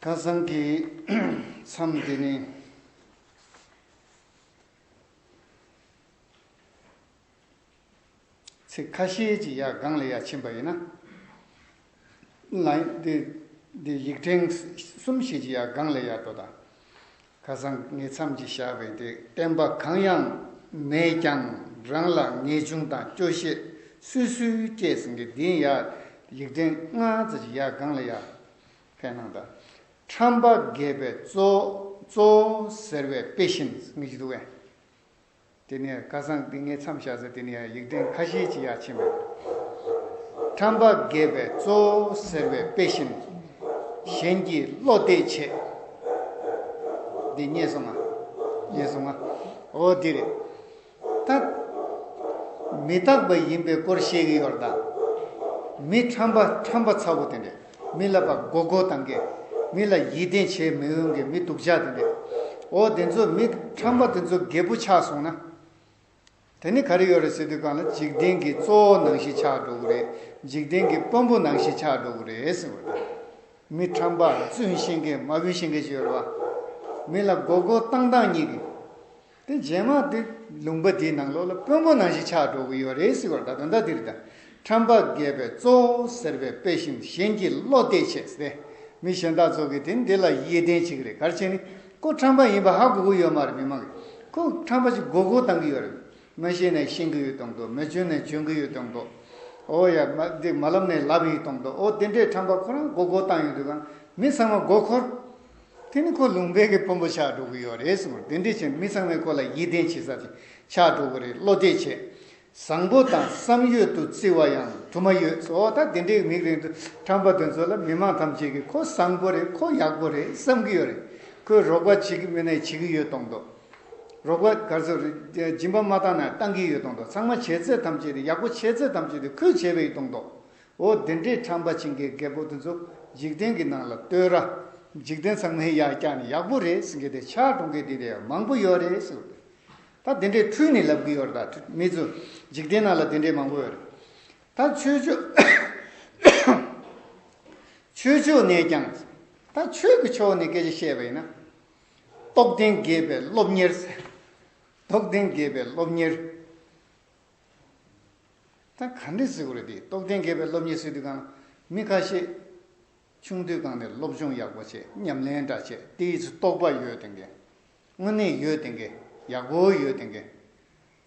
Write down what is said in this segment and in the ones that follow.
ཁ་སང་གི་མཚམས་འདི་ནི། ཚིག་ཁ་ཤས་ཀྱི་ཡ་གངས་ལས་ཡ་ཆེན་པ་ཡིན་ན། འདི་ཡིག་ཕྲེང་གསུམ་བཞི་ཀྱི་ཡ་གངས་ལས་ཡ་དོ་དང། ཁ་སང་ངའི་མཚམས་ཀྱི་བཞག་པའི་འདི་བསྟན་པ་གང་ཡང་མེད་ཀྱང་རང་ལ་ངེས་འབྱུང་དང་སྐྱོ་ཤས་སུས་སུས་སྐྱེས་ཟིན་གྱི་འདིའི་ཡ་ཡིག་ཕྲེང་ལྔ་ཙམ་གྱི་ཡ་གངས་ལས་ཡ་ཕན་གནང་དང། ཁྲམ་པ་རྒས་པའི་གཙོ། གཙོ། ཟེར་བའི་དཔེ་བཞིན་ངེས་ཀྱི་འདུག་ཨེ། དེ་ནས་ཁ་སང་དེ་ངས་མཚམས་བཞག་ཚེ་དེ་ནས་ཡང་ཡིག་ཐེངས་ཁ་ཤས་ཅིག་ཡར་ཕྱིན་པ་རེད། ཁྲམ་པ་རྒས་པའི་གཙོ། ཟེར་བའི་དཔེ་བཞིན། གཞན་གྱིས་བློ་གཏད་བྱེད། འདི་རྙེད་སོང་ང། རྙེད་སོང་ང། འོ་དེ་རེད། རྟག། མི་རྟག་པ་ཡིན་པའི་སྐོར་བཤད་ཀྱི་ཡོད་རེད་ད། མི་ཁྲམ་པ་ཁྲམ་པ་ཚ་བོ་དེ་འདྲས་མི་ལབ་པ་མགོ་མགོ་གཏང་མཁན་མི་ལ་ཡིད་བརྟན་བྱས་མི་འོང་མཁན་མི་སྡུག་ཅག་དེ་འདྲས་འོ་དེ་ཚོ་མི་ཁྲམ་པ་དེ་ཚོ་རྒད་པོ་ཆགས་སོང་ན། དེ་ནི་ག་རེ་ཡོད་རེད་ཟེར་དུས་གང་ལ་འཇིག་རྟེན་གྱི་གཙོ་བོ་ནང་བཞིན་ཆགས་འགྲོ་གི་རེད་འཇིག་རྟེན་གྱི་དཔོན་པོ་ནང་བཞིན་ཆགས་འགྲོ་གི་རེད་ཟེར་བ་དང། མི་ཁྲམ་པ་བཙུན་ཤེས་མཁན་མ་བུན་ཤེས་མཁན་ཞིག་ཡོད་རེད་བ། མི་ལ་མགོ་མགོ་གཏང་གཏང་གཉིས་ཀྱི། དེ་རྗེས་མ་དེ་ལུང་པ་དེའི་ནང་ལོགས་ལ་དཔོན་པོ་ནང་བཞིན་ཆགས་འགྲོ་གི་ཡོད་རེད་ཟེར་བར་ད་དོན་དག་འདིར་ད་ཁྲམ་པ་རྒས་པའི་གཙོ་བོ་ཟེར་བའི་དཔེ་བཞིན་གཞན་གྱི་བློ་གཏད་བྱས་ཏེ་མི་གཞན་དག་ཚོ་གིས་དེ་འདི་ལ་ཡིད་བརྟན་བྱེད་ཀྱི་རེད་གལ་ཆེ་ནི་ཁོ་ཁྲམ་པ་ཡིན་པ་ཧ་གོ་གི་ཡོད་མ་རེད་མི་མང་གིས་ཁོ་ཁྲམ་པ་ཅིག་མགོ་སྒུར་བཏང་གི་ཡོད་རེད་མི་ཤེས་ནས་ཤེས་ཀྱི་ཡོད་གཏོང་གི་འདུག་མི་འཇོན་ནས་འཇོན་གྱི་ཡོད་གཏོང་གི་འདུག་འོ་ཡ་མ་འདི་མ་ལབ་ནས་ལབ་ཡི་གཏོང་གི་འདུག་འོ་དེ་འདྲའི་ཁྲམ་པ་ཁོ་རང་མགོ་སྒུར་བཏང་ཡོད་དུས་ཀྱང་མི་ཚང་མ་མགོ་འཁོར། དེ་ནི་ཁོ་ལུང་པའི་གི་དཔོན་པོ་ཕྱག་འགྲོ་གི་ཡོད་རེད་གསུངས་པར་དེ་འདྲའི་ཕྱིར་མི་ཚང་མས་ཁོ་ལ་ཡིད་བརྟན་བྱེད་ས་དེ་ཕྱག་འགྲོ་གི་རེད་བློ་གཏད་བྱས། བཟང་པོ་དང་བསམ་ཡོད་དུ་བརྩི་བ་ཡང་དུ་མ་ཡོད་ཟོ་ད་དེ་འདྲའི་གི་མིག་རིང་དུ་འཕྲང་པ་དེ་ཚོ་ལ་མི་མང་ཐམས་ཅད་ཀྱིས་ཁོ་བཟང་པོ་རེད་ཁོ་ཡག་པོ་རེད་བསམ་གི་ཡོད་རེད་ཁོས་རོགས་པ་བྱེད་ཀྱི་མེད་ན་བྱེད་ཀྱི་ཡོད་གཏོང་མདོག་རོགས་པ་ག་ཚོད་སྦྱིན་པ་མ་བཏང་ན་བཏང་གི་ཡོད་གཏོང་མདོག་ཚང་མ་བྱས་ཚད་ཐམས་ཅད་དེ་ཡག་པོ་བྱས་ཚད་ཐམས་ཅད་དེ་ཁོས་བྱས་པའི་གཏོང་མདོག་འོ་དེ་འདྲས་ཁྲམ་པ་བྱིན་གྱིས་རྒད་པོ་དེ་ཚོ་འཇིག་རྟེན་གྱི་ནང་ལ་ལྟོས་ར། འཇིག་རྟེན་ཚང་མའི་ཡག་རྐྱང་ནི་ཡག་པོ་རེད་ཟེར་གྱི་དེ་ཕྱག་གྲོང་གི་དེ་འདྲས་མང་པོ་ཡོད་རེད་ཟེར་གི་ད་དེ་འདྲས་འཁྲུལ་ནས་ལབ་གི་ཡོད་རེད་ད་མི་ཚོ་འཇིག་རྟེན་ནང་ལ་དེ་འདྲས་མང་པོ་ཡོད་རེད་ད་ཆོས་ཕྱོགས་ཆོས་ཕྱོགས་ནས་ཀྱང་ད་ཆོས་ཀྱི་ཕྱོགས་ནས་སྐད་ཆ་བཤད་པ་ཡིན་ན། རྟོགས་ལྡན་རྒས་པའི་སློབ་གཉེར་ཟེར་རྟོགས་ལྡན་རྒས་པའི་སློབ་གཉེར། ད་ག་འདྲས་ཟེར་གོ་རེད་དེ་རྟོགས་ལྡན་དགེ་བའི་སློབ་གཉེར་སྲིད་དུས་ཀང་མི་ཁ་ཤས། ཆུང་དུས་ཀང་ནས་སློབ་སྦྱོང་ཡག་པོ་བྱས་ཉམས་ལེན་འདྲ་བྱས་དེ་ཡི་ཚུ་རྟོགས་པ་ཡོད་དེ་འགེ། དངོས་གནས་ཡོད་དེ་འགེ་ཡག་པོ་ཡོད་དེ་འགེ།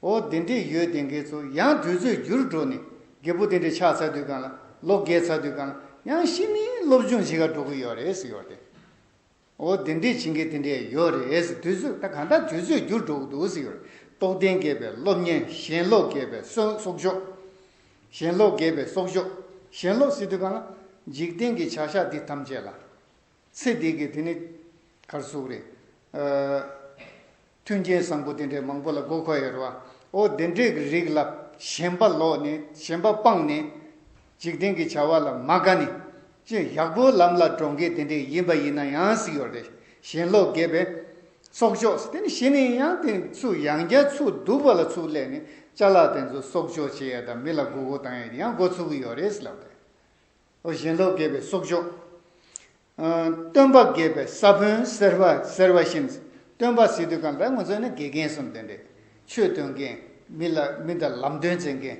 འོ་དེ་འདྲས་ཡོད་དེ་འགེ་ཚུ་ཡང་དུས་ཚོད་རྒྱུར་འགྲོ་ནས་རྒེ་པོ་དེ་འདྲས་ཆགས་ཚར་དུས་ཀང་ལ་ལོ་བརྒལ་ཚར་དུས་ཀང་ཡང་ཤི་ནས་སློབ་སྦྱོང་བྱེད་ག་འགྲོ་གི་ཡོད་རེད་ཟེར་ཡོད་དེ། འོ་དེ་འདྲས་བྱིན་གྱིས་དེ་འདྲས་ཡོད་རེད་དུས་ཚོད་ད་གང་ལྟར་དུས་ཚོད་འགྱུར་འགྲོ་གི་འདུག་རྟོགས་ལྡན་རྒས་པའི་སློབ་གཉེར་ཞེན་ལོག་རྒས་པའི་སོག་སོག་ཞོག། ཞེན་ལོག་རྒས་པའི་སོག་ཞོག་ཞེན་ལོག་སི་དུས་གང་ལ། འཇིག་རྟེན་གྱི་བྱ་བཞག་འདི་ཐམས་ཅད་ལ། ཚེ་འདི་གི་དེ་ནི་གར་ཟུག་རེད། མཐུན་རྐྱེན་བཟང་པོ་དེ་འདྲའི་མང་པོ་ལ་དགོས་མཁོ་ཡོད་རོ། ཨོ་དེ་འདྲའི་གི་རིགས་ལ་ཞེན་པ་ལོག་ནས་ཞེན་པ་སྤངས་ནས། འཇིག་རྟེན་གྱི་བྱ་བ་ལ་མ་དགའ་ནས། ཅི་ཡག་པོའི་ལམ་ལ་འགྲོ་མཁན་དེ་འདྲའི་ཡིན་པ་ཡིན་ན་ཡང་སྲིད་ཡོད་རེད་ཞེན་ལོག་རྒས་པས། གསོག་འཇོག་དེ་ནི་བྱེད་ནས་ཡང་དེ་ཚོས་ཡང་བསྐྱར་ཚུར་སྡུག་པ་ལ་ཚུར་སླེབས་ནས་བཅའ་ལག་དེ་ཚོ་གསོག་འཇོག་བྱེད་ཡ་དང་མི་ལ་དགོས་མཁོ་བཏང་ཡ་དེ་ཡང་འགོ་ཚུགས་ཀྱི་ཡོད་རེད་ལབ་དེ། ཨོ་ཞེན་ལོག་རྒས་པས་གསོག་འཇོག། སྟོན་པ་དགེ་བའི་ས་བོན་ཟེར་བ་ཟེར་བ་བཞིན་སྟོན་པ་ཟེར་དུས་གང་ལྟར་ངོ་ཚོས་ན་དགེ་རྒན་གསུམ་དེ་འདྲས། ཆོས་སྟོན་མཁན། མི་ལ་མི་དང་ལམ་སྟོན་བྱེད་མཁན།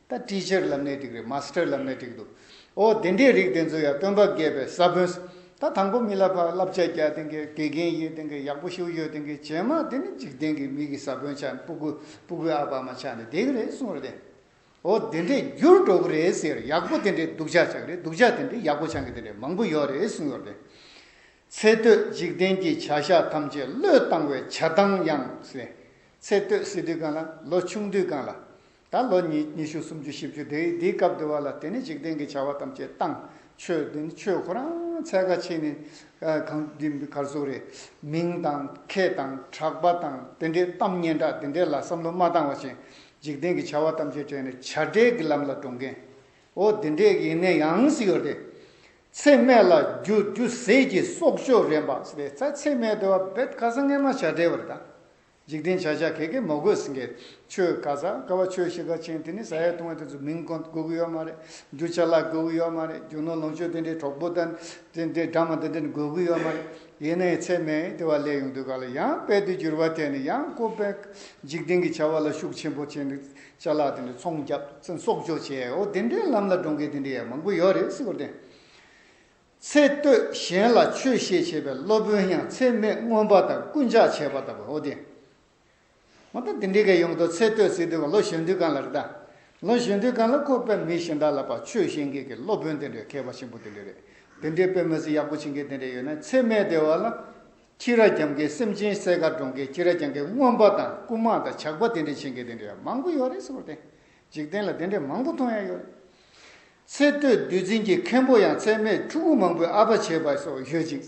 ད Teacher ལབ་ནའི་ཐིག་རེད Master ལབ་ནའི་ཐིག་འདུག་འོ་དེ་འདྲའི་རིགས་དེ་ཚོ་ཡང་སྟོན་པ་དགེ་བའི་ས་བོན་ཟེར། ད་དང་པོ་མི་ལ་ཕ་བསླབ་བྱ་རྒྱག་དེ་འགའི་དགེ་རྒན་ཡིན་དེ་འགའི་ཡག་པོ་ཞུ་ཡོད་དེ་འགའི་བྱེ་མ་དེ་ནི་འཇིག་རྟེན་གྱི་མིག་གི་ས་བོན་ཆགས་ནས་སྤུ་གུ་སྤུ་གུའི་ཨ་ཕ་མ་ཆགས་ནས་དེ་ག་རེད་གསུངས་རེད། འོ་དེ་འདྲས་འགྱུར་འགྲོ་གི་རེད་ཟེར་ཡག་པོ་དེ་འདྲས་སྡུག་ཅག་ཅག་རེད་སྡུག་ཅག་དེ་འདྲས་ཡག་པོ་ཆགས་མཁན་དེ་འདྲས་མང་པོ་ཡོད་རེད་གསུངས་ཡོད་རེད། ཚེ་སྟོད་འཇིག་རྟེན་གྱི་བྱ་བཞག་ཐམས་ཅད་བློས་བཏང་བའི་བྱ་བཏང་ཡང་ཟེར། ཚེ་སྟོད་སི་དུས་གང་ལ་ལོ་ཆུང་དུས་གང་ལ། ད་ལོ་ཉི་ཉི་ཤུ་སུམ་ཅུ་བཞི་བཅུ་དེ་འི་དེའི་སྐབས་དེ་བ་ལ་དེ་ནི་འཇིག་རྟེན་གྱི་བྱ་བ་ཐམས་ཅད་བཏང་ཆོས་དེ་ནི་ཆོས་ཁོ་རང་ཚད་ཁ་ཆེ་ནི་གང་འདི་འདི་གར་སོ་རེད་མིང་དང་ཁེ་དང་གྲགས་པ་དང་དེ་འདྲས་གཏམ་སྙན་གྲགས་དེ་འདྲས་ལ་བསམ་བློ་མ་བཏང་བ་བཞིན་འཇིག་རྟེན་གྱི་བྱ་བ་ཐམས་ཅད་བྱས་ནས་བྱ་བྲལ་གྱི་ལམ་ལ་འགྲོ་མཁན། འོ་དེ་འདྲས་ཡིན་ནའི་ཡང་སྲིད་ཡོད་དེ། ཚེ་སྨད་ལ་རྒྱུ་རྒྱུ་ཟས་ཀྱི་སྲོག་གཅོད་རན་པ་ཟེར་བས་ཚ་ཚེ་སྨད་དེ་བ་བད་ག་ས་ངན་མ་བྱ་བྲལ་བར་དང། འཇིག་རྟེན་བྱ་བྱ་གས་གས་མོ་དགོས་ཟིན་གས་ཆོས་ག་ས་ག་བ་ཆོས་ཤེས་ག་ཆེན་དེ་ནི་ས་ཡ་དུང་བ་དེ་ཚོ་མིང་གོ་དགོས་ཀྱི་ཡོད་མ་རེད་རྒྱུ་ཆ་བརླག་དགོས་ཀྱི་ཡོད་མ་རེད་རྒྱུ་ནོར་ལོངས་སྤྱོད་དེ་འདྲས་གྲོགས་པོ་དང་དེ་འདྲས་དྲ་མ་དེ་འདྲས་ནི་དགོས་ཀྱི་ཡོད་མ་རེད་ཡེ་ནས་ཚད་མས་བལྟས་བ་ལས་ཡོངས་འདུའི་ག་ལ་ཡང་དཔལ་དུ་གྱུར་པ་དེ་ནི་ཡང་ཀོ་པས་འཇིག་རྟེན་གྱི་བྱ་བ་ལ་ཤུགས་ཆེན་པོ་བྱས་ནས་བྱ་གླག་དེ་འདྲའི་ཚོང་རྒྱག་ཚུན་སྲོག་གཅོད་བྱས་འོ་དེ་འདྲའི་ལམ་ལ་འགྲོ་མཁན་དེ་འདྲའི་ཡང་མང་པོ་ཡོད་རེད་སྲིད་པར་བརྟེན། ཚེ་སྟོད་གཞན་ལ་ཆོས་བཤད་བྱས་པའི་སློབ་དཔོན་ཡང་ཚད་མས་མངོན་པ་དང་རྐུན་ཇག་བྱས་པ་ལྟ་བུ་འོ་དེ། ང་ད་དེ་འདྲའི་ག་ཡོང་དོ་ཚེ་སྟོད་ཚེ་སྟོད་ཀྱི་ལོ་གཞོན་དུས་གང་ལ་རེད་ད། ལོ་གཞོན་དུས་གང་ལ་ཁོ་དཔེ་མི་ཤེས་འདྲ་ལབ་པ་ཆོས་བཤད་མཁན་གྱི་སློབ་དཔོན་དེ་འདྲའི་མཁས་པ་ཆེན་པོ་དེ་འདྲའི་རེད་དེ་འདྲའི་དཔེ་མི་ཚེ་ཡག་པོ་བྱེད་མཁན་དེ་འདྲའི་ཡོད་ན་ཚེ་སྨད་བདེ་བ་ལ། ཁྱི་ར་རྒྱམ་མཁན་སེམས་ཅན་གསས་མཁར་སྒྲོག་མཁན་ཁྱི་ར་རྒྱམ་མཁན་རྔོན་པ་དང་རྐུ་མ་དང་ཇག་པ་དེ་འདྲའི་བྱེད་མཁན་དེ་འདྲའི་ཡང་མང་པོ་ཡོད་རེད་སོ་རེད། འཇིག་རྟེན་ལ་དེ་འདྲའི་མང་པོ་མཐོང་ཡ་ཡོད་རེད། ཚེ་སྟོད་བདུད་རྩི་གྱི་མཁན་པོ་ཡང་ཚད་མེད་ཕྲུ་གུ་མང་པོའི་ཨ་ཕ་བྱས་པ་སོགས་ཡོད་ཅིང།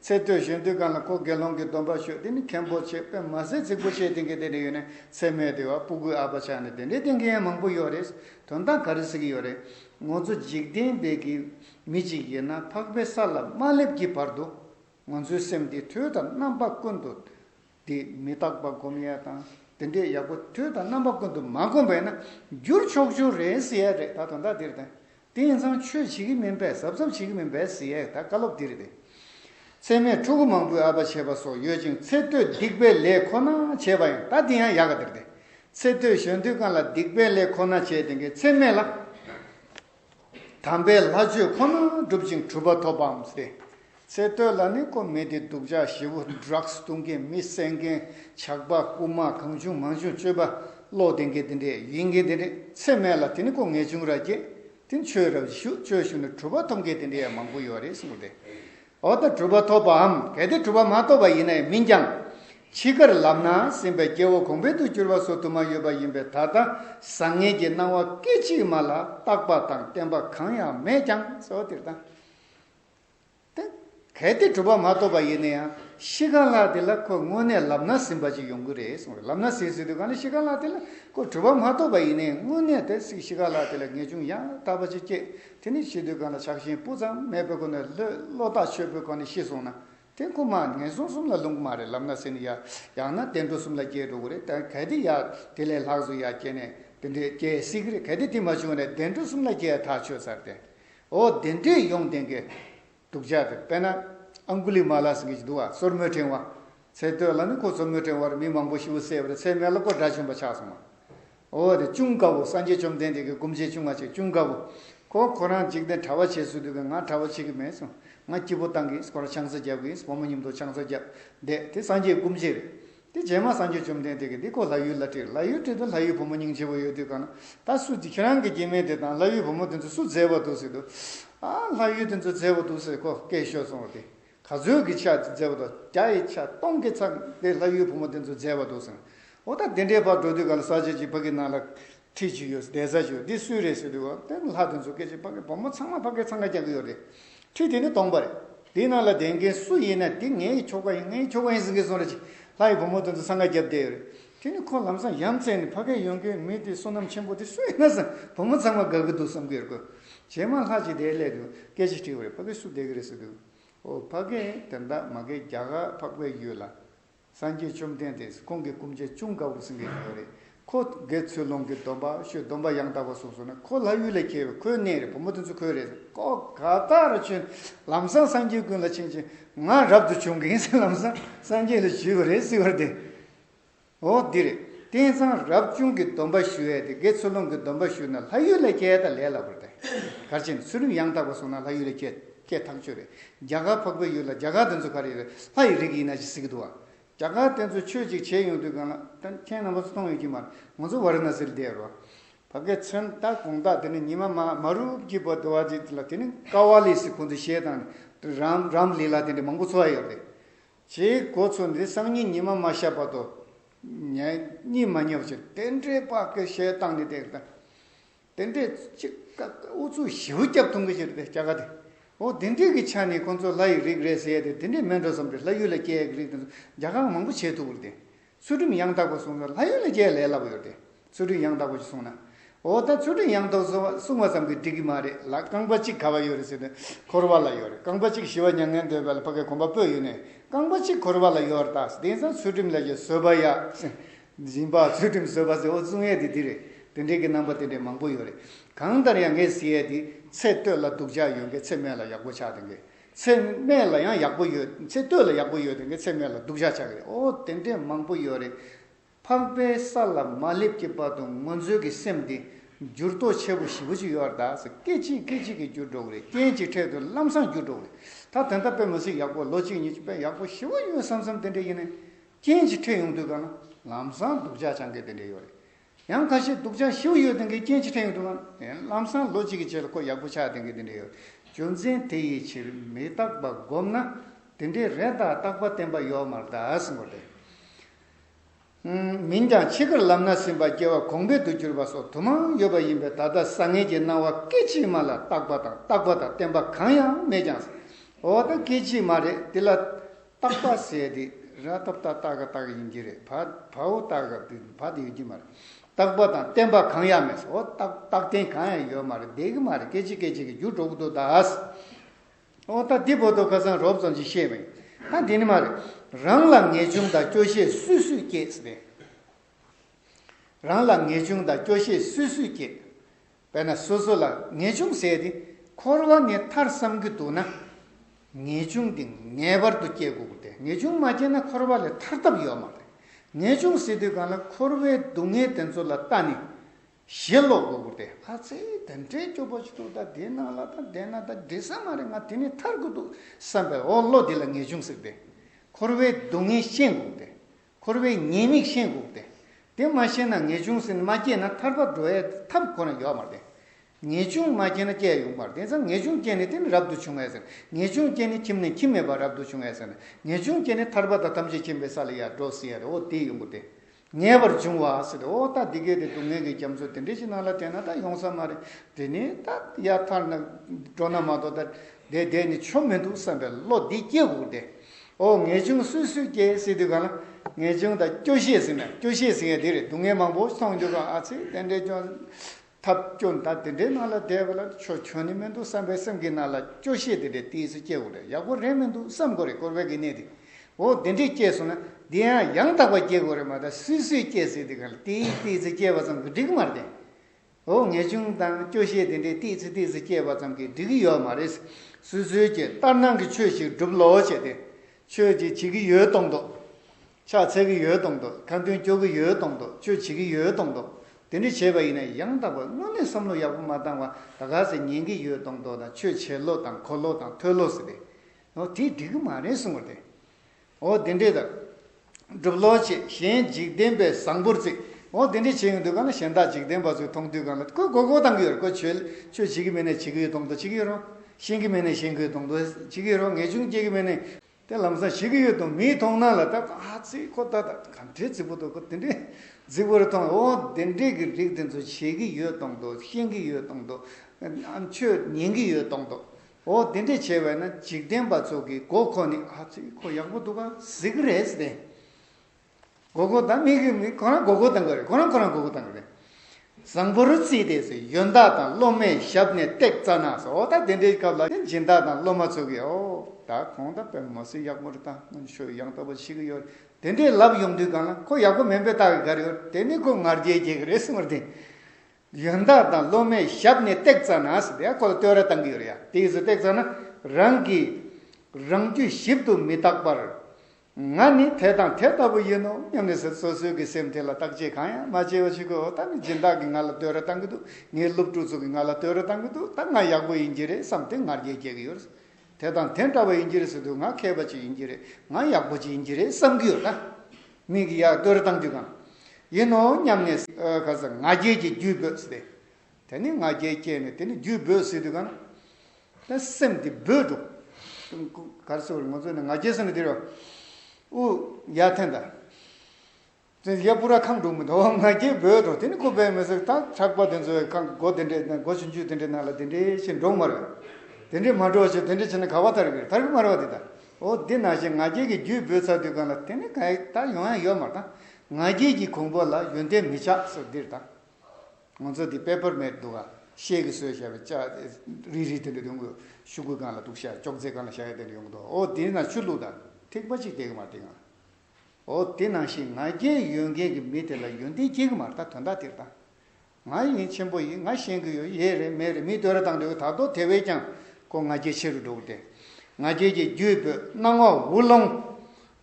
ཚེ་སྟོད་གཞོན་དུས་གང་ལ་ཁོ་དགེ་སློང་གི་སྡོམ་པ་ཤོར་དེ་ནི་མཁན་པོ་བྱས་པས་མ་ཟད་ཚིག་པོ་བཤད་མཁན་གྱི་དེ་འདྲ་ཡོད་ནས་ཚད་མེད་དེ་བ་སྤུ་གུའི་ཨ་ཕ་ཆགས་ནས་དེ་འདྲའི་བསྟེན་མཁན་ཡང་མང་པོ་ཡོད་རེད། དོན་དག་ག་རེ་ཟེར་གྱི་ཡོད་རེད། ངོ་ཚོ་འཇིག་རྟེན་འདས་ཀྱི་མི་གཅིག་ཡིན་ན་འཕགས་པའི་ས་ལ་མ་སླེབས་ཀྱི་བར་དུ། ང་ཚོའི་སེམས་འདི་དུས་དང་རྣམ་པ་ཀུན་ཏུ། དེས་མི་རྟག་པ་བསྒོམ་ཡས་དང་དེ་འདྲས་ཡག་པོ་དུས་དང་རྣམ་པ་ཀུན་ཏུ་མ་བསྒོམས་པས་ན་འགྱུར་ཆོག་ཆོག་རེད་ཟེར་ཡས་རེད་ད་དོན་དག་འདིར་དེ་དེ་ཡིན་ཚང་ཆོས་བྱེད་ཀྱི་མིན་པས་ཟབ་ཟབ་བྱེད་ཀྱི་མིན་པས་ཟེར་ཡས་ད་བཀའ་སློབ་འདིར་དེ། ཚད་མས་ཕྲུ་གུ་མང་པོའི་ཨ་ཕ་བྱེད་པ་སོགས་ཡོད་ཅིང་ཚེ་སྟོད་སྡིག་པའི་ལས་ཁོ་ན་བྱེད་པ་ཡང་ད་དེ་ཡང་ཡག་ག་འདིར་དེ། ཚེ་སྟོད་གཞོན་དུས་གང་ལ་སྡིག་པའི་ལས་ཁོ་ན་བྱས་དེ་གའི་ཚེ་སྨད་ལ། དམ་པའི་ལྷ་ཆོས་ཁོ་ན་སྒྲུབ་ཅིང་གྲུབ་པ་ཐོབ་པའམ་ཟས་ཚེ་སྟོད་ལ་ནི་ཀོ་མེད་དེ་སྡུག་ཅག་ཞེ་བོ Drugs བཏུང་མཁན་མི་བསད་མཁན་ཇག་པ་རྐུ་མ་གང་བྱུང་མང་བྱུང་སྤྱོད་པ་བློ་ལྡན་མཁན་དེ་འདྲས་ཡིན་མཁན་དེ་འདྲས་ཚེ་མེད་ལ་དེ་ནི་ཀོ་ངེས་བྱུང་ར་སྐྱེས་དེ་ཆོས་རབ་ཞུ་བཅོལ་ཞུ་ནས་གྲུབ་པ་ཐོབ་མཁན་དེ་འདྲས་ཡང་མང་པོ་ཡོད་རེད་གསུངས་པ་དེ་འོག་ཏུ་གྲུབ་པ་ཐོབ་པའམ་གལ་ཏེ་གྲུབ་པ་མ་ཐོབ་པ་ཡིན་ནས་མིན་ཀྱང། འཆི་ཁར་ལམ་ན་ཟིན་པའི་སྐྱེ་བོ་གོང་འཕེལ་དུ་གྱུར་པ་སོགས་དུ་མ་ཡོད་པ་ཡིན་པས་ད་ལྟ་བཟང་ངན་གྱི་སྣང་བ་སྐད་ཅིག་མ་ལ་བརྟགས་པ་དང་བསྟན་པ་གང་ཡང་མེད་ཀྱང་སོ་དེ་ལྟ་སྟེ། གལ་ཏེ་གྲུབ་པ་མ་ཐོབ་པ་ཡིན་ན་ཡང་ཤི་གང་ལགས་དེ་ལ་ཁོ་དངོས་གནས་ལམ་ན་ཟིན་པ་ཅིག་ཡོང་གི་རེད་གསུངས་རོགས་ལམ་ན་ཟིན་ཟིན་དུས་གང་ལ་ཤི་གང་ལགས་དེ་ལ་ཁོ་གྲུབ་པ་མ་ཐོབ་པ་ཡིན་ནས་དངོས་གནས་དེ་སྲིད་ཤི་གང་ལགས་དེ་ལ་ངེས་འབྱུང་ཡང་དག་པ་ཅིག་སྐྱེས་དེ་ནས་ཕྱི་དུས་གང་ལ་ཆགས་ཤིང་སྤུ་ཚང་མས་སྤོས་ཁོ་ནས་ལྷོད་བློ་ཐག་ཆོད་པོས་གང་ནས་ཤི་སོང་ན་དེ་ཁོ་མ་ངན་སོང་གསུམ་ལ་ལྷུང་གི་མ་རེད་ལབ་ན་སེམས་ཡག་ཡང་ན་བདེ་འགྲོ་གསུམ་ལ་སྐྱེ་འགྲོ་གི་རེད་ད་གལ་ཏེ་ཡག་དེ་ལས་ལྷག་བཟོ་ཡག་སྐྱེས་ནས་དེ་འདྲས་སྐྱེ་སྲིད་གི་རེད་གལ་ཏེ་དེ་མ་བྱུང་བ་ནས་བདེ་འགྲོ་གསུམ་ལ་སྐྱེ་ཡ་ཐག་ཆོད་ཚར་དེ་འོ་བདེ་འདྲས་ཡོང་དེང་གི་སྡུག་ཅག་གི་དཔེ་ན་ཨ་མགུ་ལི་མ་ལ་སེང་གེ་ཅིག་འདུག་ཨ་སོར་མོའི་ཕྲེང་བ། ཚེ་སྟོད་ལ་ནི་ཁོ་སོར་མོའི་ཕྲེང་བར་མི་མང་པོ་ཤི་བོ་བསད་པར་ཚེ་སྨད་ལ་སྐོར་དགྲ་བྱོན་པ་ཆགས་སོང་ངོ། འོ་དེ་ཅུང་དཀའ་བོ་སངས་རྒྱས་བཅོམ་ལྡན་འདས་ཀྱི་སྒོམ་བྱེད་ཆུང་ང་ཅིག་ཅུང་དཀའ་བོ། ཁོ་ཁོ་རང་འཇིག་རྟེན་གྲྭ་བ་བྱེད་སུ་འདུག་གི་ང་གྲྭ་བ་བྱེད་གི་མེད་སོང་ང་སྐྱིད་པོ་བཏང་གིས་ཁོ་རང་ཆང་ས་རྒྱབ་གིས་བུ་མོ་ཉིན་ཐོ་ཆང་ས་རྒྱབ་བསྡད་དེ་སངས་རྒྱས་སྒོམ་བྱེད་རེད་དེ་རྗེས་མ་སངས་རྒྱས་བཅོམ་ལྡན་འདས་ཀྱིས་འདི་ཁོ་ལྷ་ཡུལ་ལ་དྲིས་ལྷ་ཡུལ་དྲིས་པས་ལྷ་ཡུལ་བུ་མོ་སྙིང་རྗེ་བོ་ཡོད་དུས་གང་ན་ད་སུ་འདི་ཁྱེད་རང་གི་སྐྱེ་དམན་དེ་དང་ལྷ་ཡུལ་བུ་མོ་དེ་ཚོ་སུ་མཛེས་པ་འདུག་ཟེར་དུས། ཨ་ལྷ་ཡུལ་དེ་ཚོ་མཛེས་པོ་འདུག་ཟེར་ཁོ་སྐད་ཤོར་སོང་བ་དེ་ག་ཚོད་ཀྱི་ཆ་མཛེས་པོ་འདུག་བརྒྱ་ཡི་ཆ་སྟོང་གི་ཚ་འདི་ལྷ་ཡུལ་བུ་མོ་དེ་ཚོ་མཛེས་པ་འདུག་ཟེར་འོ་ད་དེ་འདྲའི་བར་འགྲོ་དུས་གང་ལ་ས་ཆ་གཅིག་ཕ་གི་ནང་ལ་ཁྲིད་ཀྱི་ཡོད་བསྡད་ས་ཞུ་འདི་སུའི་རེད་ཟེར་དུས་བ་དན་ལྷ་དེ་ཚོ་སྐད་ཆ་ཕ་གི་བུ་མོ་ཚང་མ་ཕ་གི་འཚང་ཁ་རྒྱག་གི་ཡོད་རེད། ཁྲིད་དེ་ནི་སྟོང་པ་རེད། དེའི་ནང་ལ་བསྡད་མཁན་སུ་ཡིན་ན་དེ་ངའི་ཁྱོ་ག་ཡིན་ངའི་ཁྱོ་ག་ཡིན་ཟེར་གི་སོང་རེད་ཅེས་ལྷ་ཡི་བུ་མོ་དེ་ཚོ་འཚང་ཁ་རྒྱབ་བསྡད་ཡོད་རེད། དེ་ནི་ཁོ་ལམ་སང་ཡ་མཚན་ནས་ཕ་གི་ཡོང་མཁན་མི་དེ་བསོད་ནམས་ཆེན་པོ་དེ་སུ་ཡིན་ན་ཟེར་བུ་མོ་ཚང་མ་དགའ་གི་འདུག་བསམ་གི་ཡོད་དགོས། རྗེས་མ་ལྷ་ཅིག་དེའི་སླད་དུ་སྐད་ཆ་དྲིས་པ་རེད་ཕ་གི་སུ་བསྡད་གི་རེད་ཟེར་དུས། ཨོ་ཕ་གི་དེ་འདྲ་མ་གི་རྒྱ་གར་འཕགས་པའི་ཡུལ་ལ། སངས་རྒྱས་བཅོམ་ལྡན་འདས་ཁོང་གི་སྐུ་མཇལ་ཅུང་དགའ་བོ་ཟིན་གྱི་ཡོད་རེད། ཁོ་དགེ་ཚུལ་སློང་གི་སྡོམ་པ་ཤོད་སྡོམ་པ་ཡང་དག་པ་གསུངས་སོང་ནས་ཁོ་ལྷ་ཡུལ་ལས་ཁྱེར་བའི་ཁོའི་གནས་རེད་བུ་མོ་དེ་ཚོ་ཁོའི་རེད། ཁོ་ག་དག་ར་བྱོན་ལམ་བཟང་སངས་རྒྱས་ཀུན་ལ་ཕྱིན་ཅིང་ང་རབ་ཏུ་བྱུང་གིས་ཡིན་ལམ་བཟང་སངས་རྒྱས་ལ་ཞུས་པ་རེད་ཟེར་བར་བདེན། འོ་འདི་རེད་དེ་མཚང་རབ་བྱུང་གི་སྡོམ་པ་ཞུ་ཡས་དེ་དགེ་ཚུལ་སློང་གི་སྡོམ་པ་ཞུས་ན་ལྷ་ཡུལ་ལས་ཁྱེར་ད་ལས་ལ་བུར་བདེན། གར་བྱེད་ནས་ཚུལ་ཁྲིམས་ཡང་དག་པ་བསྲུངས་ན་ལྷ་ཡུལ་ལས་ཁྱེར། སྐད་ཐག་ཆོད་རེད། རྒྱ་གར་འཕགས་པའི་ཡུལ་ལ་རྒྱ་གར་དེ་ཚོ་ག་རེ་རེད་ལྷ་ཡི་རིགས་ཡིན་ན་ཞེས་ཟེར་གྱི་འདུག་བ། རྒྱ་གར་དེ་ཚོས་ཆོས་ཅིག་བྱས་ཡོང་དུས་གང་ལགས། ཁྱེད་རྣམ་པ་ཚོ་མཐོང་ཡོད་ཀྱི་མ་རེད། ང་ཚོ་བ་རེད་ན་ཟེར་བསྡད་ཡོད་རེད་བ། བ་ཀའི་མཚོན་རྟགས་དགོངས་རྟགས་དེ་ནི་ཉི་མ་མ་མ་རུབ་ཀྱི་བ་དོ་བ་ཅིག་ལ་དེ་ནི་ཀ་བ་ལི་སི་ཁོང་ཚོས་བཤད་སྟངས་ནི་རམ་རམ་ལི་ལ་དེ་འདྲས་མང་པོ་འཚོ་ཨ་ཡོད་རེད། བྱེད་སྒོ་ཚོ་ནི་དེ་སང་ཉིན་ཉི་མ་མ་ཤར་བ་དོ། ཉེ་གཉིས་མ་ཉེ་བ་ཅིག་རེད་དེ་འདྲས་བ་ཀའི་བཤད་སྟངས་ནི་དེ་རེད། དེ་འདྲའི་ཅི་ཀ་ཨུ་ཚུགས་བཞིའུ་སྐྱབས་ཐུང་གི་ཕྱིར་དེ་ཅ་ཀ་དེ། འོ་དེ་འདྲའི་གི་ཆ་ནས་ཁོང་ཚོ་ལྷ་ཡི་རིགས་རེད་ཟེར་ཡ་དེ་དེ་འདྲའི་མེད་འགྲོ་བསམ་དེ་ལྷ་ཡུལ་ལ་སྐྱེ་ཡ་གི་རིགས་དེ་ཚོ་རྒྱ་གང་མང་པོ་བྱེད་ཐུབ་བོར་དེ། ཚུལ་ཁྲིམས་ཡང་དག་པ་སྲུང་ས་ལྷ་ཡུལ་ལ་སྐྱེ་ཡ་ལས་སླ་པོ་ཡོད་དེ། ཚུལ་ཁྲིམས་ཡང་དག་པ་ཞིག་སྲུང་ན། འོ་ད་ཚུལ་ཁྲིམས་ཡང་དག་སྲུང་བ་ཙམ་གི་འགྲིག་གི་མ་རེད་ལ་རྐང་པ་གཅིག་ག་བ་ཡོད་རེད་ཟེར་ན་འཁོར་བ་ལ་ཡོད་རེད་རྐང་པ་གཅིག་ཞི་བ་མྱ་ངན་འདོད་པ་ལ་ཕ་གའི་གོམ་པ་སྤོས་ཡོད་ནའི་རྐང་པ་གཅིག་འཁོར་བ་ལ་ཡོད་རེད་ད་དེང་སང་ཚུལ་ཁྲིམས་ལ་ཡོད་བཟོད་པ་ཡག་སྦྱིན་པ་ཚུལ་ཁྲིམས་བཟོད་པ་ཟེར་ཨོ་བཙུན་ཡས་དེ་འདི་རེད་དེ་འདྲས་ཀྱི་རྣམ་པ་དེ་འདྲས་མང་པོ་ཡོད་རེད་གང་ལྟར་ཡང་ངས་ཟེར་ཡས་དེ་ཚེ་སྟོད་ལ་སྡུག་ཅག་ཡོད་འགེ་ཚེ་སྨད་ལ་ཡག་པོ་ཆགས་དེ་འགེ་ཚེ་སྨད་ལ་ཡང་ཡག་པོ་ཡོད་ཚེ་སྟོད་ལ་ཡག་པོ་ཡོད་དེ་འགེ་ཚེ་སྨད་ལ་སྡུག་ཅག་ཆགས་གི་རེད་ཨོ་དེ་འདྲས་མང་པོ་ཡོད་རེད་འཕགས་པའི་ས་ལ་མ་སླེབས་ཀྱི་བར་དུ་ངོ་འཛོལ་གྱི་སེམས་དེ་འགྱུར་ལྡོག་ཆེ་པོ་བཞི་བོ་ཅིག་ཡོད་རེད་ད་སྐད་ཅིག་སྐད་ཅིག་གིས་འགྱུར་འགྲོ་གི་རེད་རྐྱེན་གཅིག་འཕྲད་དུ་ལམ་སང་འགྱུར་འགྲོ་གི་རེད་ད་དོན་དག་པས་མ་ཟིན་ཡག་པོ་ལོ་གཅིག་གཉིས་གཅིག་པས་ཡག་པོ་བཞི་བོ་ཡོད་བསམ་བསམ་དེ་འདྲས་ཡིན་ནི་རྐྱེན་གྱིས་ཁྲེལ་ཡོང་དུས་གང་ན་ལམ་བཟང་སྡུག་ཅག་ཅག་འགས་དེ་འདྲས་ཡོད་རེད། ཡང་ཁ་ཤས་སྡུག་ཅག་ཤིའུ་ཡོད་དེ་འགས་རྐྱེན་གྱིས་ཁྲེལ་ཡོང་དུས་གང་ན་ལམ་བཟང་ལོ་གཅིག་གི་རྗེས་ལ་ཁོ་ཡག་པོ་ཆགས་དེ་འགས་དེ་འདྲས་ཡོད། རྒྱུ་མཚན་དེ་ཡི་ཕྱིར་མི་རྟག་པ་སྒོམ་ན་དེ་འདྲས་རེད་ད་རྟག་པ་བསྟན་པ་ཡོག་མར་ད་ཟིན་པོ་རེད། མིན་ཀྱང་ཕྱི་དཀར་ལམ་ན་ཟིན་པ་སྐྱེ་བ་གོང་འཕེལ་དུ་གྱུར་པ་སོགས་དུ་མ་ཡོད་པ་ཡིན་པས་ད་ལྟ་བཟང་ངན་གྱི་སྣང་བ་སྐད་ཅིག་མ་ལ་རྟག་པ་དང་རྟག་པ་དང་བསྟན་པ་གང་ཡང་མེད་ཀྱང། འོ་ད་སྐད་ཅིག་མ་རེད་དེ་ལ་རྟག་པ་སེ་དེ་ར་ཏབ་ཏ་ཏག་གི་ཏག་ཡིན་གྱི་རེད་བ་བའོ་ཏག་གི་བི་བ་དེ་ཡོད་ཀྱི་མ་རེད་རྟག་པ་དང་བརྟན་པ་གང་ཡང་མེད་སོ་ཏག་རྟག་བརྟན་གང་ཡང་ཡོད་མ་རེད་བསྡད་གི་མ་རེད་སྐད་ཅིག་སྐད་ཅིག་གི་རྒྱུ་འགྲོ་གི་འདུག་དཱས་ཨོ་ད་འདི་བོ་ཏོ་ཁ་སང་རོབ་ཙམ་ཞིག་བཤད་པ་ཡིན་ད་འདི་ནི་མ་རེད་རང་ལ་ངེས་འབྱུང་དང་སྐྱོ་ཤས་སུས་སུས་བསྐྱེད་རེད་རང་ལ་ངེས་འབྱུང་དང་སྐྱོ་ཤས་སུས་སུས་བསྐྱེད་དཔེར་ན་སོ་སོ་ལ་ངེས་འབྱུང་བསལ་ཏེ་འཁོར་བ་ངའི་མཐར་བསམ་གྱི་འདུག་ན། ངེས་འབྱུང་དེ་ངེས་པར་དུ་སྐྱེ་དགོས་ཏེ་ངེས་འབྱུང་མ་སྐྱེས་ན་འཁོར་བ་ལས་ཐར་ཐབས་ཡོད་མ་རེད། ངེས་འབྱུང་བསལ་དུས་གང་ལ་འཁོར་བའི་སྡུག་བསྔལ་དེ་ཚོ་ལ་ལྟ་ནས་ཞེ་ལོག་དགོས་ཀྱི་རེད། ཨ་ཙི་དེ་འདྲའི་སྐྱོ་པོ་ཅིག་འདུག་ད་དེའི་ནང་ལ་ད་བསྡད་ན་ད་བསྡད་ས་མ་རེད་ང་དེ་ནས་ཐར་དགོས་འདུག་བསམ་པའི་འོ་བློ་དེ་ལ་ངེས་འབྱུང་ཟེར་ཏེ། འཁོར་བའི་སྡུག་བསྔལ་ཤེས་དགོས་ཏེ་འཁོར་བའི་ཉེས་དམིགས་ཤེས་དགོས་ཏེ། དེ་མ་ཤེས་ན་ངེས་འབྱུང་སེམས་མ་སྐྱེས་ན་ཐར་པར་འགྲོ་བའི་ཐབས་ཁོ་ན་ཡོད་མ་རེད། ངེས་འབྱུང་མ་སྐྱེས་ན་སྐྱེ་ཡོང་པར་དེ་ཚང་ངེས་འབྱུང་སྐྱེས་ནས་དེ་ནི་རབ་ཏུ་བྱུང་བས་ཟེར་ངེས་འབྱུང་སྐྱེས་ནས་ཁྱིམ་ནས་ཁྱིམ་མེད་པར་རབ་ཏུ་བྱུང་བས་ཟེར་ངེས་འབྱུང་སྐྱེས་ནས་ཐར་པ་དང་ཐམས་ཅད་མཁྱེན་པའི་ས་ལ་ཡར་འགྲོ་ཟེར་ཡའོ་དེ་ཡོང་དགོས་ཏེ། ངེས་པར་འབྱུང་བ་ཟེར་ཏེ་ཨོ་ད་འདི་གལ་ཏེ་སྡུག་བསྔལ་གྱི་རྒྱ་མཚོ་དེ་འདྲའི་ཞིག་སྣང་ལ་དེ་ན་ད་ཡོང་ས་མ་རེད་དེ་ནི་ད་ཡར་ཐར་ན་འགྲོ་ན་མ་གཏོགས་ད་འདས་འདས་ནི་ཆོ་མི་འདུག་བསམ་པའི་བློ་འདི་སྐྱེ་དགོས་ཏེ། ཨོ་ངེས་འབྱུང་སུས་སུས་སྐྱེ་སྲིད་དུས་གང་ན་ངེས་འབྱུང་དང་སྐྱོ་ཤས་ཟིན་ན་སྐྱོ་ཤས་ཟིན་ཡས་དེ་རེད་སྡུག་བསྔལ་མང་པོ་མཐོང་འགྱུར་རོ་ཨ་ཚེ་དེ་འདྲའི་སྐྱོ་ཐབས་སྐྱོ་ད་དེ་འདྲའི་ནང་ལ་བསྡད་པ་ལ་ཆོ་ཆོ་ནི་མི་འདུག་བསམ་པའི་སེམས་ཀྱི་ནང་ལ་སྐྱོ་ཤས་དེ་འདྲའི་དེའི་ཚོ་སྐྱེ་དགོས་རེད་ཡག་པོ་རེད་མི་འདུག་བསམ་དགོས་རེད་བསྐོར་བའི་གི་གནས་དེ་ཨོ་དེ་འདྲས་སྐྱེ་སོང་ན་འདི་ཡང་ཡང་དག་པ་སྐྱེ་དགོས་རེད་མ་ད་སུས་སུས་སྐྱེ་སྲིད་དུས་གང་ལ་དེའི་དེའི་ཚོ་སྐྱེ་བ་ཙམ་གི་འགྲིག་མ་རེད། འོ་ངས་ཅུང་དང་སྐྱོ་གཞས་དེ་འདྲའི་ཏིག་ཚི་ཏིག་ཚི་སྐྱེས་པ་ཙམ་གྱིས་འགྲིག་གི་ཡོད་མ་རེད། སུད་སུད་ཀྱི་ལྟར་སྣང་གི་ཆོས་ཞིག་སྒྲུབ་ལོ་བྱས་ཏེ། ཆོས་ཀྱིས་བྱེད་ཀྱི་ཡོད་གཏོང་འདོད། ཕྱག་འཚལ་གྱི་ཡོད་གཏོང་འདོད་ཁ་མཐུན་སྐྱོ་གི་ཡོད་གཏོང་འདོད་ཆོས་བྱེད་ཀྱི་ཡོད་གཏོང་འདོད་དེ་འདྲ་བྱས་པ་ཡིན་ན་ཡང་དག་པར་དངོས་གནས་བསམ་བློ་ཡག་པོ་མ་བཏང་བར་ད་ག་ཟེ་ཉན་གྱི་ཡོད་གཏོང་འདོད་དང་ཆོས་བྱེད་ལོ་དང་གོ་ལོ་དང་ཐོས་ལོ་ཟེར་ཏེ། འོ་དེ་འགྲིག་གི་མ་རེད་གསུང་བ་དེ། འོ་དེ་འདྲས་དང། སྒྲུབ་ལོག་བྱེད་གཞན་འཇིག་རྟེན་པས་བཟང་པོར་བརྩི། འོ་དེ་འདྲས་བྱེད་ཡོང་དུས་གང་ལ་གཞན་དག་འཇིག་རྟེན་པ་ཚོས་མཐོང་དུས་གང་ལ་ཁོས་མགོ་སྐོར་བཏང་གི་ཡོད་རེད་ཁོས་ཆོས་ཆོས་བྱེད་ཀྱི་མེད་ནས་བྱེད་ཀྱི་ཡོད་གཏོང་དོ་བྱེད་ཀྱི་ཡོད་རུང། ཤེས་ཀྱི་མེད་ནས་ཤེས་ཀྱི་ཡོད་གཏོང་དོ་བྱེད་ཀྱི་ཡོད་རུང་ངེས་འབྱུང་སྐྱེ་གི་མེད་ནས། དེ་ལམ་སང་བྱེད་ཀྱི་ཡོད་གཏོང་མིའི་མཐོང་སྣང་ལ་ལྟ་དང་ཨ་ཙི་ཁོ་ལྟ་དང་ག་འདྲའི་རྫིག་པོ་འདུག་ཁོ་དེ་འདྲའི་རྫིག་པོ་རེད་མཐོང་ངོ་འོ་དེ་འདྲས་ཀྱི་རིགས་དེ་ཚོས་བྱེད་ཀྱི་ཡོད་གཏོང་དོ་ཤེས་ཀྱི་ཡོད་གཏོང་དོ། ཆོས་ཉན་གྱི་ཡོད་གཏོང་དོ། འོ་དེ་འདྲས་བྱས་བས་ན་འཇིག་རྟེན་པ་ཚོ་གི་མགོ་ཁོ་ནི་ཨ་ཙི་ཁོ་ཡག་པོ་འདུག་ཨ་ཟིག་གི་རེད་ཟེར་ཏེ། མགོ་སྒོ་དང་མིག་གི་མིག་ཁོ་རང་མགོ་སྒོ་དང་གི་རེད་ཁོ་རང་ཁོ་རང་མགོ་སྒོ་དང་གི་རེད། བཟང་པོ་རུ་བརྩིས་ཏེ་སུ་ཡོན་བདག་དང་སློབ་མའི་ཞབས་ནས་སྟེགས་རྩ་ན་སོ་ཨོ་ད་དེ་འདྲའི་སྐབས་ལ་སྦྱིན་བདག་དང་སློབ་མ་ཚོ་གི་ཨོ་ད་ཁོང་ད་པད་མ་སུ་ཡག་པོ་རུ་དང་སྔོན་ཤོས་ཡང་དག་པ་ཞིག་གི་ཡོད་རེད་དེ་འདྲས་ལབ་ཡོང་དུས་གང་ལ་ཁོ་ཡག་པོ་མིན་པའི་རྟགས་གི་ག་རེ་ཡོད་རེད་དེ་ནི་ཁོ་ངར་རྒྱལ་རྒྱལ་གི་རེད་སུ་ངར་རྒྱལ། ཡང་བདག་དང་སློབ་མའི་ཞབས་ནས་སྟེགས་གཙང་ན་སི་ཏེ་ཀོ་ལ་སྟོད་ར་བཏང་གི་ཡོད་རེད་ཡ། དེ་ཡིས་སུ་སྟེགས་གཙང་ན་རང་གིས་རང་རྒྱུད་ཞིབ་ཏུ་མི་བརྟག་པར། ང་ནི་དེ་དང་དེ་ལྟ་བུ་ཡིན་ནོ་སྙམ་ནས་ཟེར་སོ་སོའི་གི་སེམས་དེ་ལ་བརྟག་དཔྱད་གང་ཡང་མ་བྱས་པ་ཞིག་གོ་ད་ནི་སྦྱིན་བདག་གིས་ང་ལ་སྟོད་ར་བཏང་གི་འདུག་ངའི་སློབ་ཕྲུག་ཚོ་གིས་ང་ལ་སྟོད་ར་བཏང་གི་འདུག་ད་ང་ཡག་པོ་ཡིན་གྱི་རེད་བསམ་སྟེ་ངར་རྒྱལ་རྒྱལ་གི་ཡོད་རེད། དེ་དང་དེ་འདྲ་བ་ཡིན་གྱི་རེད་ཟེར་དུས་ང་མཁས་པ་ཅིག་ཡིན་གྱི་རེད་ང་ཡག་པོ་ཅིག་ཡིན་གྱི་རེད་བསམ་གྱི་ཡོད་ན། མིག་གིས་ཡར་ལྟོས་རེ་བཏང་རྒྱུ་དང། ཡིན་ནོ་སྙམ་ནས། ག་ཚོད་ང་རྒྱལ་གྱིས་རྒྱུས་འབོད་ཟེར་ཏེ། དེ་ནི་ང་རྒྱལ་སྐྱེས་ནས་དེ་ནི་རྒྱུས་འབོད་ཟེར་དུས་ག་ན། དེ་སེམས་དེ་འབོད་འགྲོ། ག་ཚོད་ང་ཚོ་ནི་ང་རྒྱལ་སེམས་ནི་དེ་རེད། ཨུ། ཡ་ཐན་ད། བཙན་རྒྱལ་སྤུ་ར་ཁང་དྲུག་མི་དོ་ང་རྒྱལ་བོད་དོ་དེ་ནི་ཁོ་པའི་མི་སེར་དང་གྲགས་པ་དེ་ཚོའི་བཀའ་འགོ་དེ་འདྲས་འགོ་བྱུང་རྒྱུ་དེ་འདྲས་ནང་ལ་དེ་འདྲས་ཞིག་འགྲོ་གི་མ་རེད། དེ་འདྲས་མ་འགྲོ་ཞིག་དེ་འདྲས་བྱས་ན་ག་བ་ཐར་གི་རེད་ཐར་གི་མ་རེད་བ་དེ་ལྟ་འོ་འདི་ནང་བཞིན་ང་རྒྱལ་གྱི་རྒྱུས་འབུད་ཚར་དུས་གང་ལ་དེ་ནི་ག་ཡིག་ད་ཡོང་ཡ་ཡོད་མ་དང་ང་རྒྱལ་གྱི་གོང་བུ་ལ་ཡོན་ཏན་མི་ཆགས་སོ་འདིར་ད་ང་ཚོ་འདི་པེ་པར་མེད་འདུག་ག་ཤེས་གི་སོས་ཤ་བའི་ལྕགས་རིལ་རིལ་དེ་འདྲས་དུང་གི་ཤུ་གུ་གང་ལ་འདུག་ཤ་ཅོག་ཙེ་གང་ལ་ཤ་ཡ་དེ་འདྲས་ཡོང་གི་འདུག་འོ་འདི་ནང་ཆུ་བླུག་ད་ཐིགས་པ་ཅིག་བལྟས་གི་མ་བལྟས་གང། འོ་དེ་ནང་བཞིན་ང་རྒྱལ་ཡོད་མཁན་གྱི་མི་དེ་ལ་ཡོན་ཏན་སྐྱེ་གི་མ་རེད་ད་དོན་དག་དེར་ལྟ། ང་ཡིན་ཆེན་པོ་ཡིན་ང་ཤེས་ཀྱི་ཡོད་ཡས་རེད་མས་རེད་མི་བསྟོད་ར་བཏང་འདོད་ད་དོ་དེ་བས་ཀྱང་ཁོ་ང་རྒྱལ་ཆེ་རུ་འགྲོ་གི་རེད། ང་རྒྱལ་གྱི་རྒྱུས་བོད་སྣང་བ་འུར་སློང།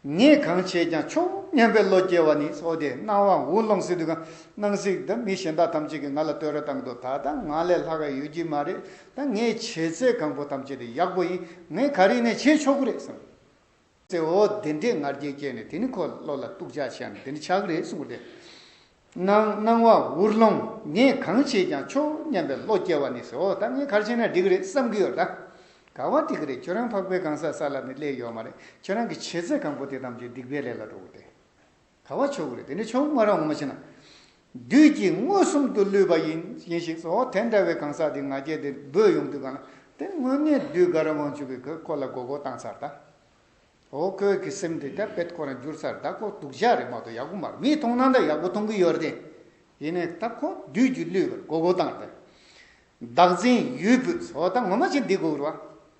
ངས་གང་བྱས་ཀྱང་ཆོག་སྙམ་པའི་བློ་སྐྱེ་བ་ནི་ཚོ་དེ་སྣང་བ་འུར་སློང་སྲིད་དུས་གང་སྣང་སྲིད་ད་མི་གཞན་དག་ཐམས་ཅད་ཀྱིས་ང་ལ་བསྟོད་ར་བཏང་འདོད་ད་ལྟ་ང་ལས་ལྷག་ག་ཡོད་ཀྱི་མ་རེད་ད་ངས་བྱས་ཚད་གང་པོ་ཐམས་ཅད་དེ་ཡག་པོ་ཡིན་ངས་ག་རེ་ནས་བྱས་ཆོག་གི་རེད་བསམ། ཙེ་འོ་བདེ་འགྲེས་ངར་སྐད་སྐྱེས་ནས་དེ་ནི་ཁོ་བློ་ལ་གཏུགས་འཇགས་བྱས་ནས་དེ་ནི་ཆག་རེད་གསུངས་ཏེ། སྣང་སྣང་བ་འུར་སློང་ངས་གང་བྱས་ཀྱང་ཆོག་སྙམ་པའི་བློ་སྐྱེ་བ་ནི་ཙེ་འོ་ད་ངའི་ཁར་ཕྱིན་ན་འགྲིག་གི་རེད་བསམ་གྱི་ཡོད་ད། ག་བ་འགྲིག་གི་རེད་ཁྱོད་རང་འཕགས་པའི་གང་ཟག་ས་ལ་ནི་སླེབས་ཡོད་མ་རེད་ཁྱོད་རང་གི་བྱས་ཚད་གང་པོ་དེ་ཐམས་ཅད་སྡིག་པའི་ལས་ལ་འགྲོ་གི་རེད། དག་བ་ཆོས་སྐུ་རེད་དེ་ནི་ཆོས་སྐུ་ང་རང་ངོ་མ་ཤེས་ན། བདུད་ཀྱིས་མངོན་སུམ་དུ་བསླུས་པ་ཡིན་ཞིག་ཟོ་དེ་འདྲ་བའི་གང་ཟག་དེ་ང་རྒྱལ་དེ་སྦོས་ཡོང་དུས་གང་ན་དེ་དངོས་གནས་བདུད་དགའ་ར་དབང་ཕྱུག་གིས་ཁོས་ཁོ་ལ་མགོ་སྐོར་བཏང་ཚར་གདའ། ཨོ་ཁོས་ཁི་སིམ་དེ་དག་བེད་ཁོ་རང་བསྒྱུར་ཚར་གདའ་ཁོ་སྡུག་ཇག་རེད་མ་གཏོགས་ཡག་པོ་མ་རེད་མིས་མཐོང་ན་འདྲ་ཡག་པོ་མཐོང་གི་ཡོད་རེད་དེ། ཡིན་ནའི་ད་ཁོ་བདུད་ཀྱིས་བསླུས་པར་མགོ་སྐོར་བཏང་གདའ། བདག་འཛིན་ཡུལ་བུད་ཟོ་ད་ངོ་མ་ཅི་འདི་སྒུག་རོགས།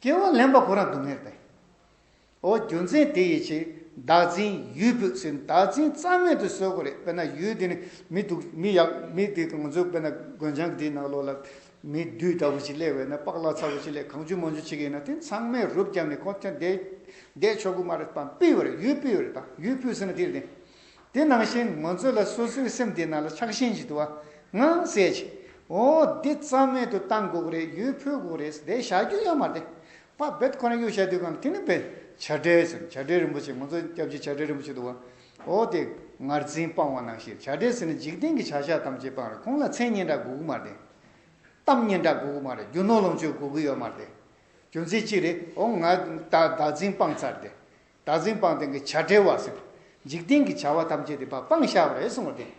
སྐྱེ་བ་ལེན་པ་གོ་རང་སྡུག་བསྔལ་ཏེ། ཨོ་རྒྱུ་མཚན་དེ་ཡིས་ཆེས་བདག་འཛིན་ཡུལ་བུད་ཟིན་བདག་འཛིན་རྩ་མེད་དུ་བཟོས་གོ་རེད་དཔེར་ན་ཡུལ་འདི་ནི་མི་སྡུག་མི་ཡག་མི་དེ་དང་ང་ཚོའི་དཔེར་ན་དགོན་བྱང་འདིའི་ནགས་ལོག་ལ་མི་བདུད་ལྟ་བུ་ཞིག་སླེ་བས་ན་པགས་ལག་ཚ་བོ་ཞིག་ལས་གང་ཆུ་མོ་ཆུ་ཆེ་གེ་ཡིན་ན་དེ་ཚང་མས་རུབ་བརྒྱབ་ནས་ཁོ་ཐོན་བསྡད་ཆོག་གི་མ་རེད་དཔའ་སྤུས་བ་རེད་ཡུལ་སྤུས་བ་རེད་ད་ཡུལ་བུད་ཟིན་ན་དེ་རེད་དེ། དེ་ནང་བཞིན་ང་ཚོ་ལ་སོ་སོའི་སེམས་དེ་ནང་ལ་ཆགས་ཞེན་བྱེད་དུ་ང་གསལ་བྱས། འོ་འདི་རྩ་མེད་དུ་བཏང་དགོས་རེད་ཡོད་ཕོད་དགོས་རེད་བསྡད་བཞག་རྒྱུ་ཡང་མ་བསྡད། པ་བེད་ཁོ་ན་གཡུག་བཞག་དུས་གམ་དེ་ནི་བེད་བྱ་བྲལ་ཟེར་བྱ་བྲལ་རིན་པོ་ཆེ་ང་ཚོ་སྐྱབས་རྗེ་བྱ་བྲལ་རིན་པོ་ཆེ་དུ་བ་འོ་དེ་ངར་འཛིན་སྤང་བ་ནང་བཞིན་བྱ་བྲལ་ཟེར་ནི་འཇིག་རྟེན་གྱི་བྱ་བཞག་ཐམས་ཅད་སྤང་རེད་ཁོང་ལ་མཚན་སྙན་གྲགས་དགོས་ཀྱི་མ་བསྡད། གཏམ་སྙན་གྲགས་དགོས་ཀྱི་མ་རེད་རྒྱུ་ནོར་ལོངས་སྤྱོད་དགོས་ཀྱི་ཡོད་མ་བསྡད། རྒྱུ་མཚན་ཅི་རེད་འོ་ང་བདག་འཛིན་སྤང་ཚར་བསྡད། བདག་འཛིན་སྤངས་ལྡན་གྱི་བྱ་བྲལ་བ་ཟིན། འཇིག་རྟེན་གྱི་བྱ་བ་ཐམས་ཅད་དེ་བ་སྤངས་ཤར་བས་གསུངས་པ་སྟེ།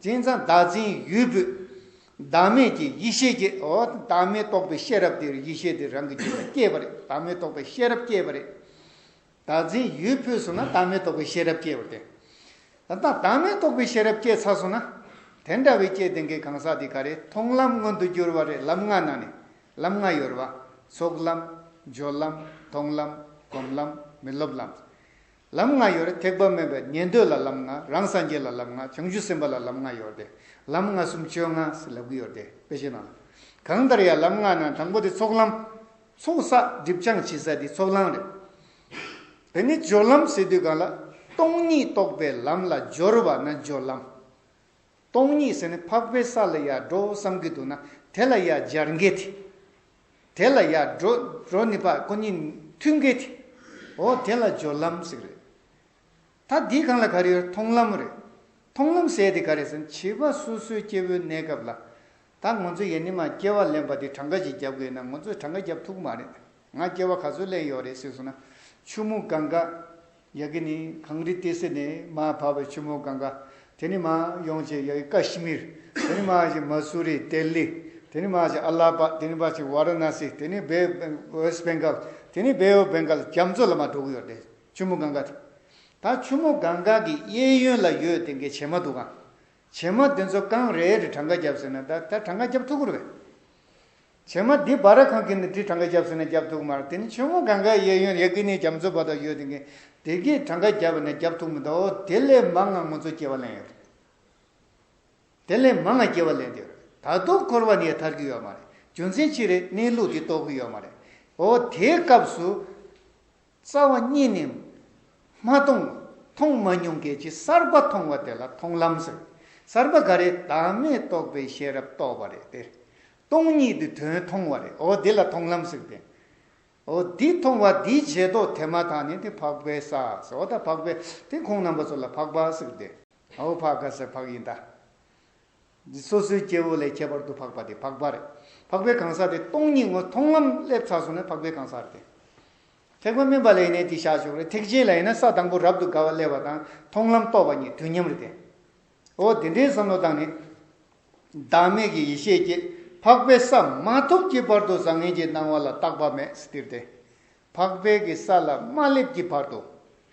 དེང་སང་བདག་འཛིན་ཡུལ་བུད། བདག་མེད་ཀྱི་ཡེ་ཤེས་སྐྱེ། བདག་མེད་རྟོགས་པའི་ཤེས་རབ་དེར་ཡེ་ཤེས་དེ་རང་གི་རྒྱུད་ལ་སྐྱེས་པ་རེད་བདག་མེད་རྟོགས་པའི་ཤེས་རབ་སྐྱེས་པ་རེད། བདག་འཛིན་ཡུལ་བུད་སོང་ན་བདག་མེད་རྟོགས་པའི་ཤེས་རབ་སྐྱེས་པ་རེད། ད་ལྟ་བདག་མེད་རྟོགས་པའི་ཤེས་རབ་སྐྱེས་ཚར་སོང་ན། དེ་འདྲ་བའི་སྐྱེས་ལྡན་གྱི་གང་ཟག་དེ་ག་རེ་མཐོང་ལམ་མངོན་དུ་གྱུར་བ་རེད་ལམ་ལྔ་ནང་ནས་ལམ་ལྔ་ཡོད་པ། ཚོགས་ལམ། སྦྱོར་ལམ། མཐོང་ལམ། སྒོམ་ལམ། མི་སློབ་ལམ། ལམ་ལྔ་ཡོད་རེད་ཐེག་པ་མེད་པའི་ཉན་ཐོས་ལ་ལམ་ལྔ་རང་སངས་རྒྱས་ལ་ལམ་ལྔ་བྱང་ཆུབ་སེམས་དཔའ་ལ་ལམ་ལྔ་ཡོད་དེ། ལམ་ལྔ་སུམ་བཅོ་ལྔ་ཟེར་ལབ་གི་ཡོད་དེ་དཔེ་ཤེས་ན། གང་ལྟར་ཡང་ལམ་ལྔ་ནང་དང་པོ་དེ་ཚོགས་ལམ། ཚོགས་བསགས་སྒྲིབ་སྦྱང་བྱེད་ས་དེ་ཚོགས་ལམ་རེད། དེ་ནས་སྦྱོར་ལམ་ཟེར་དུས་གང་ལ། སྟོང་ཉིད་རྟོགས་པའི་ལམ་ལ་སྦྱོར་བ་ན་སྦྱོར་ལམ། སྟོང་ཉིད་ཟེར་ནས་འཕགས་པའི་ས་ལ་ཡར་འགྲོ་བསམ་གྱི་འདུག་ན་དེ་ལ་ཡར་འབྱར་འགལ་ཏེ། དེ་ལ་ཡར་འགྲོ་འགྲོ་ནི་པ་ཀོ་གཉིས་མཐུན་འགལ་ཏེ། འོ་དེ་ལ་སྦྱོར་ལམ་ཟེར་གི་རེད། ད་འདི་གང་ལ་ག་རེ་ཡོད་མཐོང་ལམ་རེད། མཐོང་ལམ་ཟད་དེ་ག་རེ་ཟེར་ན་བྱིས་པ་སོ་སོའི་སྐྱེ་བོའི་གནས་སྐབས་ལ། ད་ང་ཚོས་ཡེ་ནས་མ་སྐྱེལ་བ་ལེན་པ་དེ་གྲངས་ཀ་ཞིག་བརྒྱབ་དགོས་ན་ང་ཚོས་གྲངས་ཀ་བརྒྱབ་ཐུག་གི་མ་རེད། ང་སྐྱེལ་བ་ག་ཚོད་ལེན་ཡོད་རེད་ཟེར་སོང་ན། ཆུ་མོ་གང་ག། ཡ་གི་ནི་གངས་རི་ཏི་སེ་ནས་མ་བབས་པའི་ཆུ་མོ་གང་ག། དེ་ནི་མ་ཡོང་ཆེ་ཡ་གི་ཀ་ཤི་མིར། དེ་ནི་མ་ཞིག་མ་སུ་རི་ཏེ་ལི། དེ་ནི་མ་ཞིག་ཨ་ལ་པ། དེ་ནི་མ་ཞིག་བྷ་ར་ན་སི། དེ་ནི་བྷེ་ཨོས་བྷེན་གཱལ། དེ་ནི་བྷེ་ཨོས་བྷེན་གཱལ་རྒྱ་མཚོ་ལ་མ་འགྲོ་གི་ཡོད་རེད་ཆུ་མོ་གང་ག་དེ། ད་ཆུ་མོ་གང་ག་གི་གཡས་གཡོན་ལ་ཡོད་དེ་འགའི་བྱེ་མ་འདུག་གམ། བྱེ་མ་འདི་ཚོ་རྐང་རེ་རེ་གྲངས་ཀ་བརྒྱབ་ཟེར་ན་ད་ད་གྲངས་ཀ་བརྒྱབ་ཐུག་གུར་བས། བྱེ་མ་འདི་སྦ་ར་ཁང་གི་ནི་འདི་གྲངས་ཀ་བརྒྱབ་ཟེར་ན་བརྒྱབ་ཐུག་མར་དེ་ནི་ཆུ་མོ་གངས་ཀའི་གཡས་གཡོན་རེ་གི་ནི་རྒྱ་མཚོ་བ་དག་ཡོད་དེ་གི་དེ་གི་གྲངས་ཀ་བརྒྱབ་པ་ནི་བརྒྱབ་ཐུག་མི་འདུག་དེ་ལས་མང་ང་ངོ་ཚོ་སྐྱེ་བ་ལེན་ཡོད་རེད། དེ་ལས་མང་ང་སྐྱེ་བ་ལེན་དུས་རེད་ད་དུང་འཁོར་བ་ནི་ཡ་ཐར་གི་ཡོད་མ་རེད་རྒྱུ་མཚན་ཅི་རེད་གནས་ལུགས་དེ་རྟོགས་གི་ཡོད་མ་རེད་འོ་དེའི་སྐབས་སུ། རྩ་བ་གཉིས་ནི། མ་མཐོང། མཐོང་མ་མྱོང་སྐད་ཅིག་གསར་པ་མཐོང་བ་དེ་ལ་མཐོང་ལམ་ཟེར། གསར་པ་འགའ་རེ་བདག་མེད་རྟོགས་པའི་ཤེས་རབ་རྟོགས་པ་རེད་དེ། སྟོང་ཉིད་དེ་དོན་མཐོང་བ་རེད་འོ་དེ་ལ་མཐོང་ལམ་ཟེར་ཏེ། འོ་དེ་མཐོང་བ་དེའི་རྗེས་ཐོགས་དེ་མ་ཐག་ནི་དེ་འཕགས་པའི་ས་ཟེར་འོ་ད་འཕགས་པའི་དེ་ཁོང་རྣམ་པ་ཚོ་ལ་འཕགས་པ་ཟེར་ཏེ། འོ་འཕགས་ཀ་ཟེར་འཕགས་ཡིན་ད། འདི་སོ་སོའི་སྐྱེ་བོ་ལས་ཁྱད་པར་དུ་འཕགས་པ་དེ་འཕགས་པ་རེད། འཕགས་པའི་གང་ཟག་དེ་སྟོང་ཉིད་ངོ་མཐོང་ངམ་སླེབས་ཚར་སོང་ན་འཕགས་པའི་གང་ཟག་རེད། ཐེག་པ་དམན་པ་ལ་ཡིན་ན་དེ་བྱ་ཆོག་རེད་ཐེག་ཆེན་ལ་ཡིན་ན་ས་དང་པོ་རབ་ཏུ་དགའ་བ་སླེབས་པ་དང་མཐོང་ལམ་རྟོགས་པ་གཉིས་དུས་མཉམ་རེད། འོ་དེ་འདྲའི་བསམ་བློ་དང་ནི། བདག་མེད་ཀྱི་ཡེ་ཤེས་ཀྱིས་འཕགས་པའི་ས་མ་ཐོབ་ཀྱི་བར་དུ་བཟང་ངན་གྱི་སྣང་བ་ལ་བརྟག་པ་མེད་སྟེར་ཏེ། འཕགས་པའི་གི་ས་ལ་རྨ་ལེབ་ཀྱི་བར་དུ།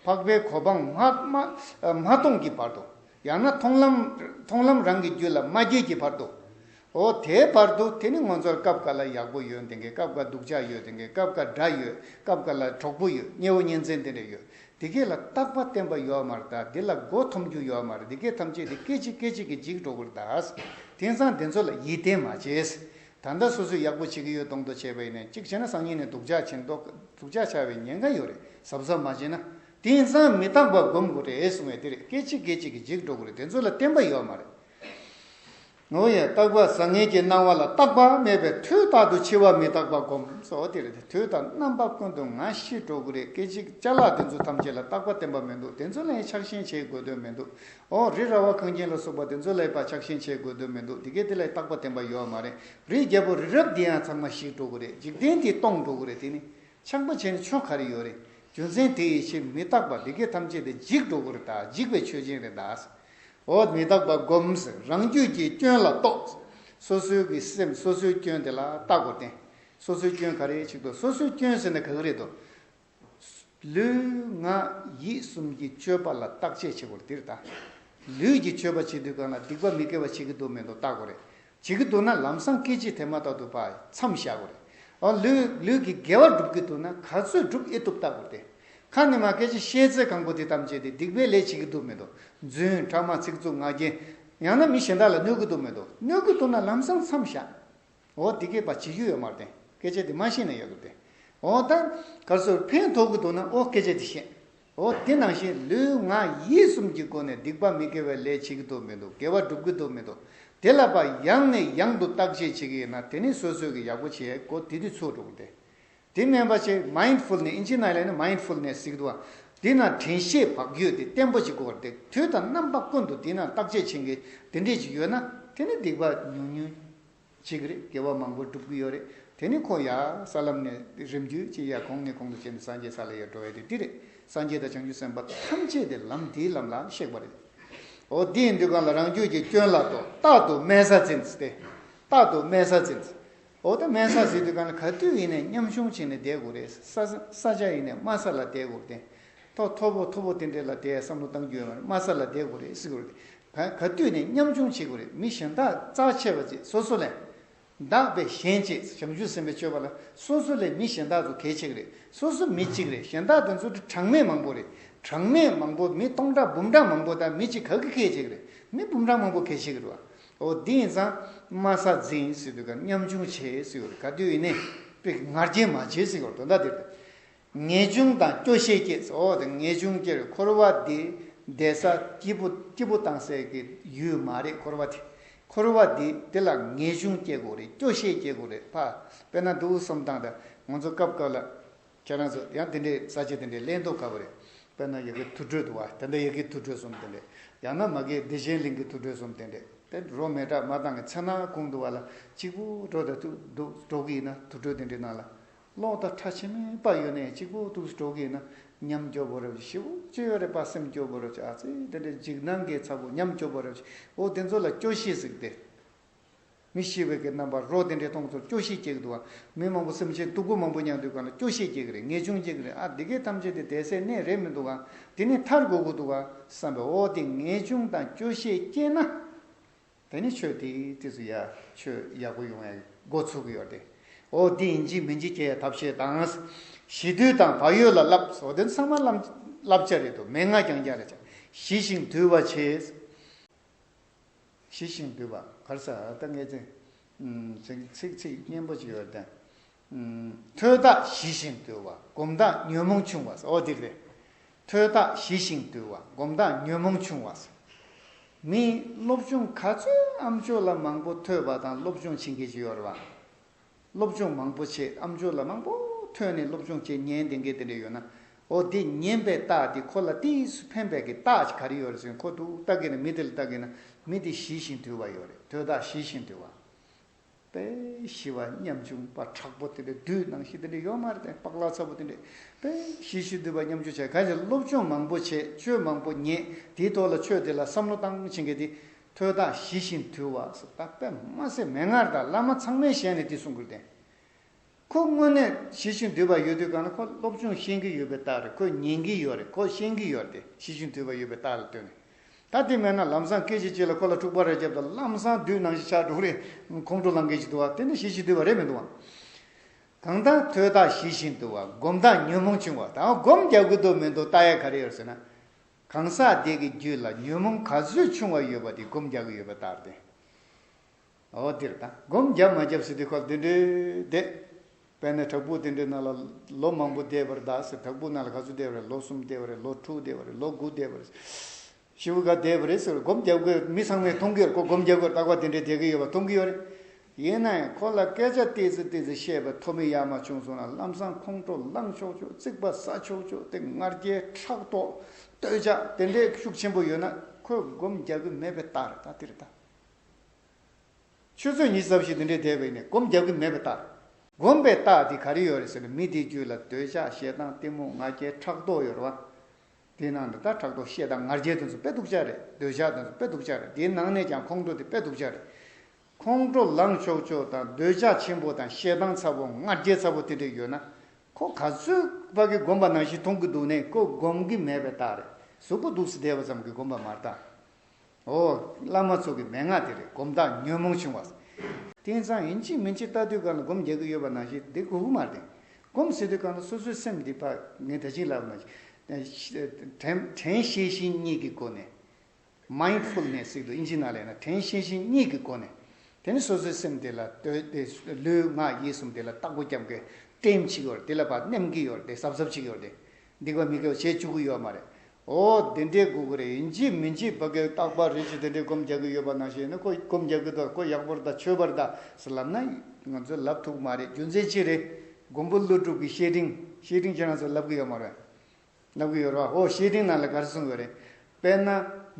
འཕགས་པའི་གོ་འཕང་མ་སྟོངས་ཀྱི་བར་དུ། ཡང་ན་མཐོང་ལམ་མཐོང་ལམ་རང་གི་རྒྱུད་ལ་མ་སྐྱེས་ཀྱི་བར་དུའོ། དེའི་བར་དུ་དེ་ནི་ངོ་མཚར་སྐབས་འགའ་ལ་ཡག་པོ་ཡོད་དེ་འགའི་སྐབས་འགའ་སྡུག་ཅག་ཡོད་དེ་འགའི་སྐབས་འགའ་དགྲ་ཡོད་སྐབས་འགའ་ལ་གྲོགས་པོ་ཡོད་དམྱལ་བ་གཉེན་ཚན་དེ་འདྲ་ཡོད་དེ་གས་ལ་རྟག་པ་བསྟན་པ་ཡོད་མ་རེད་དཱ་དེ་ལ་སྒོ་འཐོམ་རྒྱུ་ཡོད་མ་རེད་དེ་གས་ཐམས་ཅད་དེ་སྐད་ཅིག་སྐད་ཅིག་གིས་འཇིག་འགྲོ་གི་རེད་དཱ། དེང་སང་དེ་ཚོ་ལ་ཡིད་བརྟན་མ་བྱས། ད་ལྟ་སོ་སོས་ཡག་པོ་བྱེད་ཀྱི་ཡོད་གདོང་དུ་བྱས་པ་ཡིན་ནས་གཅིག་བྱས་ན་སང་ཉིན་ནས་སྡུག་ཅག་བྱེད་མདོག་སྡུག་ཅག་བྱ་བའི་ཉེན་ཁ་ཡོད་རེད་གཟབ་གཟབ་མ་བྱས་ན་དེང་སང་མི་རྟག་པ་སྒོམ་དགོས་རེད་གསུང་བའི་དེ་རེད་སྐད་ཅིག་སྐད་ཅིག་གིས་འཇིག་འགྲོ་གི་རེད་དེ་ཚོ་ལ་བསྟན་པ་ཡོད་མ་རེད། ངོ་ཡ་རྟག་པ་བཟང་ངན་གྱི་སྣང་བ་ལ་རྟག་པ་མེད་པས་དུས་རྟག་ཏུ་འཆི་བ་མི་རྟག་པ་སྒོམ་སོགས་དེ་རེད་དུས་རྟག་རྣམ་པ་ཀུན་ཏུ་ང་ཤི་འགྲོ་གི་རེད་སྐད་ཅིག་བཅའ་ལག་དེ་ཚོ་ཐམས་ཅད་ལ་རྟག་པ་བསྟན་པ་མི་འདུག་དེ་ཚོ་ལ་ཡང་ཆགས་ཞེན་བྱེད་དགོས་དོན་མི་འདུག་ཨོ་རི་ར་བ་གངས་ཅན་ལ་སོགས་པ་དེ་ཚོ་ལ་ཡི་པ་ཆགས་ཞེན་བྱེད་དགོས་དོན་མི་འདུག་དེ་གས་དེ་ལ་ཡི་རྟག་པ་བསྟན་པ་ཡོད་མ་རེད་རི་རྒྱལ་པོ་རི་རབ་དེ་ཡང་ཚང་མ་ཞིག་འགྲོ་གི་རེད་འཇིག་རྟེན་དེ་སྟོང་འགྲོ་གི་རེད་དེ་ནི་ཆགས་པ་བྱས་ནས་ཆོ་ག་རི་ཡོད་རེད་རྒྱུ་མཚན་དེ་ཡི་ཕྱིར་མི་རྟག་པ་དེ་གས་ཐམས་ཅད་དེ་འཇིག་འགྲོ་གི་རེད་ད་འཇིག་པའི་ཆོས་ཅན་རེད་ད། ཨོ་མི་རྟག་པ་སྒོམས་རང་རྒྱུད་ཀྱི་སྐྱོན་ལ་རྟོགས། སོ་སོའི་གི་སེམས་སོ་སོའི་སྐྱོན་དེ་ལ་བརྟག་གོ་བརྟེན། སོ་སོའི་སྐྱོན་ག་རེ་ཞིག་དུ་སོ་སོའི་སྐྱོན་ཟེར་ན་ག་གི་རེད་དོ། ལུས་ངག་ཡིད་གསུམ་གྱི་སྤྱོད་པ་ལ་བརྟག་དཔྱད་བྱེད་དགོས་རེད་འདིར་ད་ལུས་ཀྱི་སྤྱོད་པ་བྱེད་དུས་གང་ལ་སྡིག་པ་མི་དགེ་བ་བྱེད་ཀྱི་འདུག་མེད་འདུག་བརྟག་དགོས་རེད་བྱེད་ཀྱི་འདུག་ན་ལམ་སང་སྐད་ཅིག་དེ་མ་བརྟག་ཏུ་བར་མཚམས་བཞག་དགོས་རེད་འོ་ལུས་ལུས་ཀྱི་དགེ་བ་སྒྲུབ་ཀྱི་འདུག་ན་ག་ཚོད་སྒྲུབ་ཨེ་ཐུབ་བརྟག་དགོས་རེད་ཁ་ནི་མ་སྐད་ཅིག་ཤེས་ཚད་གང་པོ་དེ་ཐམས་ཅད་དེ་སྡིག་པའི་ལས་བྱེད་ཀྱི་འདུག་མེད་འདུག་རྫུན་ཕྲ་མ་ཚིག་རྩུབ་ངག་རྒྱན། ཡང་ན་མི་གཞན་དག་ལ་གནོད་ཀྱི་འདུག་མེད་འདུག་གནོད་ཀྱི་འདུག་ན་ལམ་སང་མཚམས་བཞག། འོ་འདི་སྐད་པ་བྱེད་རྒྱུ་ཡོད་མ་རེད། སྐད་ཆ་འདི་མ་ཤེས་ན་ཡག་གི་རེད། འོ་ད་གར་སོར་ཕན་ཐོག་གི་འདུག་ན་འོ་སྐད་ཆ་འདི་བཤད། འོ་དེ་ནང་བཞིན་ལུས་ངག་ཡིད་གསུམ་གྱི་སྒོ་ནས་སྡིག་པ་མི་དགེ་བའི་ལས་བྱེད་ཀྱི་འདུག་མི་འདུག་དགེ་བ་སྒྲུབ་ཀྱི་འདུག་མི་འདུག་དེ་ལ་པ་ཡང་ནས་ཡང་དུ་བརྟག་དཔྱད་བྱེད་ཀྱི་ཡིན་ན་དེ་ནི་སོ་སོས་ཀྱི་ཡག་པོ་བྱས་གོ་དེ་དུས་ཚོད་འགྲོ་གི་རེད། དེ་སྨན་པ་ཆེ Mindful ནས་ཨིན་ཇི་ནཱི་ལ་ནི Mindful ནས་སིག་དུ་བ། དེས་ན་དྲན་ཤེས་བག་རྒྱུད་དེ་བརྟན་པོ་ཞིག་དགོས་པར་འདུག་དུས་དང་རྣམ་པ་ཀུན་ཏུ་དེས་ན་བརྟག་དཔྱད་བྱེད་མཁན་དེ་འདྲས་ཅིག་ཡོད་ན་དེ་ནི་སྡིག་པ་ཉུང་ཉུང་ཅིག་རེད་དགེ་བ་མང་པོ་སྒྲུབ་གི་ཡོད་རེད་དེ་ནི་ཁོ་ཡ་ས་ལམ་ནས་རིམ་བརྒྱུད་ཅིག་ཡ་གོང་ནས་གོང་དུ་བྱས་ནས་སངས་རྒྱས་ས་ལ་ཡར་འགྲོ་བ་ཡིན་དུས་འདི་རེད་སངས་རྒྱས་དང་བྱང་ཆུབ་སེམས་དཔའ་ཐམས་ཅད་དེ་ལམ་དེའི་ལམ་ལ་གཤེགས་པ་རེད། འོ་དེ་ཡིན་དུས་གང་ལ་རང་རྒྱུད་ཀྱི་སྐྱོན་ལ་དོ་རྟག་ཏུ་དམན་ས་འཛིན་ཏེ། རྟག་ཏུ་དམན་ས་འཛིན། འོ་ད་མལ་ས་ཟིག་དུས་ག་ན་ག་དུས་ཡིན་ནས་མཉམ་ཞུང་བྱེད་ནས་བསྡད་དགོས་རེད་ས་ས་ཆ་ཡིན་ནས་དམའ་ས་ལ་བསྡད་དགོས་རེད་ཐོ་མཐོ་པོ་མཐོ་པོ་དེ་འདྲས་ལ་བསྡད་ཡ་བསམ་བློ་བཏང་རྒྱུ་ཡོད་མ་རེད་དམའ་ས་ལ་བསྡད་དགོས་རེད་ཟེར་གི་རེད་ག་དུས་ནས་མཉམ་ཞུང་བྱེད་དགོས་རེད་མི་གཞན་དག་རྩ་ཆེ་བ་བཅས་སོ་སོ་ལས་འདག་པས་གཞན་བཅས་བྱང་ཆུབ་སེམས་པའི་སྤྱོད་པ་ལ་སོ་སོ་ལས་མི་གཞན་དག་ཚོ་གལ་ཆེ་གི་རེད་སོ་སོ་མི་གཅིག་རེད་གཞན་དག་དེ་ཚོ་དྲི་གྲངས་མེད་མང་པོ་རེད་གྲངས་མེད་མང་པོ་མི་སྟོང་ཕྲག་འབུམ་ཕྲག་མང་པོ་དག་མི་གཅིག་ག་གི་གལ་ཆེ་གི་རེད་མི་འབུམ་ཕྲག་མང་པོ་གལ་ཆེ་གི་རེད་བ་ཨོ་དེ་ཡིན་ཙང་དམའ་ས་འཛིན་སྲིད་དུས་ཀར་ཉམ་ཆུང་བྱེད་སྲིད་འོད་ག་དུས་ནས་པིག་ངར་རྒྱས་མ་བྱེད་སྲིད་འོ་དོ་ཟླ་དེར་དུ་ངེས་འབྱུང་དང་སྐྱོ་ཤས་སྐྱེས་སྲིད་འོ་དེ་ངེས་འབྱུང་སྐྱེ་རུ་འཁོར་བ་འདི་འདས་ས་སྐྱིད་པོ་སྐྱིད་པོ་བཏང་སའི་གི་ཡུལ་མ་རེད་འཁོར་བ་དེ་འཁོར་བ་འདི་འདི་ལ་ངེས་འབྱུང་སྐྱེ་དགོས་རེད་སྐྱོ་ཤས་སྐྱེ་དགོས་རེད་ཕ་དཔེ་ན་འདུག་གསུམ་བཏང་ད་ང་ཚོ་སྐབས་སྐབས་ལ། ཁྱེད་རང་ཚོ་ཡང་དེ་འདྲའི་ས་བྱི་དེ་འདྲའི་གླེང་དོགས་དཀའ་བ་རེད། དཔེར་ན་ཡི་གེ་དུར་ཁྲོད་དུ་བ་དན་དཱ་ཡི་གེའི་དུར་ཁྲོད་གསུམ་དེ་འདྲ། ཡང་ན་མ་གེའི་བདེ་ཆེན་གླིང་གི་དུར་ཁྲོད་གསུམ་དེ་འདྲ། དེ་རོ་མེད་དྲག་མ་དང་གི་ཚེ་ན་གུང་དུ་བ་ལ་གཅིག་པུ་སྤྲོ་ད་ཐུག་འདུག་སྤྲོ་གི་ཡིན་ན་དུར་ཁྲོད་དེ་འདྲའི་ནང་ལ། ལོག་ད་ཁྲ་ཆེན་མོའི་པ་ཡོད་ནས་གཅིག་པུ་ཐུག་སྤྲོ་གི་ཡིན་ན་ཉམས་སྐྱོ་བོ་རབ་ཀྱི་ཤི་བོ་ཅི་ཡོད་རེད་པ་སེམས་སྐྱོ་བོ་རབ་ཀྱི་ཨ་ཙི་དེ་འདྲའི་འཇིགས་སྣང་གི་ཚ་བོ་ཉམས་སྐྱོ་བོ་རབ་ཀྱི་བོ་དེ་ཚོ་ལ་སྐྱོ་ཤས་ཟིག་སྟེ། མི་ཤི་བའི་གི་རྣམ་པར་རོ་དེ་འདྲའི་སྟོང་ཚོར་སྐྱོ་ཤས་སྐྱེ་གི་འདུག་བ། མི་མང་པོ་སེམས་ཅན་སྡུག་པོ་མང་པོ་མྱང་དུས་གང་ལ་སྐྱོ་ཤས་སྐྱེ་གི་རེད་ངེས་འབྱུང་སྐྱེ་གི་རེད་ཨ་འདི་གས་ཐམས་ཅད་དེ་དད་སའི་གནས་རེད་མི་འདུག་ག་དེ་ནི་མཐར་དགོས་གི་འདུག་ག་བསམ་པས་ཨོ་དེ་ངེས་འབྱུང་དང་སྐྱོ་ཤས་སྐྱེ་ན། དེ་ནི་ཆོས་དེའི་དུས་སུ་ཡ་ཆོས་ཡག་པོ་ཡོང་ཡ་འགོ་ཚུགས་གི་ཡོད་དེ། ཨོ་དེ་ཡིན་གྱི་མིན་གྱི་སྐྱེ་ཡ་ཐབས་ཤེས་དང། ཤི་དུས་དང་བག་ཡོད་ལ་བསླབས་ཨོ་དེ་ཚང་མ་བསླབ་བྱ་རེད་དོ་མན་ངག་ཀྱང་རྒྱ་རེད་བྱ་ཤི་ཞིང་དུལ་བར་བྱེད། ཞི་ཞིང་དུལ་བ་བར་ས་ཏྭ་མཁས་བཙུན། ཚིག་ཚིག་ཚིག་སྙན་པོ་ཅི་ཡོད་བསྟན། ཐོས་བདག་ཞི་ཞིང་དུལ་བ་སྒོམ་བདག་ཉོན་མོངས་ཆུང་བ་ཨོ་འདི་རེད། ཐོས་བདག་ཞི་ཞིང་དུལ་བ་སྒོམ་བདག་ཉོན་མོངས་ཆུང་བ། མི་སློབ་ཆུང་ག་ཚོད་ཨམ་ཆོས་ལ་མང་པོ་ཐོས་པ་དང་སློབ་ཆུང་ཕྱིན་གྱི་ཅི་ཡོད་རེད་བ། སློབ་སྦྱོང་མང་པོ་བྱས་ཨམ་ཆོས་ལ་མང་པོ་ཐོན་ནས་སློབ་སྦྱོང་བྱས་ཉན་དེ་འགས་དེ་འདྲས་ཡོད་ན་འོ་དེ་ཉན་པའི་རྟགས་དེ་ཁོ་ལ་གཏིང་སུ་ཕན་པའི་གི་རྟགས་ཅིག་ག་རེ་ཡོད་རེད་ཟེར་ཁོ་ཐུག་ལྟ་གི་ན་མི་དེ་ལ་ལྟ་གི་ན་མི་དེ་ཞི་ཞིང་དུལ་བ་ཡོད་རེད་དོས་དག་ཞི་ཞིང་དུལ་བ། པས་ཞི་བ་ཉམ་ཆུང་པ་དྲག་པོ་དེ་འདྲས་བདུད་ནང་བཞིན་དེ་འདྲས་ཡོད་མ་རེད་དེ་པག་ལག་ཚ་པོ་དེ་འདྲས་པས་ཞི་ཞིང་དུལ་བ་ཉམ་ཆུང་བྱས་ག་ཅིག་སློབ་སྦྱོང་མང་པོ་བྱས་ཆོས་མང་པོ་ཉན་དེའི་ཐོག་ལ་ཆོས་དེ་ལ་བསམ་བློ་བཏང་བྱས་འགས་དེ་ཐོས་དང་ཞི་ཞིང་དུལ་བ། པདྨ་སེར་མོས་སྔར་དང་བླ་མ་ཚང་མའི་ཞལ་ནས་འདི་གསུང་གི་བདེན། ཁོ་དངོས་གནས་ཞི་ཞིང་དུལ་བ་ཡོད་དུས་གང་ལ་ཁོ་སློབ་སྦྱོང་ཤེས་ཀྱི་ཡོད་པའི་རྟགས་རེད་ཁོ་ཉན་གྱི་ཡོད་རེད་ཁོ་ཤེས་ཀྱི་ཡོད་དེ་ཞི་ཞིང་དུལ་བ་ཡོད་པའི་རྟགས་རེད་ལྟོས་ནས། ད་དེ་མེད་ན་ལམ་བཟང་སྐད་ཅིག་གཅིག་ལ་ཁོ་ལ་འཁྲུག་པ་རེ་བརྒྱབ་དང་ལམ་བཟང་བསྡུས་ནང་བཞིན་ཕྱག་དྲུག་རེ་ཁོང་ཁྲོ་ལངས་སྐད་ཅིག་འདུག་ཨ་དེ་ནི་ཞི་ཞིང་དུལ་བ་རེད་མི་འདུག་ཨང། གང་ལྟར་ཐོས་དང་ཞི་ཞིང་དུལ་བ་སྒོམ་དང་ཉོན་མོངས་ཆུང་བ་དང་སྒོམ་རྒྱག་གི་འདུག་མི་འདུག་རྟགས་ཡག་ག་རེ་ཡོད་ཟེར་ན། གང་ཟག་དེ་གི་རྒྱུད་ལ་ཉོན་མོངས་ག་ཚོད་ཆུང་བ་ཡོད་པ་དེ་སྒོམ་རྒྱག་གི་ཡོད་པ་ལྟར་ཏེ། འོ་དེར་ལྟ། སྒོམ་བརྒྱབ་མ་བརྒྱབ་ཟེར་དུས་སྐབས་དེ་འདྲའི་བསྡད། དཔེར་ན་བྲག་ཕུག་དེ་འདྲའི་ནང་ལ་ལོ་མང་པོ་བསྡད་པར་གདའ་ཟེར་བྲག་ཕུག་ནང་ལ་ག་ཚོད་བསྡད་པ་རེད་ལོ་གསུམ་བསྡད་པ་རེད་ལོ་དྲུག་བསྡད་པ་རེད་ལོ་དགུ་བསྡད་པ་རེད། བཞི་བརྒྱ་བསྡད་པ་རེད་ཟེར་བ་སྒོམ་བརྒྱབ་དགོས་མི་ཚང་མས་མཐོང་གི་ཡོད་རེད་ཁོ་སྒོམ་བརྒྱབ་གི་ཡོད་རེད་རྟག་པར་དེ་འདྲའི་བསྡད་གི་ཡོད་པ་མཐོང་གི་ཡོད་རེད། ཡིན་ན་ཡང་ཁོ་ལ་སྐད་ཆ་ཏིལ་ཙི་ཏིལ་ཙི་བཤད་པའི་ཐོབ་མི་ཡ་མ་བྱུང་སོང་ན་ལམ་སང་ཁོང་ཁྲོ་ལངས་ཆོག་ཆོག་རྩིག་པ་ཟ་ཆོག་ཆོག་དེ་ང་རྒྱལ་ཕྲག་དོག་སྟོད་ཆགས་དེ་འདྲའི་ཤུགས་ཆེན་པོ་ཡོད་ན་ཁོས་སྒོམ་རྒྱག་གི་མེད་པའི་རྟགས་རེད་ད་དེ་རེད་ད། ཆུ་ཚོད་གཉིས་རྩ་བཞི་དེ་འདྲའི་འདས་པའི་ནས་སྒོམ་རྒྱག་གི་མེད་པའི་རྟགས་རེད། སྒོམ་པའི་རྟགས་དེ་ག་རེ་ཡོད་རེད་ཟེར་ན་མི་དེའི་རྒྱུད་ལ་འདོད་ཆགས་ཞེ་སྡང་གཏི་མུག་ང་རྒྱལ་ཕྲག་དོག་ཡོད་རེད་བ། དེའི་ནང་དུ་ད་ཕྲག་དོག་ཤེད་སྡང་ང་རྒྱལ་དེ་ཚོ་དཔེ་སྡུག་ཅག་རེད་འདོད་ཆགས་དེ་ཚོ་དཔེ་སྡུག་ཅག་རེད་དེའི་ནང་ནས་ཀྱང་ཁོང་ཁྲོ་དེ་དཔེ་སྡུག་ཅག་རེད། ཁོང་ཁྲོ་ལངས་ཆོག་ཆོག་དང་འདོད་ཆགས་ཆེན་པོ་དང་ཞེ་སྡང་ཚ་བོ་ང་རྒྱལ་ཚ་བོ་དེ་འདྲ་ཡོད་ན། ཁོ་ག་ཚོད་བར་གྱི་དགོན་པ་ནང་བཞིན་མཐོང་གི་འདུག་ནས་ཁོ་སྒོམ་གི་མེད་པའི་རྟགས་རེད་གཟུགས་པོ་སྡུགས་སུ་བསྡད་པ་ཙམ་གྱིས་སྒོམ་པ་མ་རྟགས། འོ། བླ་མ་ཚོ་གི་མན་ངག་དེ་རེད་སྒོམ་རྟགས་ཉོན་མོངས་ཆུང་བ། དེང་སང་ཡིན་གཅིག་མིན་གཅིག་ལྟ་དུས་གང་ལ་སྒོམ་རྒྱག་གི་ཡོད་པ་ནང་བཞིན་དེ་གུ་གུ་མ་རེད། སྒོམ་ཟེར་དུས་གང་ལ་སོ་སོའི་སེམས་འདི་ཕ་ངས་ད་ཅིག་ལབ་ན། དྲན་ཤེས་བཞིན་གཉིས་ཀྱི་སྒོ་ནས། Mindfulness། ཞིག་ཏུ་ཨིན་ཇི་ནཱ་ལེ་ན་དྲན་ཤེས་ཤིང་གཉིས་ཀྱི་སྒོ་ནས། དེ་ནི་སོ་སོའི་སེམས་དེ་ལ་ལྟོས་ཏེ་ལུས་ངག་ཡིད་གསུམ་དེ་ལ་བརྟག་སྒོ་བརྒྱབ་གི་སྤྲིན་ཅིག་ཡོད་དེ་ལ་བར་སྣེམ་གྱི་ཡོད་དེ་གཟབ་གཟབ་ཅིག་ཡོད་དེ། འདི་ག་མི་དགེ་བ་བྱེད་བཅུག་གི་ཡོད་མ་རེད། འོ། དེ་འདྲའི་དགོས་མཁོ་རེད་ཡིན་གཅིག་མིན་གཅིག་བ་གའི་བརྟག་པ་རེ་ཞིག་དེ་འདྲའི་སྒོམ་རྒྱག་གི་ཡོད་པ་ནང་བཞིན་ཡིན་ན་ཁོ་སྒོམ་རྒྱག་གི་འདུག་ཁོ་ཡག་པོར་དང་ཆོས་པར་དང་ཟེར་ལབ་ན་ང་ཚོས་ལབ་ཐུབ་གི་མ་རེད་རྒྱུ་མཚན་ཅི་རེད། མགོན་པོ་ཀླུ་སྒྲུབ་ཀྱི་བཤེས་སྤྲིང་བཤེས་སྤྲིང་ཁྱེད་རང་ཚོས་ལབ་གི་ཡོད་མ་རེད། གནང་གི་ཡོད་རེད་བ། ཨོ་ཤེས་ལྡིང་ནང་ལ་དགའ་རེ་གསུངས་ཡོད་རེད། དཔེར་ན།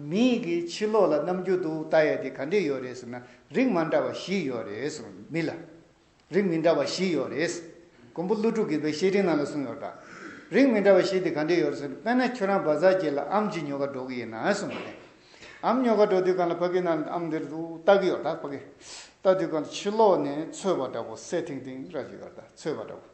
མི་ཡིག་གི་ཕྱི་ལོགས་ལ་རྣམ་འགྱུར་འདུག་ལྟ་ཡས་དེ་ག་འདྲས་ཡོད་རེད་ཟེར་ན་རིགས་མ་འདྲ་བ་བཞི་ཡོད་རེད་གསུངས་ཡོད་མི་ལ། རིགས་མི་འདྲ་བ་བཞི་ཡོད་རེད། མགོན་པོ་ཀླུ་སྒྲུབ་ཀྱིས་བའི་ཤེས་ལྡིང་ནང་ལ་གསུངས་ཡོད་རེད་བ། རིགས་མི་འདྲ་བ་བཞི་དེ་ག་འདྲས་ཡོད་རེད་ཟེར་ན་དཔེར་ན་ཁྱོད་རང་བ་ཟ་གྱི་ལ་ཨམ་གྱི་ཉོ་ག་འགྲོ་གི་ཡིན་ན་གསུངས་ཡོད་རེད། ཨམ་ཉོ་ག་འགྲོ་དུས་གང་ལ་ཕ་གི་ནང་ཨམ་འདིར་འདུག་ལྟ་གི་ཡོད་རེད་བ། ལྟ་དུས་གང་ལ་ཕྱི་ལོགས་ནས་ཚོས་བ་འདྲ་བོ་སད་ཐིང་ཐིང་ར་གྱི་ཡོད་རེད་བ་ཚོས་བ་འདྲ་བོ།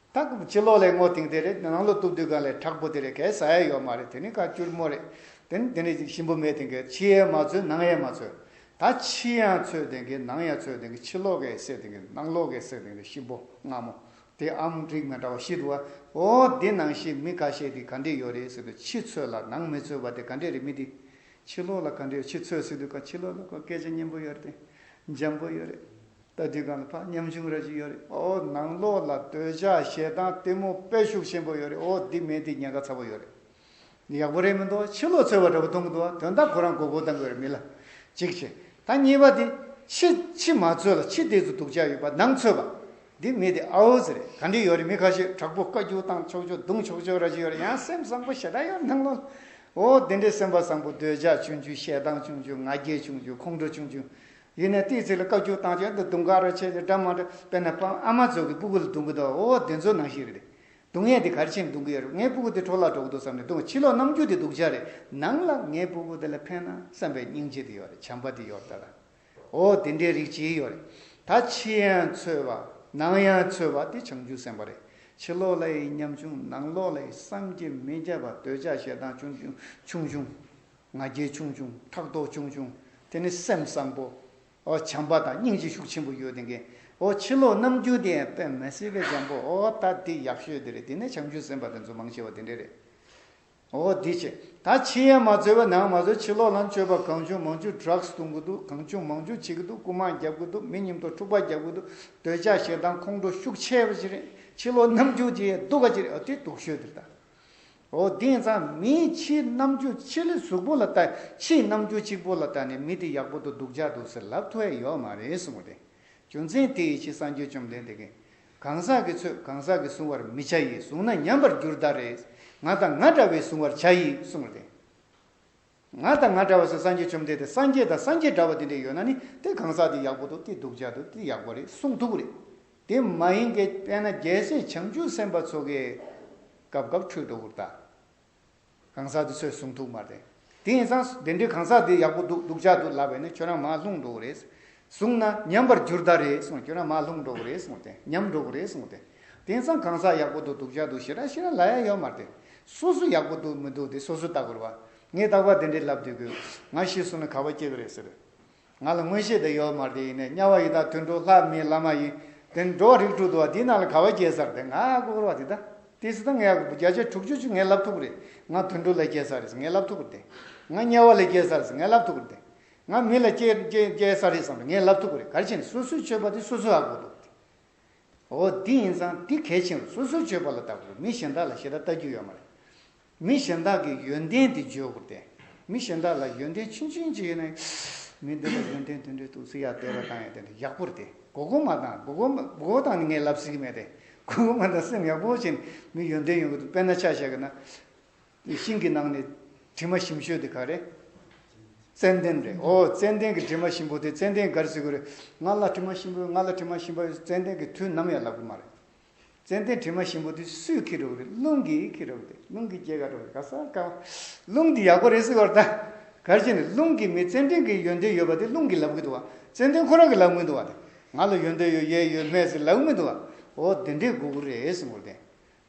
ད་གི་ཕྱི་ལོག་ལས་ངོ་ཐིང་དེ་རེད་ནང་ལོག་སྟུབ་དུས་གང་ལས་དྲག་པོ་དེ་རེད་གས་ས་ཡས་ཡོག་མ་རེད་དེ་ནི་ཁ་སྐྱུར་མོ་རེད་དེ་ནི་དེ་ནི་ཞིམ་པོ་མེད་དེ་གས་ཕྱི་ཡས་མ་ཚོད་ནང་ཡས་མ་ཚོད་ད་ཕྱི་ཡང་ཚོད་དེ་གས་ནང་ཡང་ཚོད་དེ་གས་ཕྱི་ལོག་གས་སེ་དེ་གས་ནང་ལོག་གས་སེ་དེ་ནི་ཞིམ་པོ་ང་མོ་དེ་ཨམ་རིག་མ་འདྲ་བ་ཤིད་དུ་བ་འོ་དེ་ནང་ཤེས་མི་ག་ཤེས་དེ་ག་འདྲེ་ཡོ་རེད་སེ་དུ་ཕྱི་ཚོད་ལ་ནང་མི་ཚོད་བ་དེ་ག་འདྲེ་རེད་མི་དེ་ཕྱི་ལོག་ལ་ག་འདྲེ་ཡོ་ཕྱི་ཚོད་སེ་དུ་ག་ཕྱི་ལོག་ལ་ག་སྐད་ཆ་སྙན་པོ་ཡོ་རེད་དེ་འཇམ་པོ་ཡོ་རེད། ལྟ་དུས་གང་ལ་ཕ་ཉམ་ཆུང་ར་ཅིག་ཡོད་རེད་ཨོ་ནང་ལོགས་ལ་སྡོད་ཆགས་ཞེ་སྡང་གཏི་མུག་དཔལ་ཤུགས་ཆེན་པོ་ཡོད་རེད་ཨོ་འདི་མེད་འདི་ཉེན་ཁ་ཚ་པོ་ཡོད་རེད་ཡག་པོ་རེད་མི་འདུག་ཕྱི་ལོགས་འཚོལ་བ་འདྲ་པོ་མཐོང་གི་འདུག་དོན་དག་ཁོ་རང་མགོ་སྐོར་བཏང་གི་ཡོད་རེད་མི་ལ་གཅིག་བྱས་ད་གཉིས་པ་དེ་ཕྱི་ཕྱི་མ་འཚོལ་ལ་ཕྱི་དེ་ཚོ་སྡུག་ཅག་ཡོད་པ་ནང་འཚོལ་བ་འདི་མེད་འདི་ཨའོ་ཟེར་རེད་ག་འདྲི་ཡོད་རེད་མི་ཁ་ཤས་དྲག་པོ་བཀའ་རྒྱུགས་བཏང་ཆོག་ཆོག་རྡུང་ཆོག་ཆོག་ར་ཅིག་ཡོད་རེད་ཡང་སེམས་བཟང་པོ་ཞེ་དྲག་ཡོད་རེད་ནང་ལོགས་ལ་ཨོ་འདི་འདྲའི་སེམས་པ་བཟང་པོ་སྡོད་ཆགས་ཆུང་ཆུང་ཞེ་སྡང་ཆུང་ཆུང་ང་རྒྱལ་ཆུང་ཆུང་ཁོང་ཁྲོ་ཆུང་ཆུང་ཡིན་ནས་དེའི་ཚིག་ལ་བཀའ་བརྒྱུད་དང་གཅིག་འདུ་དུང་དཀར་ར་ཆེ་ཆེ་སྒྲ་མང་དྲགས་དཔེར་ན་པང་ཨ་མ་ཚོ་གི་སྤུ་གུ་ལ་དུང་གི་འདུག་ཨོ་ཨོ་དེ་ཚོ་ནང་བཞིན་རེད། དུང་ངེད་དེ་གར་ཕྱིན་དུང་གི་ཡོད་རེད་ངའི་སྤུ་གུ་དེ་འཕྲོ་བརླག་འགྲོ་གི་འདུག་བསམ་ནས་དུང་ཕྱི་ལོག་ནམ་རྒྱུན་དེ་འདུག་འཆར་རེད་ནང་ལ་ངའི་སྤུ་གུ་དེ་ལ་ཕན་ན་བསམ་པའི་སྙིང་རྗེ་དེ་ཡོད་རེད་བྱམས་པ་དེ་ཡོད་ད་ལ་ཨོ་དེ་འདྲའི་རིགས་གཅིག་ཡོད་རེད་ད་ཕྱི་ཡང་འཚོལ་བ་ནང་ཡང་འཚོལ་བ་དེ་བྱང་ཆུབ་སེམས་པ་རེད་ཕྱི་ལོག་ལ་ཡི་ཉམ་ཆུང་ནང་ལོག་ལ་ཡི་བསམ་གྱིས་མི་ཁྱབ་པ་འདོད་ཆགས་ཞེ་སྡང་ཆུང་ཆུང་ཆུང་ཆུང། ང་རྒྱལ་ཆུང་ཆུང་ཕྲག་དོག་ཆུང་ཆུང་དེ་ནི་སེམས་བཟང་པོ། ཨོ་བྱམས་པ་དང་སྙིང་རྗེ་ཤུགས་ཆེན་པོ་ཡོད་དེ་འགན་ཨོ་ཕྱི་ལོག་རྣམ་འགྱུར་དེ་ཡང་དཔེ་མི་སྲིད་པའི་བྱམས་པོ་ཨོ་ད་འདི་ཡག་ཤོས་དེ་རེད་དེ་ནས་བྱམས་ཆུང་སེམས་པ་དེ་ཚོ་མང་ཆེ་བ་དེ་འདྲས་རེད་ཨོ་འདི་ཆེ་ད་ཕྱི་ཡན་མ་བཟོས་པ་ནང་མ་བཟོས་ཕྱི་ལོག་ལམ་སྤྱོད་པ་གང་བྱུང་མང་བྱུང Drugs བཏུང་གི་འདུག་གང་བྱུང་མང་བྱུང་བྱེད་ཀྱི་འདུག་རྐུ་མ་རྒྱབ་ཀྱི་འདུག་མི་ཉིམ་ཐོག་འཁྲུག་པ་རྒྱབ་ཀྱི་འདུག་འདོད་ཆགས་ཞེ་སྡང་ཁོང་ཁྲོ་ཤུགས་ཆེ་བ་ཅི་རེད་ཕྱི་ལོག་རྣམ་འགྱུར་དེ་ཡང་སྡུག་ག་ཅི་རེད་ཨོ་དེ་སྡུག་ཤོས་དེ་རེད་ད། ཨོ་དེང་སང་མིའི་ཕྱིའི་རྣམ་འགྱུར་ཕྱི་ལི་གཟུགས་པོ་ལ་ལྟ་ཕྱིའི་རྣམ་འགྱུར་གཅིག་པོ་ལ་ལྟ་ནས་མི་དེ་ཡག་པོ་འདུག་སྡུག་ཅག་འདུག་ཟེར་ལབ་ཐུ་ཨེ་ཡོད་མ་རེད་གསུང་བ་དེ་རྒྱུ་མཚན་དེ་ཡི་ཕྱི་གསང་རྒྱུད་བཅོམ་ལྡན་འདས་ཀྱིས་གང་ཟག་གི་ཚོས་གང་ཟག་གི་གཟུང་བར་མི་བྱ་ཡིས་བཟུང་ན་ཉམས་པར་འགྱུར་ད་རེས་ང་དང་ང་འདྲ་བས་གཟུང་བར་བྱ་ཡིས་གསུང་བ་དེ། ང་དང་ང་འདྲ་བ་སོགས་སངས་རྒྱས་བཅོམ་ལྡན་འདས་སངས་རྒྱས་དང་སངས་རྒྱས་འདྲ་བ་དེ་འདྲས་ཡོད་ན་ནི་དེ་གང་ཟག་དེ་ཡག་པོ་འདུག་དེ་སྡུག་ཅག་འདུག་དེ་ཡག་པོ་རེད་གསུངས་ཐུབ་རེད། དེ་མ་ཡིན་གྱི་དཔེར་ན་རྒྱལ་སྲས་བྱང་ཆུབ་སེམས་དཔའ་ཚོ་གི་སྐབས་སྐབས་འཕྲོས་གྲོགས་པོར་དང། གང་ཟག་དེ་ཚོས་གསུངས་ཐུབ་མ་རེད། དེ་ཡིན་ཙང་དེ་འདྲས་གང་ཟག་དེ་ཡག་པོ་འདུག་སྡུག་ཅག་འདུག་ལབ་པས་ནི་ཁྱོད་རང་མ་ལྷུང་འགྲོ་གི་རེད། བཟུང་ན་ཉམས་པར་འགྱུར་ད་རེད་གསུངས་གྱུར་ན་མ་ལྷུང་འགྲོ་གི་རེད་གསུངས་ཏེ་ཉམས་འགྲོ་གི་རེད་གསུངས་ཏེ། དེང་སང་གང་ཟག་ཡག་པོ་འདུག་སྡུག་ཅག་འདུག་ཞེ་དྲག་ཤི་ར་ལ་ཡ་ཡོད་མ་རེད། སོ་སོ་ཡག་པོ་འདུག་མི་འདུག་དེ་སོ་སོས་བརྟག་དགོས་རེད་བ། ངས་བརྟག་པ་དེ་འདྲའི་ལབ་དུས་གུས། ང་ཤི་གསུངས་ན་ག་བ་སྐྱེ་གི་རེད་ཟེར། ང་ལ་མངོན་ཤེས་དེ་ཡོད་མ་རེད་དེ་ཡིན་ནས་དམྱལ་བ་ཡི་དྭགས་དུད་འགྲོ་ལྷ་མིན་བླ་མ་ཡིན། དེ་འགྲོ་བ་རིགས་དྲུག་འདུག་བ་དེའི་ནང་ལ་ག་བ་སྐྱེ་ས་རེད་དེ་ང་ལྐུགས་ར་བ་དེ་ད། དེ་སྲིད་ད་ངས་ཡག་པོ་བརྒྱ་ཆ་དྲུག་ཅུ་ཅུ་ངས་ལབ་ཐུབ་གི་རེད། ང་དུད་འགྲོ་ལས་སྐྱེ་ས་རེད་ཟེར་ངས་ལབ་ཐུབ་གི་རེད་དེ། ང་དམྱལ་བ་ལས་སྐྱེ་ས་རེད་ཟེར་ངས་ལབ་ཐུབ་གི་རེད་དེ། ང་མི་ལ་སྐྱེལ་ས་རེད་བསམ་པ་ངས་ལབ་ཐུབ་ཀྱི་རེད་གལ་ཆེན་ནི་སོ་སོའི་སྤྱོད་པ་དེ་སོ་སོས་ཨ་དགོས་འདུག་ཨོ་འདི་ཡིན་ཙང་འདི་གལ་ཆེན་རུང་སོ་སོའི་སྤྱོད་པ་ལ་བལྟ་དགོས་མི་གཞན་དག་ལ་ཞེ་དྲག་བལྟ་རྒྱུ་ཡོད་མ་རེད་མི་གཞན་དག་གི་ཡོན་ཏན་དེ་བརྗོད་དགོས་ཏེ་མི་གཞན་དག་ལ་ཡོན་ཏན་ཆུང་ཆུང་ཅིག་ཡོད་ན་མི་འདི་ལ་ཡོན་ཏན་དེ་འདྲའི་ཐུགས་བརྩེ་ཡག་དད་པ་དང་ཡོན་ཏན་ཡག་པོ་རེད་དེ་གོ་གོ་མ་དང་གོ་གོ་གོ་གོ་དང་ནི་ངས་ལབ་ཟིན་གྱི་མེད་དེ་གོ་གོ་མ་དང་སེམས་ཡག་པོ་བྱས་ནས་མི་ཡོན་ཏན་ཡོང་གི་འདུག་དཔེར་ན་ཆ་བཞག་གི་ན། དེ་ཤིང་གི་ནང་ནས་དྲི་མ་ཞིམ་ཤོས་དེ་ག་རེད། ཙནྡན་རེད། ཨོ་ཙནྡན་གྱི་དྲི་མ་ཞིམ་པོ་དེ་ཙནྡན་གར་ཟེར་གི་རེད། ང་ལ་དྲི་མ་ཞིམ་པོ་ང་ལ་དྲི་མ་ཞིམ་པ་ཙནྡན་གྱི་དུས་ནམ་ཡང་ལབ་གི་མ་རེད། ཙནྡན་དྲི་མ་ཞིམ་པོ་དེ་སུས་ཁྱེར་རོགས་རེད་རླུང་གིས་ཁྱེར་རོགས་རེད་རླུང་གིས་ཁྱེར་ག་རོགས་རེད་ག་ས་ག། རླུང་འདི་ཡག་པོ་རེད་ཟེར་བར་ད་གར་བྱས་ནས་རླུང་གིས་མི་ཙནྡན་གྱི་ཡོན་ཏན་ཡོད་པ་དེ་རླུང་གིས་ལབ་གི་འདུག་བ་ཙནྡན་ཁོ་རང་གིས་ལབ་མི་འདུག་བ་དེ། ང་ལ་ཡོན་ཏན་ཡོད་གཡས་ཡོད་སྨད་ཟེར་ལབ་གི་མི་འདུག་བ། ཨོ་དེ་འདྲའི་དགོས་དགུ་རེད་ཟེར་མགོ་བརྟན།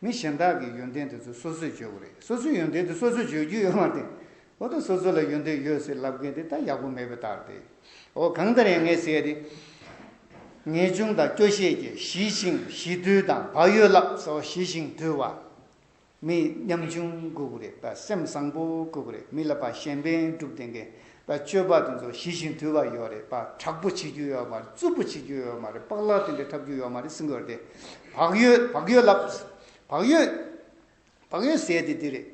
མི་གཞན་དག་གི་ཡོན་ཏན་དེ་ཚོ་སོ་སོས་བརྗོད་དགོས་རེད་སོ་སོའི་ཡོན་ཏན་དེ་སོ་སོས་བརྗོད་རྒྱུ་ཡོད་མ་རེད། འོ་ད་སོ་སོ་ལ་ཡོན་ཏན་ཡོད་ཟེར་ལབ་མཁན་དེ་ད་ཡག་པོ་མེད་པའི་རྟགས་རེད། འོ་གང་ལྟར་ཡང་ངས་བཤད་དེ། ངེས་འབྱུང་དང་སྐྱོ་ཤས་ཀྱི་ཞི་ཞིང་ཞི་དུལ་དང་བག་ཡོད་ལགས་སོ་ཞི་ཞིང་དུལ་བ། མི་ཉམ་ཆུང་དགོས་རེད་ད་སེམས་བཟང་པོ་དགོས་རེད་མི་ལ་བ་གཞན་ཕན་བསྒྲུབ་དེ་འགན་ད་སྤྱོད་པ་དེ་ཚོ་ཞི་ཞིང་དུལ་བ་ཡོད་རེད་པ་དྲག་པོ་བྱེད་རྒྱུ་ཡོད་མ་རེད་རྩུབ་པོ་བྱེད་རྒྱུ་ཡོད་མ་རེད་པགས་ལག་དེ་འདྲས་འཁྲབ་རྒྱུ་ཡོད་མ་རེད་སེམས་གོས་དེ་བག་ཡོད་བག་ཡོད་ལབ་བག་ཡོད་བག་ཡོད་ཟས་དེ་འདི་རེད་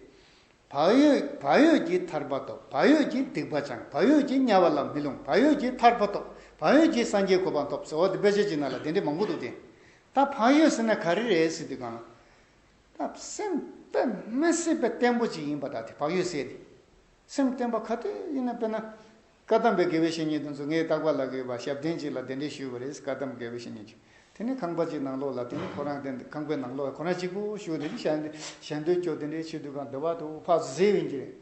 བག་ཡོད་བག་ཡོད་ཀྱི་ཐར་པ་ཐོབ་བག་ཡོད་ཀྱི་སྡིག་པ་སྦྱང་བག་ཡོད་ཀྱི་དམྱལ་བ་ལ་མི་ལྷུང་བག་ཡོད་ཀྱི་ཐར་པ་ཐོབ་བག་ཡོད་ཀྱི་སངས་རྒྱས་གོ་འཕང་ཐོབ་ཟེར་བ་དེ་དཔེ་ཆ་གཅིག་ན་ལ་དེ་འདྲས་མང་པོ་འདུག་དེ་ད་བག་ཡོད་ཟེར་ན་ག་རེ་རེད་ཟེར་དུས་གང་ལ། ད་སེམས་པད་མ་སྲིད་པ་བརྟན་པོ་ཅིག་ཡིན་པ་དག་དེ་བག་ཡོད་ཟས་དེ། སེམས་བརྟན་པ་ག་དུས་ཡིན་ན་དཔེར་ན། བཀའ་གདམས་པའི་དགེ་བའི་བཤེས་གཉེན་དེ་ཚོ་ངའི་བཏགས་པ་ལགས་ཀྱི་བ་ཞབས་བརྟན་ཅིག་ལ་གདན་འདྲེན་ཞུས་པ་རེད་བཀའ་གདམས་དགེ་བའི་བཤེས་གཉེན་གྱིས། དེ་ནས་ཁང་པ་གཅིག་ནང་ལོགས་ལ་དེ་ནས་ཁོ་རང་དེ་ཁང་པའི་ནང་ལོགས་ཁོ་རང་གཅིག་པུ་བཞུགས་དེ་ཞལ་འདེབས་ཞལ་འདོན་སྐྱོར་དེ་འདྲའི་ཕྱིར་དུས་གང་འདོད་པ་དུ་བྷ་བཟི་བྷིན་གྱི་རེད།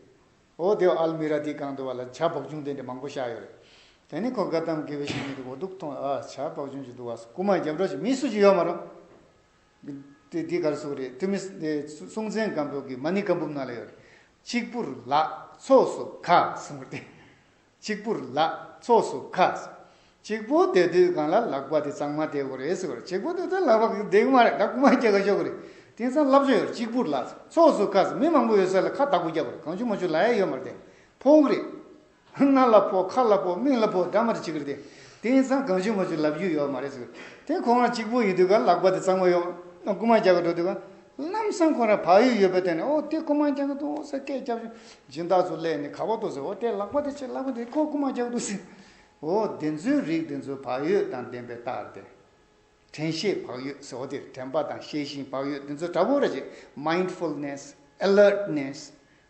འོ་དེའོ་ཨལ་མི་ར་དེའི་གང་འདོད་བ་ལ་བྱ་བག་ཅུང་དེ་འདྲའི་མང་པོ་བཞག་ཡོད་རེད། དེ་ནས་ཁོ་བཀའ་གདམས་དགེ་བའི་བཤེས་གཉེན་དེ་འོ་སྡུག་ཐོངས་ཨ་བྱ་བག་ཅུང་ཅིག་འདུག་བ་སོགས་རྐུ་མ་རྒྱབ་སྒྲོག་ཅིག་མི་སུ་ཅིག་ཡོད་མ་རུང། འདི་གར་སུ་རེད་ཐུ་མི་སྲོང་བཙན་སྒམ་པོ་གི་མ་ནི་ཀ་འབུབ་ནང་ལ་ཡོད་རེད། གཅིག་པུར་ལ་ཚོགས་སུ་ཁ་གསུམ་རེད། གཅིག་པུར་ལ་ཚོགས་སུ་ཁ་གསུམ། གཅིག་པུ་དེ་དུས་གང་ལ་ལག་པ་དེ་གཙང་མ་བསྡེག་གོ་རེད་ཟེར་བར་གཅིག་པུ་དེ་དུས་ལག་པ་བསྡེག་མ་རེད་ད་རྐུ་མ་སྐྱེ་ག་ཤོག་གི་རེད། དེང་སང་ལབ་ཆོད་ཡོད་རེད་གཅིག་པུར་ལ་ཚོགས་སུ་ཁ་གསུམ་མི་མང་པོ་ཡོད་ས་ལ་ཁ་བདག་པོ་རྒྱབ་པ་རེད་གང་བྱུང་མ་བྱུང་ལ་ཡ་ཡོད་མ་རེད་དེ་ཕོག་རེད། སྣ་ལ་ཕོག་ཁ་ལ་ཕོག་མིག་ལ་ཕོག་འདྲ་མ་རེ་བྱེད་ཀྱི་རེད། དེ་ཡིན་ཙང་གང་བྱུང་མ་བྱུང་ལབ་རྒྱུ་ཡོད་མ་རེད་ཟེར། དེ་ཁོ་རང་གཅིག་པུ་ཡོད་དུས་ཀ་ལག་པ་དེ་གཙང་མ་ཡོང་ན་རྐུ་མ་རྒྱག་གི་འགྲོ་དུས་ཀ་ལམ་སང་ཁོ་རང་བག་ཡོད་ཡོད་པའི་སྟེང་ནས་ཨོ་དེ་རྐུ་མ་རྒྱག་གི་འདུག་ཟེར་སྐད་བརྒྱབ་བྱུང། སྦྱིན་བདག་ཚོ་གླས་ནས་ག་བ་འདུག་ཟེར་ཨོ་དེ་ལག་པ་དེ་ཆེ་ལག་པ་དེ་ཁོ་རྐུ་མ་རྒྱག་གི་འདུག་ཟེར། འོ་དེ་ཚོའི་རིགས་དེ་ཚོ་བག་ཡོད་དང་ལྡན་པའི་རྟགས་རེད། དྲན་ཤེས་བག་ཡོད་ཟེར་བ་དེར་དྲན་པ་དང་ཤེས་བཞིན་བག་ཡོད་འདི་ཚོ་འདྲ་པོ་རེད་ཅེས Mindfulness། Alertness།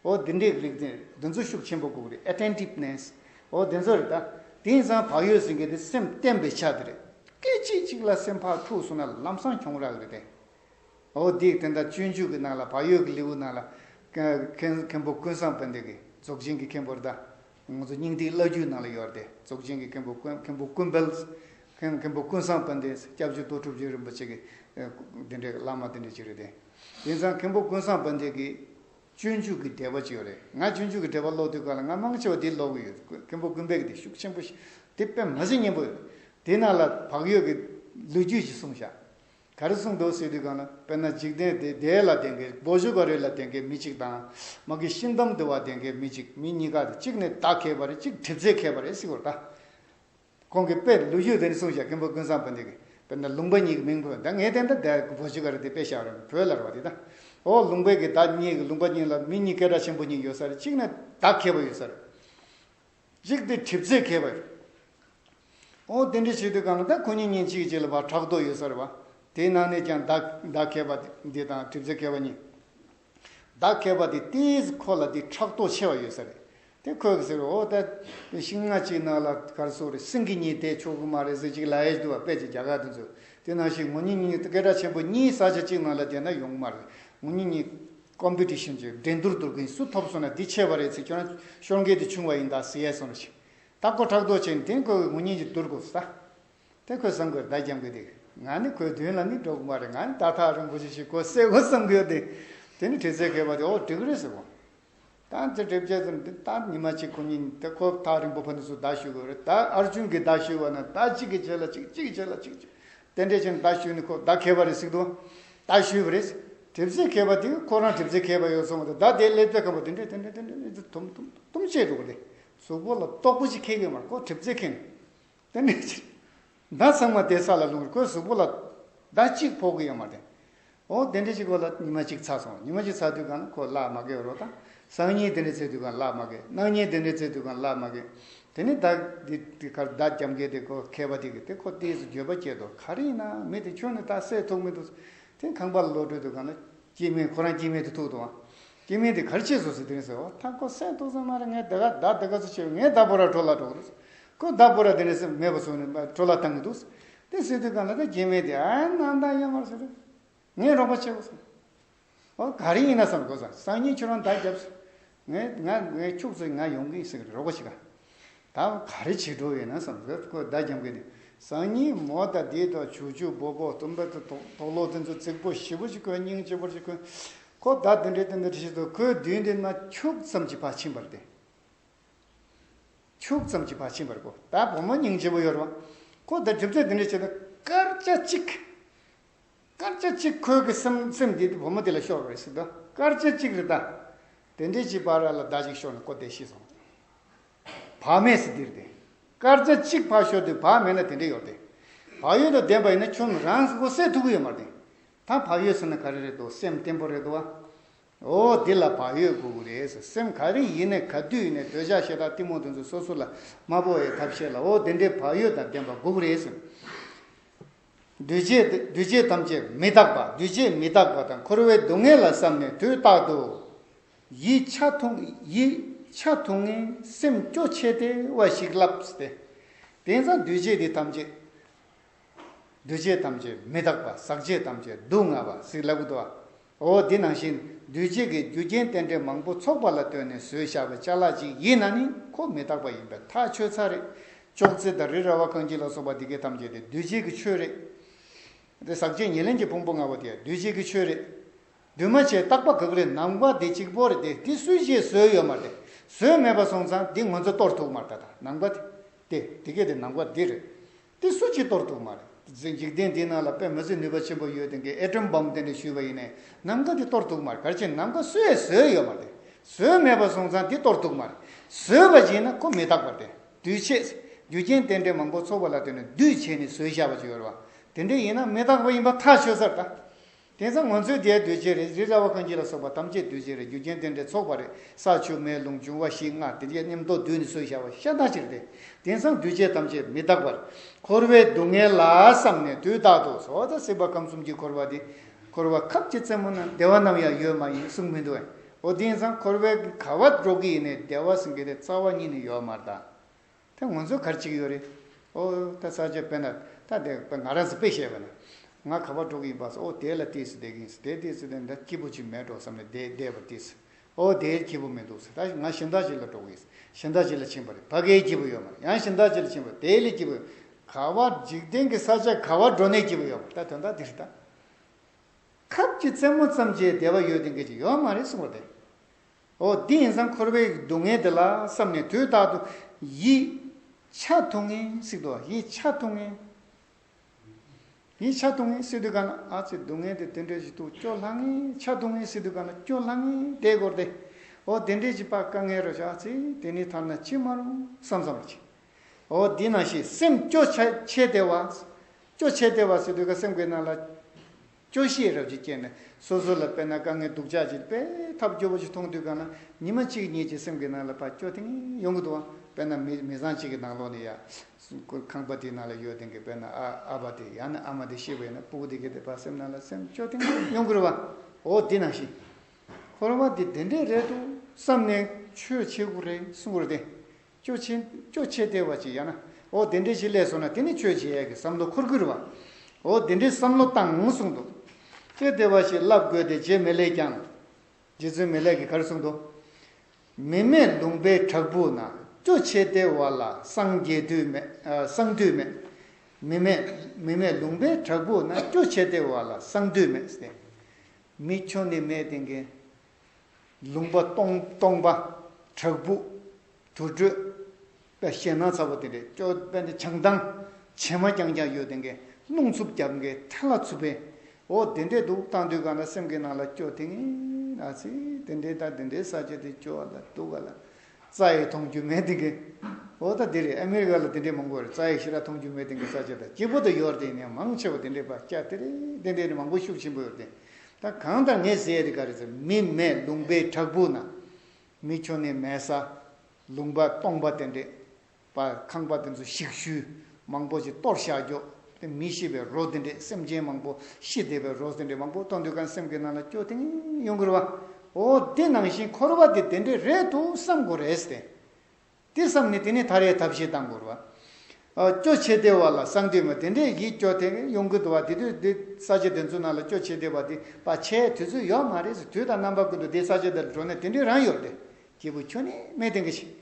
འོ་འདི་འདྲའི་རིགས་དེ་འདི་ཚོ་ཤུགས་ཆེན་པོ་དགོས་རེད Attentiveness། འོ་དེ་ཚོ་རེད་ད། དེ་ཡིན་ཙང་བག་ཡོད་ཟེར་མཁན་དེ་སེམས་བརྟན་པའི་ཆ་དེ་རེད། སྐད་ཅིག་གཅིག་ལ་སེམས་ཕག་འཁྲུགས་སོང་ན་ལམ་སང་གྱོང་རག་རེད་དེ། འོ་འདིས་དེ་འདྲ་སྤྱོད་འཇུག་གི་ནང་ལ་བག་ཡོད་ཀྱི་ལེའུ་ནང་ལ། མཁན་པོ་ཀུན་བཟང་དཔལ་ལྡན་གྱིས་རྫོགས་ཆེན་གྱི་མཁན་པོར་ད། ང་ཚོ་སྙིང་ཐིག་བླ་རྒྱུད་ནང་ལ་ཡོད་དེ་རྫོགས་ཆེན་གྱི་མཁན་པོ་མཁན་པོ་ཀུན་དཔལ། མཁན་པོ་ཀུན་བཟང་དཔལ་ལྡན་སྐྱབས་རྗེ་ཏོ་གྲུབ་རྗེ་རིན་པོ་ཆེ་གི་དེ་འདྲའི་བླ་མ་དེ་འདྲ་གཅིག་རེད་དེ། དེང་སང་མཁན་པོ་ཀུན་བཟང་དཔལ་ལྡན་གྱི་སྤྱོད་འཇུག་གི་འགྲེལ་པ་ཅིག་ཡོད་རེད་ང་སྤྱོད་འཇུག་གི་འགྲེལ་པ་ཀློག་དུས་ག་ལ་ང་མང་ཆེ་བ་དེ་ཀློག་གི་ཡོད་མཁན་པོ་ཀུན་དཔལ་གྱི་དེ་ཤུགས་ཆེན་པོ་ཞིག་དེ་དཔེ་མ་ཟད་སྙན་པོ་ཡོད་དེ་ནང་ལ་བག་ཡོད་ཀྱི་ལོ་རྒྱུས་ཅིག་གསུངས་བཞག་ག་རེ་གསུངས་འདུག་ཟེར་དུས་གང་ལ་དཔེར་ན་འཇིག་རྟེན་འདི་དེ་ལ་བདེན་གི་སྒོ་བཞི་བ་རེ་ལ་བདེན་གི་མི་གཅིག་དང། མ་གི་ཤིང་གཏམ་འདི་བ་བདེན་གི་མི་གཅིག་མི་གཉིས་ཀ་དེ་གཅིག་ནི་བདག་མཁས་པ་རེ་གཅིག་གྲིབ་རྩེ་མཁས་པ་རེ་གཅིག་བ་ད། གོང་གི་དཔེ་ལུགས་ཡུལ་དེ་ནས་གསུངས་བྱ་མཁན་པོ་ཀུན་བཟང་པོ་འདི་གི་དཔེར་ན་ལུང་པ་གཉིས་ཀྱི་མིང་བོས་ད་ངས་དེ་འདྲ་དེ་སྒོ་བཞི་བ་རེ་དེ་དཔེ་བཞག་རེ་བོས་ལར་བ་དེ་ད། འོ་ལུང་པའི་གི་ད་གཉིས་གི་ལུང་པ་གཉིས་ལ་མི་གཉིས་སྐད་སྒྲ་ཆེན་པོ་གཉིས་ཡོད་ས་རེ་གཅིག་ནི་བདག་མཁས་པ་ཡོད་ས་རེ། གཅིག་དེ་གྲིབ་རྩེ་མཁས་པ་རེད། ཨོ་དེ་འདྲའི་ཆེད་དུ་གང་ལྟར་ཁོ་གཉིས་ཉིན་གཅིག་གཅིག་ལ་བར་ཕྲག་དོག་ཡོད་ས་རེད་བ། དེའི་ནང་ནས་ཀྱང་བདག་མཁས་པ་འདི་དང་གྲིབ་རྩེ་མཁས་པ་གཉིས། བདག་མཁས་པ་དེ་ལྟིས་ཁོ་ལ་དེ་ཕྲག་དོག་ཆེ་བ་ཡོད་ས་རེད། དེ་ཁོས་ཟེར་བ་ཨོ་ད་ཤིང་སྣ་གཅིག་ནགས་ལ་གར་སོ་རེད་སེང་གེ་གཉིས་བསྡད་ཆོག་གི་མ་རེད་ཟེར་གཅིག་ལ་ཨེ་ཟླུ་བ་དཔལ་གྱི་རྒྱ་གར་དུ་འཛུལ་དེ་ནང་བཞིན་ངོ་གཉིས་གཉིས་སྐད་གྲགས་ཆེན་པོ་གཉིས་ས་ཆ་གཅིག་ནང་ལ་བསྡད་ན་ཡོང་གི་མ་རེད་ངོ་གཉིས་གཉིས། ཀོམ་པི་ཏི་ཤིན་གྱི་འགྲན་བསྡུར་དུ་གིན་སུ་ཐོབ་སོང་ན་དེ་ཆད་པ་རེད་ཚེ་ཁྱོད་རང་ཤོར་འགལ་དུ་བྱུང་བ་ཡིན་ད་ཟེར་ཡས་སོང་རེ་ཞིག་ད་ཁོ་ཕྲག་དོག་བྱས་ནས་དེང་ཁོ་གི་ངུ་སྙིང་གི་དུར་གོ་ས་དེ་ཁོས་བསམ་དགོས་ཟླ་རྒྱམ་གི་དེ་ང་ནི་ཁོའི་མདུན་ལ་ནི་འགྲོ་གི་མ་རེད་ང་ནི་ད་ཐག་རིན་པོ་ཆེ་ཞིག་གོ་སའི་གོ་བསམ་གི་ཡོད་དེ་དེ་ནི་བྲེལ་ཟས་གས་པ་དེ་འོ་འགྲིག་རེད་ཟེར་གོ། དང་བཅས་སྒྲིབ་བྱེད་ཙམ་དེ་ལྟར་ཉི་མ་གཅིག་གོ་ཉིན་དེ་ཁོ་ཐག་རིང་པོ་ཕ་ནི་སུ་བདག་ཞུས་དགོས་རེད་ད་ཨར་ཅུན་གྱིས་བདག་ཞུས་བ་ན་ད་གཅིག་གིས་བྱས་ལ་གཅིག་གཅིག་གིས་བྱས་ལ་གཅིག་གཅིག་དེ་འདྲའི་ཕྱིར་བདག་ཞུས་ནི་ཁོ་བདག་མཁས་པ་རེད་ཟིག་དུ་བདག་ཞུས་པ་རེད་གྲིབ་བརྩེགས་མཁས་པ་དེ་ཁོ་རང་གྲིབ་བརྩེགས་མཁས་པ་ཡོད་སོང་བ་དེ་བདག་དེའི་སླེབས་ཚད་ཁམས་པ་དེ་འདྲས་དེ་འདྲས་དེ་འདྲས་དེ་འདྲས་དུམ་དུམ་དུམ་བྱས་འགྲོ་གི་རེད་གཟུགས་པོ་ལ་རྟོག་པོ་ཅིག་མཁས་ཀྱི་མ་རེད་ཁོ་གྲིབ་བརྩེགས་མཁས་ནས། དེ་ནས་ཅི། མདའ་ཚང་མ་དེའི་ས་ལ་ལྷུང་བར་ཁོའི་གཟུགས་པོ་ལ། མདའ་གཅིག་ཕོག་གི་ཡོད་མ་རེད། འོ་དེ་འདྲའི་ཅིག་ཁོ་ལ་ཉི་མ་གཅིག་ཚ་སོང་ཉི་མ་གཅིག་ཚ་དུས་གང་ན་ཁོ་གླགས་མ་བགད་རོགས་དང། སང་ཉིན་དེ་འདྲའི་ཚེ་དུས་གང་གླགས་མ་བགད་གནངས་ཉིན་དེ་འདྲའི་ཚེ་དུས་གང་གླགས་མ་བགད། དེ་ནས་བདག་གི་དེ་ཁར་བདག་རྒྱབ་འགེལ་ཏེ་ཁོ་ཁད་པ་དེ་གི་དེ་ཁོ་ལྟས་སུ་འགྱོད་པ་སྐྱེས་དོ་ག་རེ་ཡིན་ན་མི་དེ་ཁྱོད་ནི་ད་སད་ཐུག་མི་འདུག་ཟེར། དེ་ཁང་པ་ལ་ལོག་འགྲོའི་དུས་གང་ན། སྐྱེས་སྨན་ཁོ་རང་སྐྱེས་སྨན་དུ་ཐུག་འདུག་ཨང། སྐྱེས་སྨན་དེ་གར་སྐྱེས་སོང་ཟེར་དེ་ནས་ཟེར་འོ་ད་ཁོ་སད་འདུག་ཟེར་མ་རེད་ངས་བདག་ག་ད་ད་ག་ཚོད་བྱས་པས་ངས་ད་བོད་ར་གྲོ་ལ་འགྲོ་གི་རེད། ཁོས་བདག་པོ་ར་དེ་ནས་མེད་པ་བཟུང་ནས་བྲོ་ལ་བཏང་གི་འདུག། དེ་སྲིད་དུས་གང་ལ་ད་གྱེས་མེད་དེ་ཨ་ཡེ་གནང་དང་ཡོད་མ་རེད། ངས་རོགས་པ་བྱེད་དགོས་བསམ། ཨོ་ག་རེ་ཡིན་ན་བསམ་དགོས་བསམ་སང་ཉིན་ཁྱོད་རང་ད་རྒྱབ། ངས་ང་ངའི་ཕྱུགས་ཚོ་ང་ཡོང་གི་ཟེར་རོགས་པ་བྱེད། ད་ག་རེ་བྱེད་འགྲོ་ཡོད་ན་བསམ་ཁོས་ཁོས་བདག་འཇམ་གི་ནས་སང་ཉིན་མོ་ད་དེའི་ཐོག་བྱུག་བྱུག་སྦོ་སྦོ་སྟོན་པ་དེ་དོག་དོག་ལོག་དེ་ཚོ་རྩིག་པོ་ཞི་བོ་ཅིག་ཁོས་སྙིང་ལྕི་བོར་ཅིག་ཁོས། ཁོ་བདག་དེ་འདྲའི་དེ་འདྲའི་བྱེད་དོ་ཁོའི་མདུན་དེ་ན་ཕྱུགས་ཙམ་གྱི་བག་ཕྱིན་པར་བསྟན། ཁྱུག་ཙམ་གྱིས་བག་ཕྱིན་པར་གོ། ད་བུ་མོ་སྙིང་རྗེ་བོ་ཡོད་རེད་བ། ཁོ་དེར་སྒྲིབ་རྩད་འདི་འདྲས་བྱས་ཏེ་སྐར་ཆ་གཅིག། སྐར་ཆ་གཅིག་ཁོའི་གི་སེམས་སེམས་བསྡད་དེ་བུ་མོ་དེ་ལ་ཤོར་བ་རེད་ཟེར་དུ་སྐར་ཆ་གཅིག་རེད་ད། དེ་འདྲས་ཀྱིས་བག་ར་ལ་ཟླ་གཅིག་ཤོར་ནས་ཁོ་དེ་ཤི་སོང། བག་མེད་སྲིད་དེར་བསྡད། སྐར་ཆ་གཅིག་བག་ཤོར་དུས་བག་མེད་ན་དེ་འདྲས་ཡོད་རེད། བག་ཡོད་དུ་བསྡད་པ་ཡིན་ན་ཁྱོད་རང་སྒོ་ཟས་ཐུག་གི་ཡོད་མ་རེད། ད་བག་ཡོད་ཟེར་ན་ག་རེ་རེད་དོ་སེམས་བརྟན་པོ་རེད་དོ་བ། འོ་འདི་ལ་བག་ཡོད་དགོས་གི་རེད་ཟེར་སེམས་ག་རེ་ཡིན་ནས་ག་དུས་ཡིན་ནས་འདོད་ཆགས་ཞེ་དྲག་གཏི་མུག་འདི་ཚོ་སོ་སོ་ལ་མ་བོ་ཡའི་ཐབས་ཤེས་ལ་འོ་འདི་འདྲའི་བག་ཡོད་དང་ལྡན་པ་དགོས་གི་རེད་ཟེར། འདུས་བྱས་དེ་འདུས་བྱས་ཐམས་ཅད་མི་རྟག་པ་འདུས་བྱས་མི་རྟག་པ་དང་འཁོར་བའི་སྡུག་བསྔལ་ལ་བསམ་ནས་དུས་རྟག་ཏུ། ཡིད་ཆ་ཐུང་ཡིད་ཆ་ཐུང་ངེ་སེམས་སྐྱོ་ཆེ་དེ་བ་ཞིག་བསླབས་ཏེ། དེང་སང་འདུས་བྱས་འདི་ཐམས་ཅད། འདུ་བྱེད་ཐམས་ཅད་མི་རྟག་པ་ཟག་བྱེད་ཐམས་ཅད་སྡུག་བསྔལ་བ་སིག་ལ་བུདྡྷ། འོ་དེ་ནང་བཞིན་འདུས་བྱས་ཀྱི་རྒྱུ་རྐྱེན་རྟེན་འབྲེལ་མང་པོ་ཚོགས་པ་ལ་ལྟོས་ནས་བཟོས་བྱ་བའི་ཆ་ལག་ཅིག་ཡིན་ན་ནི་ཁོ་མི་རྟག་པ་ཡིན་པས་ཐག་ཆོད་ཚར་རེད། ཅོག་ཙེ་དང་རི་ར་བ་རྐང་གཅིག་ལ་སོགས་པ་འདི་གའི་ཐམས་ཅད་དེ་འདུས་བྱས་ཀྱི་ཆོས་རེད། དེ་ཟག་བྱེད་ཉེར་ལེན་གྱི་ཕུང་པོ་ལྔ་པོ་དེ་ཡང་འདུས་བྱས་ཀྱི་ཆོས་རེད། འདུས་མ་བྱས་རྟག་པ་གག་རེད་ནམ་མཁའ་དེ་གཅིག་པོ་རེད་དེ་དེ་སུས་བྱས་བཟོས་ཡོད་མ་རེད། བཟོས་མེད་པ་སོང་ཙང་དེ་ངོ་ཚ་གཏོར་ཐུག་མ་རེད་ད་ནམ་མཁའ་དེ་དེ་དེ་གས་དེ་ནམ་མཁའ་འདི་རེད། དེ་སུ་གཅིག་གཏོར་ཐུག་མ་རེད། འཛིན་འཇིག་རྟེན་འདི་ནང་ལ་དཔེ་མི་བཟོད་ནུས་པ་ཆེན་པོ་ཡོད་དེ་གའི་ཨེ་ཀྲོམ་སྦོམ་དེ་ནས་བཞུས་པ་ཡིན་ནའི་ནམ་མཁའ་འདི་གཏོར་ཐུག་མ་རེད་གལ་ཆེ་ནམ་མཁའ་སུའེ་བཟོས་ཡོད་མ་རེད་བཟོས་མེད་པ་སོང་ཙང་འདི་གཏོར་ཐུག་མ་རེད་བཟོས་པ་བྱས་ན་ཁོ་མི་རྟག་པ་དེ་དུས་ཆེས་རྒྱུ་རྐྱེན་རྟེན་འབྲེལ་མང་པོ་ཚོགས་པ་ལ་ལྟོས་ནས་བསྡུས་བྱས་ནས་བཟོས་བཞག་པ་ཅིག་ཡོད་རེད་བ་དེ་འདྲའི་ཡིན་ན་མི་རྟག་པ་ཡིན་པ་ཐག་ཆོད་ཚར་ད། དེང་སང་ང་ཚོའི་རྒྱའི་རྡོས་བཅས་རེད་རི་ར་བ་གངས་སྐྱིད་ལ་སོགས་པ་ཐམས་ཅད་རྡོས་བཅས་རེད་རྒྱུ་རྐྱེན་དེ་འདྲས་ཚོགས་པ་རེད་ས་ཆུ་མེ་རླུང་འབྱུང་བ་ཞིག་སྔགས་དེ་འདྲས་ཉམས་རྟོགས་བསྡུས་ནས་སྲོལ་བཞག་པ་ཤ་སྟག་ཅིག་རེད་དེང་སང་རྡོས་བཅས་ཐམས་ཅད་མི་རྟག་པར་འཁོར་བའི་སྡུག་བསྔལ་ལ་བསམ་ནས་དུས་རྟག་ཏུ་ཟོ་དང་སྲིད་པ་ཁམས་གསུམ་གྱི་འཁོར་བ་འདི་འཁོར་བ་ཁབ་ཀྱི་རྩེ་མོ་ན་བདེ་བ་ནམ་ཡང་ཡོད་མ་ཡིན་གསུངས་མི་འདུག་ཨོ་དེང་སང་འཁོར་བའི་ག་བ་སྒྲོག་གི་ཡིན་ནས་བདེ་བ་ཟེར་མཁན་དེ་རྩ་བ་ཉིད་ནས་ཡོད་མ་རེད་ད། ད་ང་ཚོ་གར་གཅིག་ཡོད་རེད། ཨོ། ད་ས་ཆ་དཔེ་ན་ད་དེ་ང་རང་ཚོ་དཔེ་བཤད་པ་ན། ང་ག་པར་འགྲོ་གི་ཡིན་པ་སོགས་ཨོ་དེ་ལ་ལྟོས་སུ་བསྡད་ཀྱི་ཡིན་སོ་དེ་ལྟོས་སུ་བསྡད་ན་ད་སྐྱིད་པོ་ཅིག་མེད་འགྲོ་བསམ་ནས་དེ་བསྡད་པ་དུས་སུ། ཨོ་དེ་སྐྱིད་པོ་མི་འདུག་ཟེར་ད་ང་ཞིང་བདག་ཅིག་ལ་འགྲོ་གི་ཡིན་ཞིང་བདག་ཅིག་ལ་ཕྱིན་པ་རེད་ཕ་གའི་སྐྱིད་པོ་ཡོད་མ་རེད་ཡང་ཞིང་བདག་ཅིག་ལ་ཕྱིན་པ་རེད་དེ་ལས་སྐྱིད་པོ་ཡོད་ག་བ་འཇིག་རྟེན་གྱི་ས་ཆ་ག་བར་འགྲོ་ནས་སྐྱིད་པོ་ཡོད་མ་རེད་ད་དོན་དག་དེ་རེད་ད། ཁབ་ཀྱི་རྩེ་མོ་ཙམ་གྱི་བདེ་བ་ཡོད་དེ་འགལ་གྱི་ཡོད་མ་རེད་གསུངས་པ་དེ། ཨོ་དེ་ཡིན་ཙང་འཁོར་བའི་སྡུག་བསྔལ་འདི་ལ་བསམ་ནས་དུས་རྟག་ཏུ་ཡིད་ཆ་ཐུང་ངེ་བསྲེགས་དུ་བ་ཡིད་ཆ་ཐུང་ངེ། ཡིད་ཆ་ཐུང་ངེ་བསྲེགས་དུས་གང་ན་ཨ་ཙི་སྡུག་བསྔལ་འདི་དེ་འདྲའི་ཞིག་ཏུ་སྐྱོ་ལྷང་ངེ་ཆ་ཐུང་ངེ་བསྲེགས་དུས་གང་ན་སྐྱོ་ལྷང་ངེ་དེའི་སྐོར་ཏེ། ཨོ་དེ་འདྲའི་ཞིག་པ་དཀའ་ངལ་རོ་ཞིག་ཨ་ཙི་དེ་ནི་ཐ་ན་ཅི་མ་རུང་བསམ་བསམ་རེ་བྱེད། ཨོ་དེ་ན་ཞིག་སེམས་སྐྱོ་ཆེ་དེ་བ། སྐྱོ་ཆེ་དེ་བ་བསྲེགས་དུས་ཀ་སེམས་དགོས་ན་ལ། སྐྱོ་ཤས་རབ་ཀྱིས་སྐྱེས་ནས་སོ་སོ་ལ་དཔེར་ན་དཀའ་ངལ་སྡུག་ཅག་ཅིག་དཔེ་ཐབས་སྐྱོ་པོ་ཞིག་མཐོང་དུས་གང་ན་ཉི་མ་གཅིག་གཉིས་ཀྱིས་སེམས་ཀྱི་ནང་ལ་ཕ་སྐྱོ་ཐེངས་ཡོང་གི་འདུག་ཨང་དཔེར་ན་མི་མི་བཟང་ཅིག་གི་ནང་ལོགས་ནས་ཡ། ཁང་པ་དེའི་ནང་ལ་ཡོད་དེང་གི་དཔེར་ན་ཨ་ཨ་ཕ་དེ་ཡང་ན་ཨ་མ་དེ་ཤི་བས་ན་སྤུ་གུ་དེ་གས་ཏེ་ཕ་སེམས་ནང་ལ་སེམས་སྐྱོ་ཐེངས་ཡོང་གི་རེད་བ། འོ་འདི་ནང་བཞིན། ཁོ་རང་བ་འདི་དེ་འདྲས་རེད་འདུག་བསམ་ནས་ཆོས་བྱེད་དགོས་རེད་གསུངས་པར་བརྟེན། སྐྱོ་ཆེན་སྐྱོ་ཆེ་སྟེར་བ་ཅིག་ཡང་ན། འོ་དེ་འདྲའི་ཞིག་ལས་སོང་ན་དེ་ནི་ཆོས་བྱེད་ཡས་ཀྱི་བསམ་བློ་འཁོར་ཁུར་བ། འོ་དེ་འདྲའི་བསམ་བློ་བཏང་ངོ་གསུངས་འདུག། སྐྱོ་སྟེར་བ་ཞིག་བསླབ་དགོས་ཏེ་རྗེ་མི་ལས་ཀྱང། རྗེ་བཙུན་མི་ལས་ཀྱི་གར་གསུངས་འདུག། མི་མེད་ལུང་པའི་བྲག་ཕུག་ན་སྐྱོ་ཆེ་སྟེར་བ་ལ་སངས་རྒྱས་དུས་མེད་སངས་དུས་མེད། མི་མེད་མི་མེད་ལུང་པའི་བྲག་ཕུག་ན་སྐྱོ་ཆེ་སྟེར་བ་ལ་སངས་དུས་མེད། མི་ཁྱོད་ནི་མེད་དེ་འགན། ལུང་པ། སྟོང་པ། བྲག་ཕུག། དུར་ཁྲོད། པད་ཤེལ་ནག་ཚ་བོ་དེ་འདྲའི་ཅོ་པན་དེ་བྱང་ཐང། བྱེ་མ་རྐྱང་རྐྱང་གཡོ་དེ་འགའི་རླུང་འཚུབ་རྒྱབ་འགའི་ཐལ་ལ་འཚུབ་པའི། འོ་དེ་འདྲའི་འདུག་སྟངས་དུས་གང་ལ་སེམས་ཀྱི་ནང་ལ་སྐྱོ་དེ་ངས་ཨ་ཙི་དེ་འདྲའི་ད་དེ་འདྲའི་ས་ཆ་དེ་སྐྱོ་བ་ལ་སྡུག་ག་ལ། རྩ་ཡིག་མཐོང་རྒྱུ་མེད་དེ་འགའི། འོ་ད་དེ་རེད་ཨ་མེ་རི་ཀ་ལ་དེ་འདྲའི་མང་པོ་རེད་རྩ་ཡིག་ཤི་ར་མཐོང་རྒྱུ་མེད་དེ་འགའི་ས་ཆ་དང་སྐྱིད་པོ་དུ་ཡོད་རེད་དེ་ཡིན་ཡང་མང་ཆེ་བ་དེ་འདྲའི་བ་སྐྱ་དེ་རེད་དེ་འདྲའི་རེད་མང་པོ་ཤུགས་ཆེན་པོ་ཡོད་རེད་དེ་ད་གང་དང་ངས་ཟེར་ཡས་ག་རེ་ཟེར་མི་མེད་ལུང་པའི་བྲག་ཕུག་ན། མི་ཁྱོད་ནི་མལ་ས། ལུང་པ་སྟོང་པ་དེ་འདྲས་པ་ཁང་པ་དེ་ཚོ་ཞིག་ཤུལ་མང་པོ་ཞིག་གཏོར་བཤགས་རྒྱོབས་དེ་མི་ཤི་བའི་རོ་དེ་འདྲས་སེམས་ཅན་མང་པོ་ཤི་བསྡད་པའི་རོ་དེ་འདྲས་མང་པོ་གཏོར་འདོད་གང་སེམས་ཀྱི་ནང་ལ་སྐྱོ་ཐེངས་ཡོང་དགོས་རེད་བ། འོ་དེ་ནང་བཞིན་འཁོར་བ་དེ་དེ་འདྲས་རེད་དུ་བསམ་དགོས་རེད་ཟེར། དེ་བསམས་ནས་དེ་ནས་ཐར་ཡས་ཐབས་ཤེས་དང་པོར་བ། སྐྱོ་ཆེ་བདེ་བ་ལ་སངས་དུས་མ་དེ་འདྲའི་ཡིད་སྐྱོ་དེ་གཡོ་འགུལ་དུ་བ་དེ་དུས་འདི་ས་ཆ་དེ་ཚོ་ན་ལ་སྐྱོ་ཆེ་བདེ་བ་དེ་བ་ཆེ་དུས་ཚོད་ཡོག་མ་རེད་ཟེར་དུས་དང་རྣམ་པ་ཀུན་ཏུ་དེ་ས་ཆ་དེ་ལ་འགྲོ་ནས་དེ་འདྲའི་རང་ཡོད་དེ་སྐྱེས་བུ་ཁྱོད་ནི་སྨྲས་དེ་འགའ་ཞིག།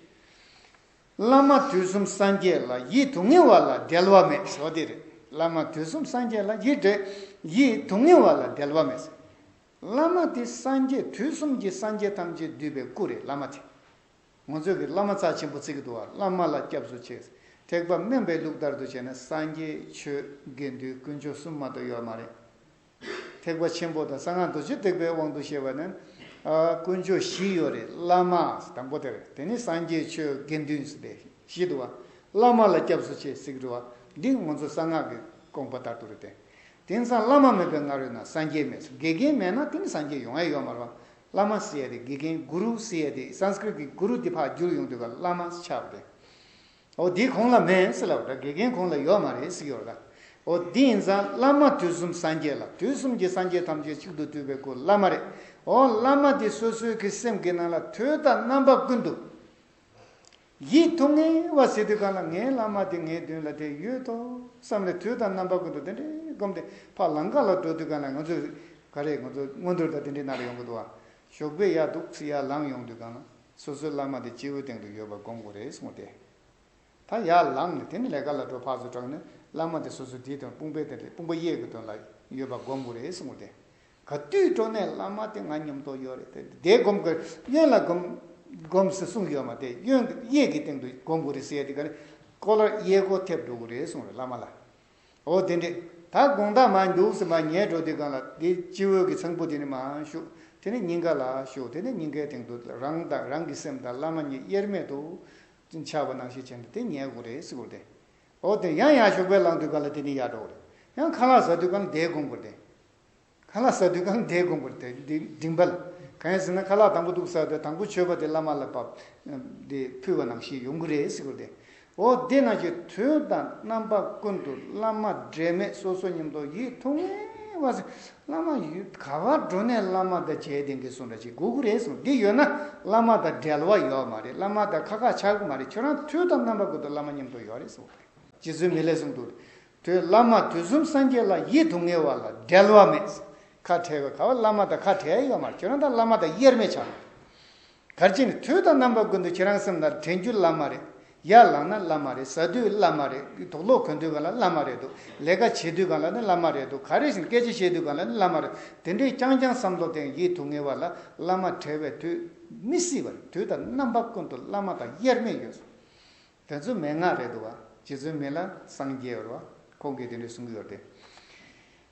བླ་མ་དུས་གསུམ་སངས་རྒྱས་ལ་ཡིད་དུ་ངེས་བ་ལ་འབྲལ་བ་མེད་ཟེར་བ་དེ་རེད་བླ་མ་དུས་གསུམ་སངས་རྒྱས་ལ་ཡིད་འབྲལ་ཡིད་དུ་ངེས་བ་ལ་འབྲལ་བ་མེད་ཟེར། བླ་མ་དེ་སངས་རྒྱས་དུས་གསུམ་གྱི་སངས་རྒྱས་ཐམས་ཅད་འདུས་པའི་སྐུ་རེད་བླ་མ་དེ། ངོ་མཚོས་ཀྱི་བླ་མ་རྩ་ཆེན་པོ་བརྩིག་ཏུ་བ་བླ་མ་ལ་སྐྱབས་སུ་ཆས། ཐེག་པ་དམན་པའི་ལུགས་ལྟར་དུ་བྱས་ན་སངས་རྒྱས་ཆོས་དགེ་འདུན་དཀོན་མཆོག་གསུམ་མ་གཏོགས་ཡོད་མ་རེད། ཐེག་པ་ཆེན་པོ་དང་གསང་སྔགས་རྡོ་རྗེ་ཐེག་པའི་དབང་དུ་བཤད་པ་ན། དཀོན་མཆོག་བཞི་ཡོད་རེད་བླ་མ་དང་པོ་དེར་དེ་ནས་སངས་རྒྱས་ཆོས་དགེ་འདུན་ཟེར་ཏེ་བཞི་དུ་བ་བླ་མ་ལ་སྐྱབས་སུ་ཆས་ཟིག་རུ་བ་འདི་ངོ་མཚོ་གསང་སྔགས་ཀྱི་དགོངས་པ་ལྟར་དུ་རེད་དེ། དེང་སང་བླ་མ་མེད་པའི་སྔ་རོལ་ན་སངས་རྒྱས་མེད་དགེ་རྒན་མེད་ན་དེ་ནས་སངས་རྒྱས་ཡོང་ཨེ་ཡོད་མ་རུང་བླ་མ་སི་ཡ་ཏི་དགེ་རྒན་གུ་རུ་སི་ཡ་ཏི Sanskrit གི་གུ་རུ་དེ་འཕགས་འགྱུར་ཡོང་དུས་ཀ་བླ་མ་སི་ཆགས་པས། ཨོ་དེ་གོང་ལ་མེད་སི་ལ་བ་དྲ་དགེ་རྒན་གོང་ལ་ཡོད་མ་རེད་སི་ཡོད་ལ། ཨོ་དེ་ཡིན་ཙང་བླ་མ་དུས་གསུམ་སངས་རྒྱས་ལ་དུས་གསུམ་གྱི་སངས་རྒྱས་ཐམས་ཅད་གཅིག་ཏུ་སྤྲུལ་པའི་སྐུ་བླ་མ་རེད། ཨོ་བླ་མ་དེ་སོ་སོའི་གི་སེམས་གི་ནང་ལ་དུས་དང་རྣམ་པ་ཀུན་ཏུ། ཡིད་ཐུགས་ངལ་བ་ཟེར་དུས་གང་ལ་ངའི་བླ་མ་དེ་ངའི་མདུན་ལ་དེ་ཡོད་དོ་བསམ་ནས་དུས་དང་རྣམ་པ་ཀུན་ཏུ་དེ་འདྲས་བསྒོམས་ཏེ་ཕར་ལམ་ག་ལ་འགྲོ་དུས་གང་ལ་ང་ཚོས་ག་རེ་ང་ཚོ་སྔོན་འགྲོར་ད་དེ་འདྲས་ན་ལ་ཡོང་གི་འདུག་ཨ། ཞོགས་པའི་ཡར་འདུག་ཚེ་ཡར་ལངས་ཡོང་དུས་གང་ལ་སོ་སོའི་བླ་མ་དེ་སྤྱི་བོའི་སྟེང་དུ་ཡོད་པ་བསྒོམ་དགོས་རེད་གསུངས་ཏེ། ད་ཡར་ལངས་ནས་དེ་ནས་ལས་ཀ་ལ་འགྲོ་ཕག་སོ་དྲག་ནས་བླ་མ་དེ་སོ་སོའི་དེའི་དོན་དཔུང་པའི་དེ་འདྲས་དཔུང་པ་གཡས་ཀྱི་དོན་ལ་ཡོད་པ་བསྒོམ་དགོས་རེད་གསུངས་ཏེ། ག་བཏུས་སྤྲོ་ནས་བླ་མ་དེ་ང་ཉོམ་དོགས་ཡོད་རེད་དེ་དེ་སྒོམ་དགོས་གཡོན་ལ་སྒོམ་སྒོམས་ཟེར་གསུངས་ཡོད་མ་དེ་གཡོན་གཡས་ཀྱི་སྟེང་དུ་སྒོམ་དགོས་རེད་ཟེར་དེ་ག་ནི་ཀོ་ལར་གཡས་སྐོར་ཐེབས་འགྲོ་གི་རེད་གསུངས་རེད་བླ་མ་ལ་འོ་དེ་འདྲས་ད་དགོངས་དག་མ་འདུག་ཟེར་མ་ཉལ་འགྲོ་དེ་ག་ལ་དེ་སྤྱི་བོའི་གི་ཚངས་བུག་དེ་ནི་མ་ཞུགས་དེ་ནི་སྙིང་ག་ལ་ཞུགས་དེ་ནི་སྙིང་གའི་སྟེང་དུ་རང་དང་རང་གི་སེམས་དང་བླ་མ་གཉིས་དབྱེར་མེད་དུ་འཆར་བ་ནང་བཞིན་བྱས་ནས་དེ་ཉལ་དགོས་རེད་ཟེར་རེད་འོ་དེ་ཡང་ཡར་ཞོགས་པའི་ལངས་དུས་ག་ལ་དེ་ནི་ཡར་འགྲོ་གི་རེད་ཡང་ཁ་ལག་ཟ་དུས་ག་ལ་དེ་སྒོམ་དགོས་རེད་དེ། ཁ་ལག་ཟ་དུས་ཁང་བརྒྱད་དགོན་པར་དེད་དེ་འགྲིམས་པ་ལ། གང་ཡིན་ཟེར་ན་ཁ་ལག་དང་པོ་དུག་ཟ་བས་དང་པོ་མཆོད་པ་དེ་བླ་མ་ལ་བབས། དེ་ཕུལ་བ་ནང་བཞིན་ཡོང་གི་རེད་ཟེར་གོ་དེ། འོ་དེ་ནང་བཞིན་དུས་དང་རྣམ་པ་ཀུན་ཏུ་བླ་མ་འབྲལ་མེད་སོ་སོ་ཉམས་རྟོགས་ཡིད་ཐུང་ངེ་བ་ཟེར། བླ་མ་ཡུལ་ག་བར་འགྲོ་ནས་བླ་མ་དང་མཇལ་དེ་འགེལ་སོང་འདྲ་བྱེད་དགོས་ཀི་རེད་གསུངས་འདི་ཡོད་ན་བླ་མ་དང་འབྲལ་བ་ཡོད་མ་རེད་བླ་མ་དང་ཁ་ཁ་ཆགས་ཀི་མ་རེད་ཁྱོད་རང་དུས་དང་རྣམ་པ་ཀུན་ཏུ་བླ་མ་ཉམས་རྟོགས་ཡོད་རེད་གསུངས་པ་རེད། རྗེ་བཙུན་མི་ལས་གསུངས་འདུག་དུས་བླ་མ་དུས་གསུམ་སངས་རྒྱས་ལ་ཡིད་དུ་ངེས་བ་ལ་འབྲལ་བ་མེད། ཁ་བྲལ་བའི་ཁ་བ་བླ་མ་དང་ཁ་བྲལ་ཡོད་མར་ཁྱོད་རང་དང་བླ་མ་དང་དབྱེར་མེད་ཆགས། གར་བྱེད་ནི་དུས་དང་རྣམ་པ་ཀུན་ཏུ་ཁྱེད་རང་སེམས་ལ་དྲན་རྒྱུ་བླ་མ་རེད། ཡར་ལངས་ན་བླ་མ་རེད་ཟ་དུས་བླ་མ་རེད་དུག་སློག་གོན་དུས་གང་ལ་བླ་མ་རེད་དུ་ལས་ཀ་བྱེད་དུས་གང་ལ་ནི་བླ་མ་རེད་དུ་ག་རེ་བཞིན་སྐད་ཆ་བཤད་དུས་གང་ལ་ནི་བླ་མ་རེད་དེ་འདྲའི་རྐྱང་རྐྱང་བསམ་བློ་དང་ཡིད་དུ་ངེས་བ་ལ་བླ་མ་བྲལ་བའི་དུས་མི་སྲིད་པར་དུས་དང་རྣམ་པ་ཀུན་ཏུ་བླ་མ་དང་དབྱེར་མེད་ཡོད། དེ་ཚོའི་མན་ངག་རེད་འདུག་བ། རྗེ་བཙུན་མི་ལ་སངས་རྒྱས་བར་བ། ཁོང་གིས་དེ་འདྲའི་གསུང་གི་ཡོད་དེ།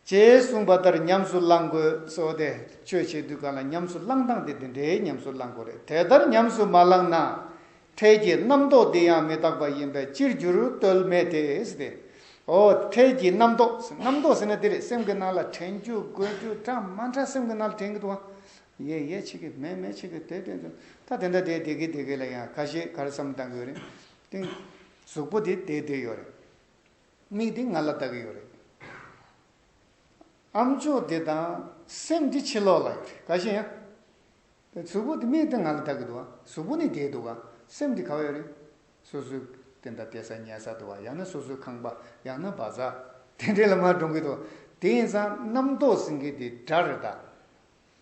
ཅེས་གསུངས་པ་ལྟར་ཉམས་སུ་བླང་དགོས་སོ་སྟེ། ཆོས་བྱེད་དུས་གང་ལ་ཉམས་སུ་བླང་སྟངས་དེ་དེ་འདྲའི་ཉམས་སུ་བླང་དགོས་རེད། དེ་ལྟར་ཉམས་སུ་མ་བླངས་ན། འཕྲལ་གྱི་རྣམ་རྟོག་འདི་ཡང་མི་རྟག་པ་ཡིན་པས་ཅིར་འགྱུར་རྟོལ་མེད་དེ། ཨོ། འཕྲལ་གྱི་རྣམ་རྟོག། རྣམ་རྟོག་ཟེར་ན་དེ་རེད་སེམས་ཀྱི་ནང་ལ་དྲན་རྒྱུ་དགོད་རྒྱུ་གྲ་མ་འདྲ་སེམས་ཀྱི་ནང་ལ་དྲན་གྱི་འདུག་བ། ཡས་ཡས་ཆི་གི་མས་མས་ཆི་གི་དེ་བསྟན་ཚུལ་ད་དེ་འདྲ་དེའི་དེ་གི་དེ་གི་ལ་ཡང་ག་ཞེས་གར་བསམ་བཏང་གི་ཡོད་རེད་ཏིང། གཟུགས་པོ་དེ་དེའི་དེ་ཡོད་རེད། མིག་དེ་ང་ལ་བལྟ་གི་ཡོད་རེད། ཨམ་ཅོག་དེ་དང་སེམས་དེ་ཕྱི་ལོགས་ལ་ཡོད་རེད་ག་ཞེ་ཡང། གཟུགས་པོ་དེ་མིག་དེ་ང་ལ་བལྟ་གི་འདུག་ཨ་གཟུགས་པོ་ནི་དེའི་འདུག་ཨ་སེམས་དེ་ག་བ་ཡོད་རེད། སོ་སོའི་དེ་འདྲ་དེ་ས་ཉལ་ས་དུ་བ་ཡང་ན་སོ་སོའི་ཁང་པ་ཡང་ན་བ་ས་དེ་འདྲའི་ལ་མར་འགྲོང་གི་འདུག་དེ་ཡིན་ཙང་རྣམ་རྟོག་ཟིན་གི་དེ་འདྲ་རེད་ད།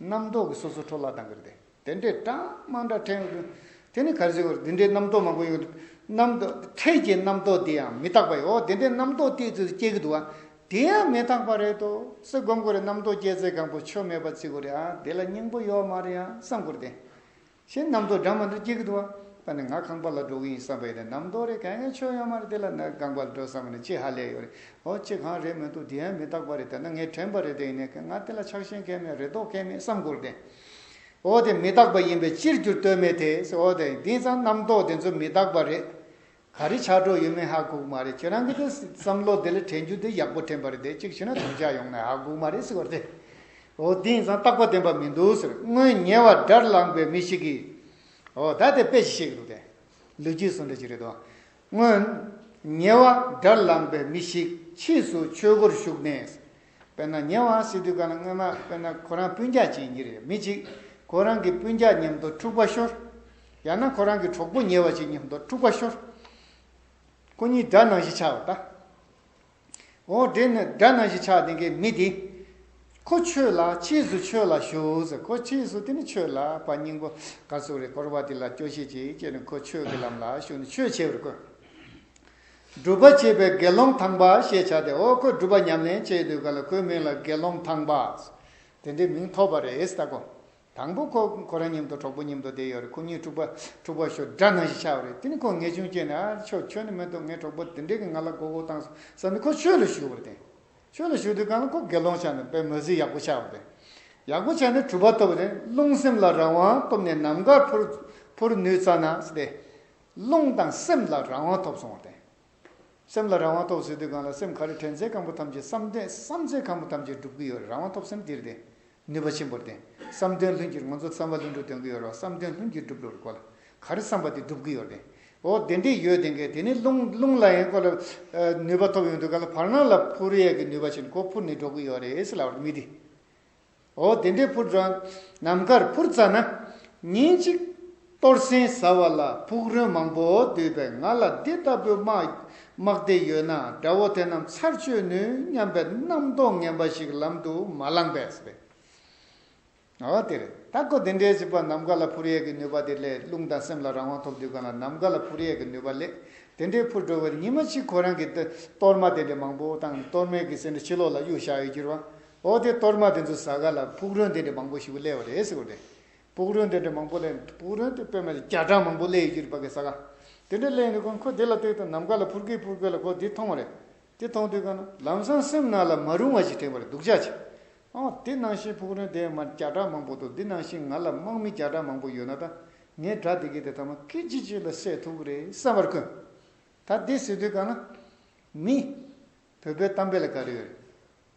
རྣམ་རྟོག་གི་སོ་སོ་འཕྲོ་བརླག་དང་གི་རེ་དེ་འདྲའི་གྲངས་མང་དྲག་ཕྲན་ཀུན། དེ་ནི་གར་བྱེད་བོར་འདི་འདྲའི་རྣམ་རྟོག་མང་པོ་ཡོད་དོ། རྣམ་རྟོག་ཕྲད་ཀྱི་རྣམ་རྟོག་དེ་ཡང་མི་རྟག་པ་ཡོད་དེ་འདྲའི་རྣམ་རྟོག་དེའི་ཚུལ་དུ་སྐྱེ་གི་འདུག་ཨ། དེ་ཡང་མི་རྟག་པ་རེད་དོ། སེ་སྒོམ་གོ་རེ་རྣམ་རྟོག་སྐྱེ་ཚེ་གང་པོ་ཆོས་མེད་པ་ཅི་གོ་རེ་ཨ་དེ་ལ་སྙིང་པོ་ཡོད་མ་རེ་ཨ་བསམ་གོ་རེ། ཞེས་རྣམ་རྟོག་སྦྲང་མ་འདི་སྐྱེ་གི་འདུག་བ། ད་ནི་ང་ཁང་པ་ལ་འགྲོ་གི་ཡིན་བསམ་པ་ཡིན་ན་རྣམ་རྟོག་རེ་ག་ངའི་ཆོས་ཡོད་མ་རེད་དེ་ལ་ན་ཁང་པ་ལ་འགྲོ་བསམ་པ་ནི་ཅི་ཧ་ལས་ཡོད་རེད་འོ་ཅི་གང་རེད་མི་འདུག་དེ་ཡང་མི་རྟག་པ་རེད་དེ་ན་ངའི་དྲན་པ་རེད་དེ་ཡིན་ནའི་ང་དེ་ལ་ཆགས་ཞེན་གལ་མེད་རེ་དོགས་གལ་མེད་བསམ་དགོས་རེད་དེ། འོ་དེ་མི་རྟག་པ་ཡིན་པས་ཅིར་འགྱུར་ལྟོས་མེད་དེ། འོ་དེ་དེང་སང་རྣམ་རྟོག་དེ་ཚོ་མི་རྟག་པ་རེད། ག་རེ་ཆགས་གྲོགས་ཡོད་མེད་ཧ་གོག་མ་རེད་ཁྱེད་རང་གི་འདི་བསམ་བློ་དེ་ལ་དྲན་རྒྱུ་དེ་ཡག་པོ་དྲན་པ་རེད་དེ་གཅིག་བྱས་ན་དམ་བཅའ་ཡོང་ནའི་ཧ་གོག་མ་རེད་ཟེར་བ་དེ་འོ་དེ་ཡིན་ཙང་རྟག་པ་བདེན་པ་མི་འདུག་ཟེར་སྔོན་ཉེ་བར་དགྲར་ལངས་པའི་མི་ཞིག་གིས་འོ་ད་དེ་དཔེ་ཞིག་བཤད་ཀྱི་འདུག་དེ་ལོ་རྒྱུས་སུ་འདྲ་ཅི་རེད་དོ། སྔོན་ཉེ་བར་དགྲར་ལངས་པའི་མི་ཞིག་ཕྱིས་སུ་ཆོས་སྒོར་ཞུགས་ནས་དཔེར་ན་ཉེ་བའང་སྲིད་དུས་སྐབས་ན་སྔོན་མ་དཔེར་ན་ཁོ་རང་སྤུན་རྒྱག་བྱེད་ཀྱིན་རེད་མི་གཅིག་ཁོ་རང་གི་སྤུན་རྒྱག་མཉམ་དུ་འཁྲུག་པ་ཤོར། ཡང་ན་ཁོ་རང་གི་གྲོགས་པོ་ཉེ་བ་ཞིག་མཉམ་དུ་འཁྲུག་པ་ཤོར། ཁོ་གཉིས་དགྲ་ནང་བཞིན་ཆགས་བ་དང། འོ་དེ་ནི་དགྲ་ནང་བཞིན་ཆགས་དེ་གའི་མི་དེ། ཁོ་ཆོས་ལ་ཕྱིས་སུ་ཆོས་ལ་ཞུགས་ཟེར་ཁོ་ཕྱིས་སུ་དེ་ནི་ཆོས་ལ་བ་སྙིང་པོ་ག་ཚོད་རེ་བསྐོར་བ་དེ་ལ་སྐྱོ་ཤས་ཅིག་སྐྱེས་ནས་ཁོ་ཆོས་ཀྱི་ལམ་ལ་ཞུགས་ནས་ཆོས་བྱེད་པར་བསྐོས། སྒྲུབ་པ་བྱེད་པའི་དགེ་སློང་དང་པ་ཞེས་བྱ་སྟེ་འོ་ཁོས་སྒྲུབ་པ་ཉམས་ལེན་བྱེད་དུས་ག་ལ་ཁོའི་མིང་ལ་དགེ་སློང་དང་པ། དེ་འདྲའི་མིང་ཐོགས་པ་རེད་ད་གོ། དང་པོ་ཁོ་ཁོ་རང་སྙེམ་དུ་གྲོགས་པོ་སྙེམ་དུ་བསྡད་ཡོད་རེད་ཁོ་གཉིས་དཀྲུག་པ་ཞོར་སྦྲ་ནང་ཞིག་ཆགས་པ་རེད་དེ་ནས་ཁོ་ངེས་ཆུང་སྐྱེས་ནས་ཨ་ཆོས་ཁྱོད་ནི་མི་འདུག་ངའི་གྲོགས་པོ་དེ་འདྲས་ཀྱིས་ང་ལ་མགོ་བོ་བཏང་སོང་བསམ་ནས་ཁོ་ཆོས་ལ་ཞུགས་པར་བརྟེན། ཆོས་ལ་ཞུགས་དུས་གང་ལ་ཁོ་དགེ་སློང་ཆགས་ནས་པའི་མོས་ཚུལ་ཡག་པོ་ཆགས་པར་བརྟེན། ཡག་པོ་ཆགས་ནས་གྲུབ་པ་ཐོབ་བརྟེན་རླུང་སེམས་ལ་རང་དབང་ཐོབ་ནས་ནམ་མཁར་འཕུར་ནུས་ཙམ་ན་སྟེ། རླུང་དང་སེམས་ལ་རང་དབང་ཐོབ་སོང་བ་དེ། སེམས་ལ་རང་དབང་ཐོབ་ཟེར་དུས་གང་ལ་སེམས་ག་རེ་དྲན་ཚད་གང་པོ་ཐམས་ཅད་བསམ་དོན་བསམ་ཚད་གང་པོ་ཐམས་ཅད་འགྲུབ་གི་ཡོད་རེད་རང་དབང་ཐོབ་སེམས་དེར་དེ་ནུས་པ་ཆེན་པོར་བརྟེན་བསམ་དོན་ལྷུན་གྱིས་ང་ཚོ་བསམ་པ་ལྷུན་འགྲུབ་དོན་གི་ཡོད་རོགས་བསམ་དོན་ལྷུན་གྱིས་འགྲུབ་རོགས་གོ་ལ་ག་རེ་བསམ་པ་དེ་འགྲུབ་གི་ཡོད་རེད་འོ་དེ་འདྲས་ཡོད་དེ་འགས་དེ་ནི་རླུང་རླུང་ལ་ཡང་གོ་ལ་ནུས་པ་ཐོབ་ཡོང་དུས་ག་ལ་བར་སྣང་ལ་ཕུར་ཡས་ཀྱི་ནུས་པ་ཆེན་གོ་ཕུར་ནི་འགྲོ་གི་ཡོད་རེད་ལབ་རེད་མི་དེ། འོ་དེ་འདྲའི་ཕུར་སྒྲོན། ནམ་མཁར་ཕུར་བཙའ་ན། ཉིན་གཅིག། གཏོར་ཟན་ཟ་བ་ལ་ཕུག་རོན་མང་པོ་འདུས་པས་ང་ལ་འདི་ལྟ་བུའི་དམག་སྡེ་ཡོད་ན་དགྲ་བོ་དེ་རྣམས་ཚར་གཅོད་ནུས་སྙམ་པའི་རྣམ་རྟོག་ངན་པ་ཞིག་ལམ་དུ་མ་བསླངས་པས་རེད། འོ་དེ་རེད་ད་ཁོ་དེ་འདྲའི་བྱིས་པ་ནམ་མཁའ་ལ་ཕུར་གཡས་ཀྱི་ནུས་པ་དེ་ལས་རླུང་དང་སེམས་ལ་རང་དབང་ཐོབ་དུས་གང་ལ་ནམ་མཁའ་ལ་ཕུར་གཡས་ཀྱི་ནུས་པ་ལས་དེ་འདྲའི་ཕུར་སྒྲོལ་བའི་ཉི་མ་གཅིག་ཁོ་རང་གི་གཏོར་མ་དེ་འདྲའི་མང་པོ་དང་གཏོར་མའི་གི་སེ་འདྲ་ཕྱི་ལོགས་ལ་གཡུག་བཞག་ཡོད་གྱུར་བ་ཨོ་དེ་གཏོར་མ་དེ་ཚོ་ཟ་ག་ལ་ཕུག་རོན་དེ་འདྲ་མང་པོ་ཞིག་བསླས་བ་རེད་ཟེར་བ་རེད། ཕུག་རོན་དེ་འདྲ་མང་པོ་བསླས་ནས་ཕུག་རོན་དེ་པད་མ་བརྒྱ་གྲངས་མང་པོ་བསླས་ཡོད་རྒྱུ་རེད་པ་གས་ཟ་ག་དེ་འདྲ་བསླས་ཡོད་ནི་ཁོ་ཁོ་དེ་ལ་བལྟས་དུས་ནམ་མཁའ་ལ་ཕུར་ཁེ་ཕུར་ཁེ་ལ་ཁོ་དེ་མཐོང་བ་རེད། དེ་མཐོང་དུས་ག་ན་ལམ་སང་སེམས་ནང་ལ་མ་རུང་བ་ཞིག་དྲན་པ་རེད་སྡུག་ཅག་ཅིག། ཨ་མ་དེ་ནང་བཞིན་ཕུག་རོན་དེ་མ་བརྒྱ་གྲངས་མང་པོ་འདུག་འདི་ནང་བཞིན་ང་ལ་དམག་མི་བརྒྱ་གྲངས་མང་པོ་ཡོད་ན་ད་ངའི་དགྲ་དེ་གས་དེ་ཐ་མ་སྐད་ཅིག་གཅིག་ལ་བསད་ཐུབ་ཀི་རེད་བསམ་པར་ཁོས། ད་དེ་ཟེར་དུས་ག་ན། མི། བོད་པའི་གཏམ་དཔེ་ལ་ག་རེ་ཡོད་རེད།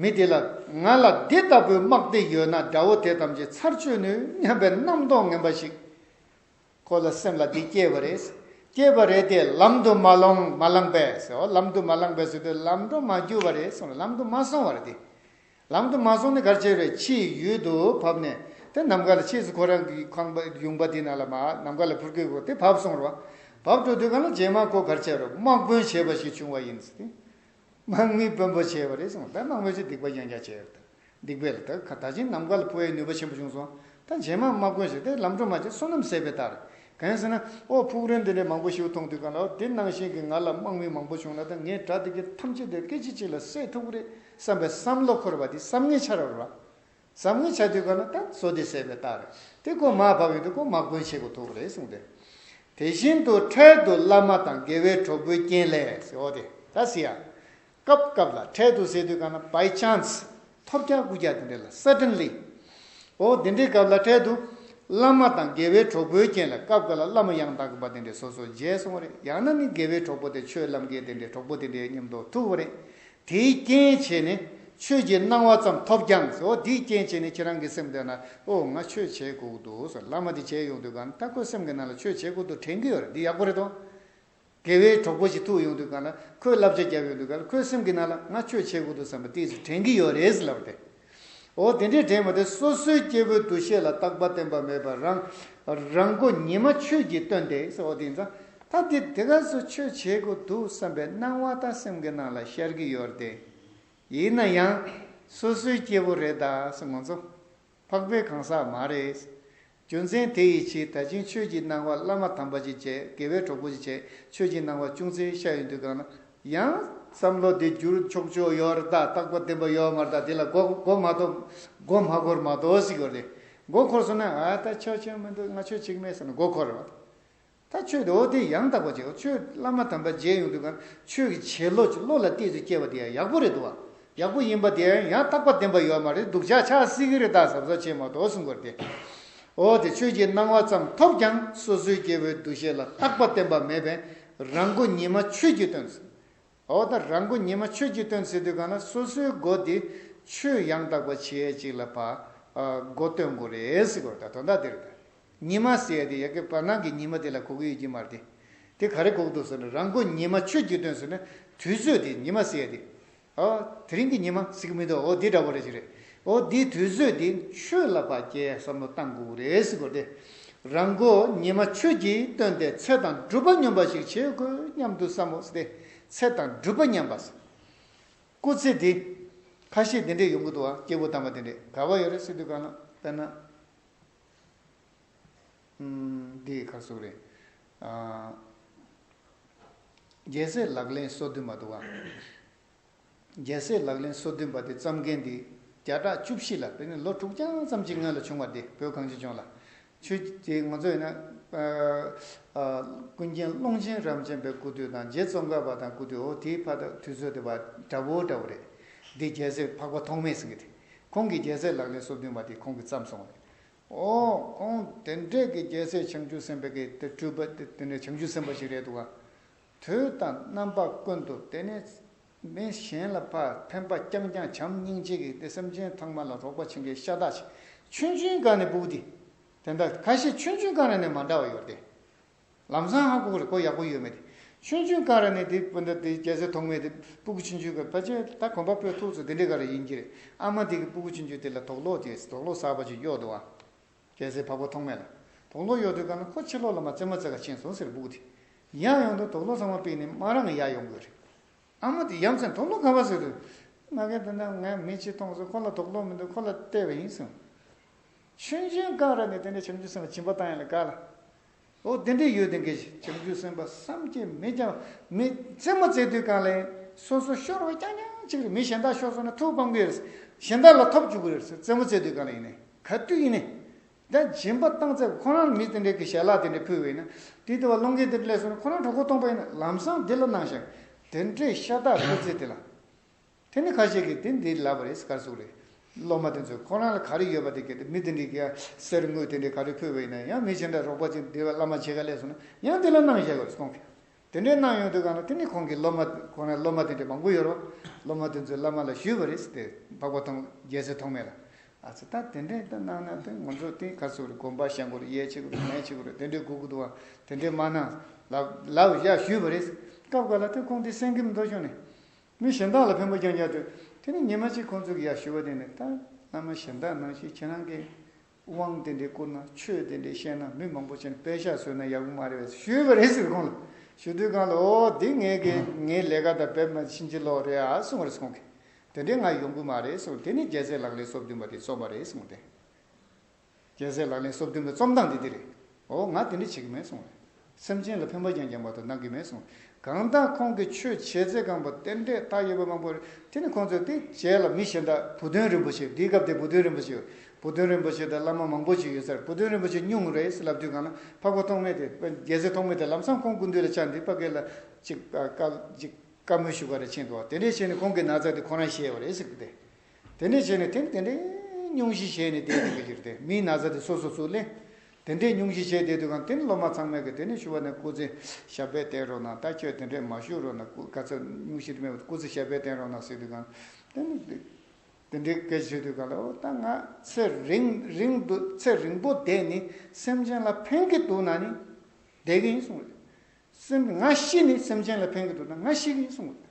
མི་དེ་ལ་ང་ལ་འདི་ལྟ་བུའི་དམག་སྡེ་ཡོད་ན་དགྲ་བོ་དེ་ཙམ་གྱིས་ཚར་གཅོད་ནུས་སྙམ་པའི་རྣམ་རྟོག་ངན་པ་ཞིག་ཁོ་ལ་སེམས་ལ་འདི་སྐྱེས་པ་རེད། སྐྱེས་པ་རེད་དེ་ལམ་དུ་མ་ལོང་མ་ལངས་པས། ལམ་དུ་མ་ལངས་པས་སུ་དེ་ལམ་འགྲོ་མ་རྒྱུ་བ་རེད་གསུངས་ལམ་དུ་མ་སོང་བར་དེ་ལམ་དུ་མ་སོང་ནས་གར་བྱེད་པའི་ཕྱིའི་ཡུལ་དུ་བབས་ནས་དེ་ནམ་མཁའ་ལ་ཕྱིས་སུ་ཁོ་རང་གི་ཁང་པ་ཡུང་བ་དེ་ན་ལ་མ་ནམ་མཁའ་ལ་ཕུར་སྐད་བསྒོ་སྟེ་བབས་སོང་རོ། བབས་འགྲོ་དུས་གང་ལ་རྗེས་མ་ཁོ་གར་བྱེད་རོ་དམག་དཔོན་བྱེད་པ་ཞིག་བྱུང་བ་ཡིན། དམག་མི་དཔོན་པོ་བྱེད་པ་རེད་གསུངས། ད་དམག་མི་ཚོས་སྡིག་པ་ཡང་ཡང་བྱས། སྡིག་པས་ལ་ད་ད་ཕྱིན་ནམ་མཁའ་ལ་ཕུར་བའི་ནུས་པ་ཆེན་པོ་བྱུང་སོང། ད་རྗེས་མ་དམག་དཔོན་བྱེད་དེ་ལམ་འགྲོ་མ་བྱེད་བསོད་ནམས་ཟད་པའི་རྟགས་རེད། གང་ཟེར་ན། ཨོ་ཕུག་རོན་འདི་འདྲའི་མང་པོ་ཞིག་མཐོང་དུས་གང་ལ་ཨོ་དེ་ནང་བཞིན་གྱི་ང་ལ་དམག་མི་མང་པོ་བྱུང་ན་ད་ངའི་དགྲ་དེ་གས་ཐམས་ཅད་དེ་སྐད་ཅིག་གཅིག་ལ་བསད་ཐུབ་ཀི་རེད། བསམ་པའི་བསམ་བློ་འཁོར་བ་དེ་བསམ་ངན་འཆར་བར་བ། བསམ་ངན་འཆར་དུས་གང་ན་ད་གཟོད་དེ་ཟད་པའི་རྟགས་རེད་དེ་ཀུན་མ་བབས་ཡོང་དུས་ཀུན་མ་གོན་བྱེད་དགོས་ཐུག་རེད་གསུངས་ཏེ། དེ་བཞིན་དུ་འཕྲལ་དུ་བླ་མ་དང་དགེ་བའི་གྲོགས་པོའི་རྐྱེན་ལས་འོ་དེ་ད་ཟི་ཡ། སྐབས་སྐབས་ལ་འཕྲལ་དུ་ཟེར་དུས་གང་ན By chance ཐོབ་རྒྱག་རྐུ་རྒྱག་དེ་འདྲས་ལ Suddenly འོ་དེ་འདྲའི་སྐབས་ལ་འཕྲལ་དུ་བླ་མ་དང་དགེ་བའི་གྲོགས་པོའི་རྐྱེན་ལས་སྐབས་འགའ་ལ་བླ་མ་ཡང་དག་གི་བ་དེ་འདྲས་སོ་སོ་མཇལ་སོང་བ་རེད་ཡང་ན་ནི་དགེ་བའི་གྲོགས་པོ་དེ་ཆོས་ལམ་འགལ་དེ་འདྲས་གྲོགས་པོ་དེ་འདྲས་མཉམ་འགྲོགས་ཐུག་བ་རེད་དེའི་རྐྱེན་བྱས་ནས་ཆོས་ཀྱི་སྣང་བ་ཙམ་ཐོབ་ཀྱང་ཟེར་འོ་དེའི་རྐྱེན་བྱས་ནས་ཁྱེད་རང་གི་སེམས་དེ་ན་ཨོ་ང་ཆོས་བྱེད་དགོས་འདུག་ཟེར་བླ་མ་དེ་བྱས་ཡོང་དུས་གང་ལྟ་ཁོའི་སེམས་ཀྱི་ནང་ལ་ཆོས་བྱེད་དགོས་འདུག་དྲན་གྱི་ཡོད་རེད་འདི་ཡག་པོ་རེད་དོ། དགེ་བའི་གྲོགས་པོ་ཞིག་ཐུག་ཡོང་དུས་གང་ལ་ཁོས་བསླབ་བྱ་བརྒྱབ་ཡོང་དུས་གང་ལ་ཁོའི་སེམས་ཀྱི་ནང་ལ་ང་ཆོས་བྱེད་དགོས་འདུག་བསམ་པ་དེ་ཚོ་དྲན་གྱི་ཡོད་རེད་ཟེར་ལབ་པ་དེ། འོ་དེ་འདྲའི་དྲན་མི་དེ་སོ་སོའི་སྐྱེ་བོའི་འདུ་ཤེས་ལ་རྟག་པ་བརྟན་པ་མེད་པར་རང་རང་སྒོ་ཉི་མ་ཆོས་ཀྱིས་སྟོན་ཏེ། འོ་དེ་ཡིན་ཙང་ད་འདི་དེ་ག་སོ་ཆོས་བྱེད་དགོས་འདུག་བསམ་པའི་སྣང་བ་ད་སེམས་ཀྱི་ནང་ལ་ཤར་གྱི་ཡོད་དེ། ཡིན་ན་ཡང་སོ་སོའི་སྐྱེ་བོ་རེད་ད་སེ་ང་ཚོ་འཕགས་པའི་གང་ཟག་མ་རེད། རྒྱུ་མཚན་དེ་ཡི་ཕྱིར་ད་ཕྱིན་ཆོས་ཀྱི་སྣང་བ་བླ་མ་དམ་པ་ཅིག་བྱས་དགེ་བའི་གྲོགས་པོ་ཅིག་བྱས་ཆོས་ཀྱི་སྣང་བ་ཅུང་ཟད་ཤར་ཡོང་དུས་གང་ན་ཡང། བསམ་བློ་དེ་བསྒྱུར་ཆོག་ཆོག་ཡོད་ར་ད་རྟག་པར་བདེན་པ་ཡོད་མ་ར་ད་དེ་ལ་མགོ་མགོ་མ་དོ་མགོ་མ་འཁོར་མ་དོ་ཟིག་གོ་རེ་མགོ་འཁོར་སོང་ན་ཨ་ད་ཆོས་ཆོས་མི་འདུག་ང་ཆོས་ཆིག་མེད་ཟེར་ན་མགོ་འཁོར་ར་བ་དང། ད་ཆོས་དེ་འོ་དེ་ཡང་དག་པར་བྱའོ་ཆོས་བླ་མ་དམ་པ་མཇལ་ཡོང་དུས་གང་ཆོས་ཀྱི་བྱེད་བློ་ཅིག་བློ་ལ་གཏད་ཚུལ་སྐྱེ་བ་དེ་ཡང་ཡག་པོ་རེད་འདུག་བ། ཡག་པོ་ཡིན་པ་དེ་ཡང་ཡང་དག་པར་བདེན་པ་ཡོད་མ་རེད་འདུག་བྱ་ཆགས་སྲིད་ཀྱི་རེ་དྭགས་ཟབ་ཟབ་བྱེད་མ་གཏོགས་གསུང་དགོས་རེད་དེ། འོ་དེ་ཆོས་ཀྱི་སྣང་བ་ཙམ་ཐོབ་ཀྱང་སོ་སོའི་སྐྱེ་བོའི་འདུ་ཤེས་ལ་རྟག་པ་བརྟེན་པ་མེད་པས་རང་མགོ་ཉིད་མ་ཆོད་ཀྱི་དོན། འོ་ད་རང་མགོ་ཉི་མ་ཆོས་ཀྱི་སྟོན་ཟེར་དུས་གང་ན་སོ་སོའི་མགོ་དེ་ཆོས་ཡང་དག་པ་བྱེད་ཅིག་ལ་བ་མགོ་སྟོན་དགོས་རེད་གོ་ད་དོན་དག་དེ་རེད་ཉི་མ་ཟེར་དེ་ཡ་གི་བར་སྣང་གི་ཉི་མ་དེ་ལ་གོ་གི་ཡོད་ཀྱི་མ་རེད་དེ་དེ་ག་རེ་གོ་གི་འདུག་ཟེར་ན་རང་མགོ་ཉི་མ་ཆོས་ཀྱི་སྟོན་ཟེར་ན་དུས་ཚོད་དེ་ཉི་མ་ཟེར་དེ་ཨོ་དེ་རིང་གི་ཉི་མ་ཟེར་གི་མི་འདུག་འོ་དེ་འདྲ་བོ་རེད་ཅིག་རེད་ཨོ་འདི་དུས་ཚོད་འདི་ཆོས་ལ་བ་ཀྱེ་བསམ་བློ་གཏང་དགོས་ཀྱི་རེད་ཟེར་དགོས་ཏེ། རང་མགོ་ཉི་མ་ཆོས་ཀྱིས་བཏོན་ཏེ་ཚེ་དང་སྒྲུབ་པ་སྙོམས་པ་ཞིག་བྱེད་དགོས་སྙམ་དུ་བསམ་མོ་སྟེ་ཚེ་དང་སྒྲུབ་པ་ཉམས་པ་ཟེར། སྐུ་ཚེ་འདི། ཁ་ཤས་འདི་འདྲས་ཡོང་གི་འདུག་ཨ་སྐྱེ་བོ་དམ་པ་དེ་འདྲས་ག་བ་ཡོད་རེད་སེ་དུས་གང་ལ་དཔེར་ན། འདི་ཡི་ཁར་སོགས་རེད། རྒྱལ་སྲས་ལག་ལེན་སོ་བདུན་མ་འདུག་ཨ། རྒྱལ་སྲས་ལག་ལེན་སོ་བདུན་པ་དེ་བརྩམས་མཁན་དེ་བརྒྱ་ཕྲག་བཅུ་བཞི་ལ་བོད་ནས་ལོ་དྲུག་རྐྱང་ཙམ་གྱི་སྔོན་ལ་བྱུང་བ་དེ་བོད་གངས་ཅན་ལྗོངས་ལ། ཆོས་རྗེ་ངོ་མཚོ་ཡིན་ན། ཀུན་མཁྱེན་ཀློང་ཆེན་རབ་འབྱམས་པའི་སྐུ་དུས་དང་རྗེ་ཙོང་ཁ་པ་དང་སྐུ་དུས་འོ་དེའི་ཕ་དག་དུས་ཚོད་དེ་བ་འདྲ་བོ་འདྲ་བོ་རེད། འདི་རྒྱལ་སྲས་འཕགས་པ་ཐོག་མའི་ཟིན་གྱི་དེ། ཁོང་གིས་རྒྱལ་སྲས་ལག་ལེན་སོ་བདུན་པ་དེ་ཁོང་གིས་བརྩམས་སོང་བ་རེད། འོ་ཁོང་དེ་འདྲས་ཀྱི་རྒྱལ་སྲས་བྱང་ཆུབ་སེམས་དཔའ་གི་དེ་སྤྲུལ་པ་དེ་འདྲས་བྱང་ཆུབ་སེམས་དཔའ་ཞིག་རེད་འདུག་ག། དུས་དང་རྣམ་པ་ཀུན་ཏུ་བལྟས་ནས། མི་གཞན་ལ་ཕ་ཕན་པ་རྐྱང་རྐྱང་བྱམས་སྙིང་རྗེ་གིས་ཏེ་སེམས་ཅན་ཚང་མ་ལ་རོགས་པ་བྱེད་མཁན་ཤ་སྟག་ཅིག་ཆུན་ཆུན་དགའ་ནས་སྤུགས་ཏེ། དེ་འདྲ་ཁ་ཤས་ཆུན་ཆུན་དགའ་ར་ནས་མ་འདྲ་བ་ཡོད་དེ། ལམ་སང་ཧ་གོ་རེ་གོ་ཡག་པོ་ཡོད་མེད་དེ། ཆུན་ཆུན་དགའ་ར་ནས་དེ་སྤུན་ཟླ་དེ་རྒྱལ་སྲས་ཐོག་མེད་དེ་སྤུགས་ཆུན་ཆུན་གི་ཕ་ཆེ་ད་གོམ་པ་སྤོས་ཐུགས་སུ་དེ་འདྲའི་ག་རེ་ཡིན་གྱི་རེད་ཨ་མ་དེ་གི་སྤུགས་ཆུན་ཆུན་དེ་ལ་དོགས་སློག་ཅིག་དོགས་སློག་ཟག་པ་ཅིག་གཡོག་འདུག་ཨ། རྒྱལ་སྲས་འཕགས་པ་ཐོགས་མེད་ལ་དོགས་སློང་གཡོག་དུས་དགའ་ན་ཁོ་ཕྱིར་ལོག་ལ་མ་བཙལ་མ་བཙལ་ག་ཕྱིན་སོང་ཟེར་སྦུག་སྟེ། ཡང་ཡོང་དུས་དོགས་སློང་ཚང་མ་སྤེལ་ནས་དམག་རང་གི་ཡར་ཡོང་དགོས་རེད། ཨ་མ་དེས་ཡ་མཚན་དོགས་སློང་ག་བ་ཟེར་དུས། ང་ག་དུས་ན་ངས་མི་གཅིག་མཐོང་ཚོད་ཁོ་ལ་དོགས་སློང་མི་འདུག་ཁོ་ལ་བལྟས་པ་ཡིན་གསུངས། ཆོས་འབྱུང་སྐག་རག་ནས་དེ་འདྲ་བྱ་མི་འཇུག་སེམས་པ་སྦྱིན་པ་བཏང་ཡ་ལ་དགའ་ལ། ཨོ་བདེ་འདྲེ་ཡོད་དེ་འགའ་ཞིག་བྱང་ཆུབ་སེམས་དཔའ་བསམ་གྱི་མེད་ཀྱང་མི་རྩེ་མོ་རྩེ་དུས་གང་ལེན་སོ་སོ་ཤོར་བ་རྐྱང་རྐྱང་གཅིག་རེད་མི་གཞན་དག་ཤོར་སོང་ན་ཐུགས་ཕམ་གི་རེད་གཞན་དག་ལ་ཐོབ་བཅུག་གི་རེད་རྩེ་མོ་རྩེ་དུས་གང་ལེན་ག་དུས་ཡིན་ན་དེ་སྦྱིན་པ་བཏང་ཚེ་ཁོ་རང་ལ་མི་དེ་འདྲེ་གི་ཞལ་ལག་དེ་འདྲེ་ཕུལ་བས་ན་དེ་ལྟ་བ་བློ་འགེལ་དེ་འདྲེ་ལས་སོང་ན་ཁོ་རང་གྲོགས་པོ་སྟོང་པ་ཡིན་ན་ལམ་སང་དེ་ལ་གནང་ཞིང་དེ་འདྲེ་ཤ་སྟག་བཀོད་ཚེ་དེ་ལ། དེ་ནི་ཁ་ཤས་ཀྱིས་དེ་འདི་ལབ་པ་རེད་ཟེར་ག་གཟུགས་རེད། སློབ་མ་དེ་ཚོས་ཁོ་རང་ལ་ག་རེ་ཡོད་པ་དེ་གལ་ཏེ་མི་དེ་འདྲས་ཀྱིས་གསེར་དངུལ་དེ་འདྲས་ག་རེ་ཕུལ་བ་ཡིན་ན་ཡང་མི་ཆེན་འདྲ་རོགས་པ་ཅིག་འདི་བླ་མ་ཆེ་ག་ལས་སོང་ན་ཡང་དེ་ལ་གནང་བཞག་གོ་སོང། དེ་འདྲས་གནང་ཡོང་དུས་གང་ལ་དེ་ནི་ཁོང་གིས་སློབ་མ་ཁོ་རང་སློབ་མ་དེ་འདྲས་མང་པོ་ཡོད་རོགས་སློབ་མ་དེ་ཚོས་བླ་མ་ལ་ཞུས་པ་རེད་ཟེར་ཏེ་འབག་པ་ཐོང་རྒྱལ་སྲིད་ཐོག་མེད་ལ། ཨ་ཙི་ད་དེ་འདྲས་དེ་གནང་ན་དེ་ང་ཚོ་དེ་ག་གཟུགས་རེད་དགོན་པར་བཤད་མགོ་རེ་གཡས་ཕྱི་གུ་རེ་མལ་ཕྱི་གུ་རེ་དེ་འདྲས་སྒུག་གི་འདུག་ཨ་དེ་འདྲས་མ་གནང། ལབ་བཞག་ཞུས་པ་རེད། སྐབས་འགའ་ལ་དེ་ཁོང་དེ་སེང་གེ་མི་འདོར་བྱུང་ནས། མི་གཞན་དག་ལ་ཕན་པོ་རྐྱང་རྐྱང་སྤྲོད། དེ་ནས་ཉི་མ་གཅིག་ཁོང་ཚོས་གི་ཡག་ཞུ་བ་དེ་ནས་ད་བླ་མ་གཞན་དག་ནང་བཞིན་ཁྱེད་རང་གི་དབང་དེ་འདྲས་བསྐུར་ན་ཆོས་དེ་འདྲས་བཤད་ན་མི་མང་པོ་བྱས་ནས་དཔེ་ཤག་བཟོས་ན་ཡག་པོ་མ་རེད་བས་ཞུས་པ་རེད་ཟེར་ཁོང་ལ་ཞུ་དུས་ཁང་ལ་ཨོ་འདི་ངས་གི་ངའི་ལས་ཀ་དང་བེད་མ་ཕྱིན་ཅི་ལོག་རེད་ཨ་གསུངས་རེས་ཁོང་གིས་དེ་འདྲས་ང་ཡོང་གི་མ་རེད་གསུངས་དེ་ནས་རྒྱལ་སྲས་ལགས་ལས་སོ་བདུན་པ་དེ་བཙོངས་པ་རེད་གསུངས་དེ། རྒྱལ་སྲས་ལག་ལེན་གསོབ་སྟོན་པའི་རྩོམ་སྟངས་དེ་འདི་རེད། འོ་ང་དེ་འདྲ་བྱེད་ཀྱི་མེད་གསུངས། སེམས་ཅན་ལ་ཕན་པ་ཅན་རྒྱང་བར་དུ་གནང་གི་མེད་གསུངས། གང་ལྟར་ཁོང་གིས་ཆོས་བྱེད་རྩེ་གང་པོ་རྟེན་འབྲེལ་བཏགས་ཡོད་པ་མང་པོ་རེད། དེ་ནི་ཁོང་ཚོས་དེ་བྱས་ལ་མི་གཞན་དག་བུ་སྟོན་རིན་པོ་ཆེ་འདིའི་སྐབས་དེ་བུ་སྟོན་རིན་པོ་ཆེ། བུ་སྟོན་རིན་པོ་ཆེ་དང་བླ་མ་མང་པོ་ཞིག་ཡོད་སར་བུ་སྟོན་རིན་པོ་ཆེ་སྙུང་རེ་ལབ་དུས་གང་ན་འཕགས་པ་ཐོག་མེད་དེ་རྒྱལ་སྲས་ཐོག་མེད་དེ་ལམ་སང་ཁོང་དགུན་དུས་ལ་ཕྱག་འདི་པ་གས་ལ་ཅིག་བཀའ་མོལ་ཞུ་ག་རེ་ཕྱིན་འདུག་བ་དེ་འདྲས་བྱས་ནས་ཁོང་གི་ན་ཚ་དེ་ཁོ་རང་བཤད་པ་རེད་ཟེར་གི་དེ་དེ་འདྲས་བྱས་ནས་དེ་དེ་འདྲས་སྙུང་གཞི་བྱས་ནས་བསྡད་འདུག་གི་ཕྱིར་དེ་མིའི་ན་ཚ་དེ་སོ་སོ་སུ་ལེན། དེ་འདྲས་སྙུང་གཞི་བྱས་བསྡད་དུས་གང་དེ་ནི་སློབ་མ་ཚང་མས་གི་དེ་ནི་ཞུ་བ་ནས་སྐུ་ཚེ་ཞབས་པད་བརྟན་རོགས་གནང་ད་ཁྱོད་དེ་འདྲས་མ་ཞུ་རོགས་གནང་ག་ཚོད་སྙུང་གཞི་མེད་པ་སྐུ་ཚེ་ཞབས་པད་བརྟན་རོགས་གནང་ཟེར་དུས་གང་དེ་ནི་དེ་འདྲས་སྐད་ཆ་ཤོད་དུས་གང་ལ་ཨོ་ད་ང་ཚེ་རིང་རིང་དུ་ཚེ་རིང་པོ་བསྡད་ནི་སེམས་ཅན་ལ་ཕན་གི་འདུག་ན་ནི་བསྡད་གི་ཡིན་གསུང་རོགས་གནང། ང་ཤི་ནི་སེམས་ཅན་ལ་ཕན་གི་འདུག་ན་ང་ཤི་གི་ཡིན་གསུང་རོགས་གནང།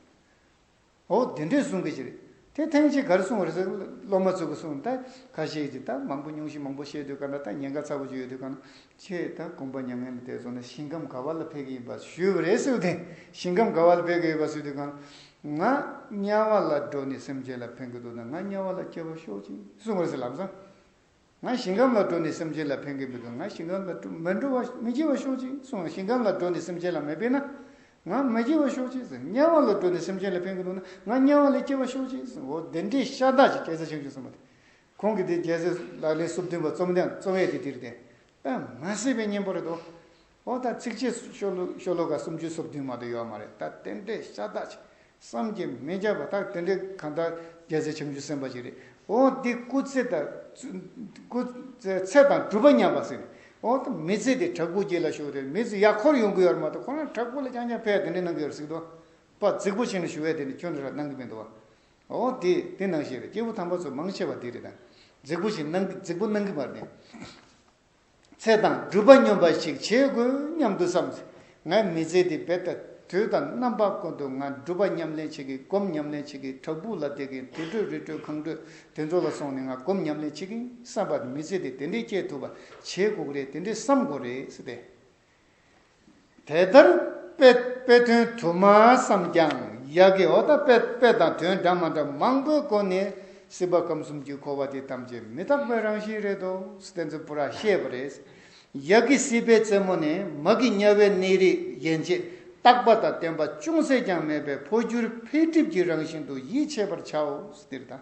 འོ་དེ་འདྲས་གསུང་གི་ཅི་རེད། དེ་ཐེངས་གཅིག་གར་གསུང་བར་ཟེར་སློབ་མ་ཚོས་ཀྱི་གསུང་ད་ག་ཤེད་ཀྱི་ད་མང་པོ་ཉུང་ཤིག་མང་པོ་བཤད་དུས་ག་འདྲ་ད་ཉེན་ཁ་ཚ་བོ་ཅིག་ཡོད་དུས་ག་ན་ཁྱེད་ད་དགོངས་པ་མྱ་ངན་ལས་འདས་སོང་ན་ཞིང་ཁམས་ག་བ་ལ་ཕེབས་ཀྱི་ཡིན་པ་ཞུས་པ་རེད་སུས་དེ་ཞིང་ཁམས་ག་བ་ལ་ཕེབས་ཀྱི་ཡོད་པ་སུས་དེ་ག་ང་དམྱལ་བ་ལ་འགྲོ་ནས་སེམས་ཅན་ལ་ཕན་གྱི་འདུག་ན་ང་དམྱལ་བ་ལ་སྐྱེ་བར་ཤོག་ཅིག་གསུང་བར་ཟེར་ལམ་སང། ང་ཞིང་ཁམས་ལ་འགྲོ་ནས་སེམས་ཅན་ལ་ཕན་གི་མི་འདུག་ང་ཞིང་ཁམས་ལ་མི་འགྲོ་བ་མི་སྐྱེ་བ་ཤོག་ཅིག་གསུངས་ལ་ཞིང་ཁམས་ལ་འགྲོ་ནས་སེམས་ཅན་ལ་མི་ཕན་ན་ང་མི་སྐྱེ་བ་ཤོག་ཅིག་གསུངས་དམྱལ་བ་ལ་འགྲོ་ནས་སེམས་ཅན་ལ་ཕན་གི་འདུག་ན་ང་དམྱལ་བ་ལ་སྐྱེ་བ་ཤོག་ཅིག་གསུངས་འོ་འདི་འདྲའི་ཤ་སྟག་ཅིག་སྐད་ཆ་ཆང་ཆུང་གསུངས་པ་དེ་ཁོང་གི་དེ་རྒྱལ་སྲིད་ལག་ལེན་སུབ་བསྟུན་པ་རྩོམ་ཡང་རྩོམ་ཡས་དེ་དེར་བསྟན་ཨ་མ་སྲིད་པའི་གཉེན་པོ་རེད་དོ། ཨོ་ད་ཚིགས་བཅད་ཤོ་ལོ་ཤོ་ལོ་ཀ་སུམ་ཅུ་སོ་བདུན་མ་དུ་ཡོད་མ་རེད་ད་དེ་འདྲས་ཤ་སྟག་ཅིག་བསམ་གྱི་མི་འཇགས་པ་ད་དེ་འདྲས་གང་ལྟར་རྒྱལ་སྲས་བྱང་ཆུབ་སེམས་དཔའ་ཞིག་རེད་ཨོ་འདི་སྐུ་ཚེ་དང་སྐུ་ཚེ་དང་སྒྲུབ་པ་མཉམ་པ་ཟེར་ནས་ཨོ་ད་མི་ཚེ་དེ་བྲག་ཕུག་གྱི་ལ་ཞུགས་ཏེ་མི་ཚེ་ཡག་འཁོར་ཡོང་གི་ཡོད་རེད་མ་གཏོགས་ཁོ་རང་བྲག་ཕུག་ལ་རྐྱང་རྐྱང་ཕེབས་དེ་འདྲས་གནང་གི་ཡོད་རེད་གཟིགས་འདུག་པ་རྫིག་པོ་ཆེ་ནས་ཞུ་བས་དེ་འདྲས་ཁྱོད་འདྲ་ཧྲ་གནང་གི་མི་འདུག་བ་ཨོ་དེ་དེ་གནང་ཤེས་རེད་སྐྱེས་བུ་དམ་པ་ཚོ་མང་ཆེ་བ་དེ་རེད་ད་རྫིག་པོ་ཆེ་གནང་རྫིག་པོ་གནང་གི་མ་རེད་ཚེ་དང་སྒྲུབ་པ་སྙོམས་པ་ཞིག་བྱེད་དགོས་སྙམ་དུ་བསམས། ངས་མི་ཚེ་འདི་འབད་ད་དུས་དང་རྣམ་པ་ཀུན་ཏུ་ང་སྒྲུབ་པ་ཉམས་ལེན་བྱེད་ཀྱི་སྒོམ་ཉམས་ལེན་བྱེད་ཀྱི་བྲག་ཕུག་ལ་བསྡད་ཀྱིན་དུས་བགྲོད་རི་བགྲོད་གངས་བགྲོད་དེ་ཚོ་ལ་སོང་ནས་ང་སྒོམ་ཉམས་ལེན་བྱེད་ཀྱིན་བསམ་པ་མི་ཚེ་འདི་དེ་འདྲས་སྐྱེལ་ཐུབ་པ་བྱེད་དགོས་རེད་དེ་འདྲས་བསམ་དགོས་རེད། དེ་ལྟར་དཔེ་དཔེ་དོན་དུ་མ་བསམས་ཀྱང་ཡག་གི་འོ་ད་དཔེ་དཔེ་དང་དོན་འདྲ་མ་འདྲ་མང་པོའི་སྒོ་ནས་སྲིད་པ་ཁམས་གསུམ་གྱི་འཁོར་བ་དེ་ཐམས་ཅད་མི་རྟག་པའི་རང་བཞིན་རེད་དོ་སྟེ་འཛི་པོ་ར་ཤེས་པ་རེད། ཡག་གི་སྲིད་པའི་རྩེ་མོ་ནས་མ་གི་དམྱལ་བའི་གནས་རིས་ཡན་ཆད་རྟག་པ་དང་བརྟན་པ་ཅུང་ཟད་ཀྱང་མེད་པའི་འཕོ་འགྱུར་འཕེལ་འགྲིབ་ཀྱི་རང་བཞིན་དུ་ཡིད་ཆེས་པར་བྱའོ། འདིར་དང།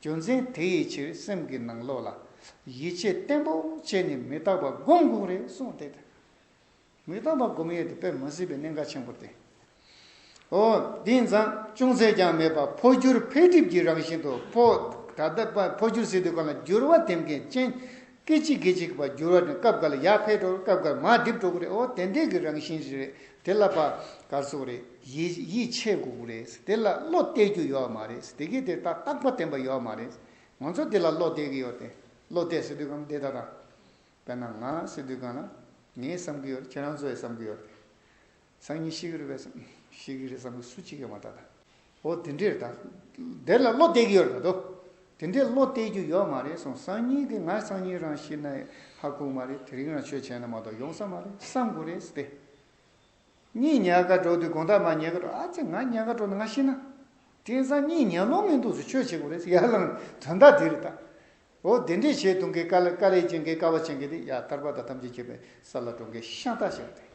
རྒྱུ་མཚན་དེ་ཡི་ཕྱིར་སེམས་ཀྱི་ནང་ལོགས་ལ་ཡིད་ཆེས་བརྟན་པོ་བྱས་ནས་མི་རྟག་པ་སྒོམ་དགོངས་རེད་གསུངས་ཏེ། མི་རྟག་པ་སྒོམ་ཡས་དེ་དཔེ་མ་སྲིད་པའི་གནད་འགག་ཆེན་པོར་བསྟན། ཨོ། དེ་མཚམས་ཅུང་ཟད་ཀྱང་མེད་པར་འཕོ་འགྱུར་འཕེལ་འགྲིབ་ཀྱི་རང་བཞིན་དུ་འཕོ། ད་ལྟ་འཕོ་འགྱུར་སྲིད་དུས་གང་ལ་འགྱུར་བ་ཐེབས་མཁན་ཅན་སྐད་ཅིག་གིས་གཅིག་པར་བསྒྱུར་བ་ནི་སྐབས་འགར་ཡར་འཕེལ་འགྲོར་སྐབས་འགར་མར་རྡིབ་འགྲོ་གི་རེད་འོ་དེ་འདྲའི་གི་རང་བཞིན་ཞིག་རེད་དེ་ལ་པ་གར་སོགས་རེད་ཡིད་ཆེས་དགོས་གི་རེད་དེ་ལ་བློ་གཏད་རྒྱུ་ཡོད་མ་རེད་དེ་གིས་དེ་ལྟ་རྟག་པ་བསྟན་པ་ཡོད་མ་རེད་ང་ཚོ་དེ་ལ་བློ་གཏད་གི་ཡོད་དེ་བློ་གཏད་སྲིད་དུས་གང་དེ་ལྟ་དང། དཔེར་ན་ང་སྲིད་དུས་གང་ལ་ངས་བསམ་གི་ཡོད་ཁྱེད་རང་ཚོས་བསམ་གི་ཡོད་དེ། སང་ཉིན་ཤི་གི་རེད་བས་སམ། ཤི་གི་རེད་བསམ་གི་སུ་ཅིག་ཡོད་མ་ད་ད། འོ་དེ་འདྲས་ད། དེར་ལ་བློ་གཏད་གི་ཡོད་རེད་མ་ཏོ། དེ་འདྲས་བློ་གཏད་རྒྱུ་ཡོད་མ་རེད་སོང་སང་ཉིན་གི་ང་སང་ཉིན་རང་ཤི་ན་ཧ་གོ་མ་རེད་དེ་རིང་རང་ཆོས་བྱས་ན་མ་གཏོགས་ཡོང་ས་མ་རེད་བསམ་དགོས་རེད་ཟེར་ཏེ། གཉིད་ཉལ་ཁ་དྲོ་དུས་དགོངས་དག་མ་ཉལ་ཁ་དྲོ་ཨ་ཙི་ང་ཉལ་ཁ་དྲོ་ན་ང་ཤི་ན། དེང་སང་གཉིད་ཉལ་ལོང་མི་འདུག་ཟེར་ཆོས་བྱེད་དགོས་རེད་ཟེར་ཡར་ལངས་དོན་དག་དེ་རེད་ད། འོ་དེ་འདྲས་བྱས་དུང་གི་ཀ་ལ་ཀ་རས་ཅན་གི་ཀ་བ་ཅན་གི་དེ་ཡར་ཐར་པ་དང་ཐམས་ཅད་བྱེད་པའི་ས་ལ་གྲོང་ཁའི་ཤང་རྟ་ཞིག་རེད།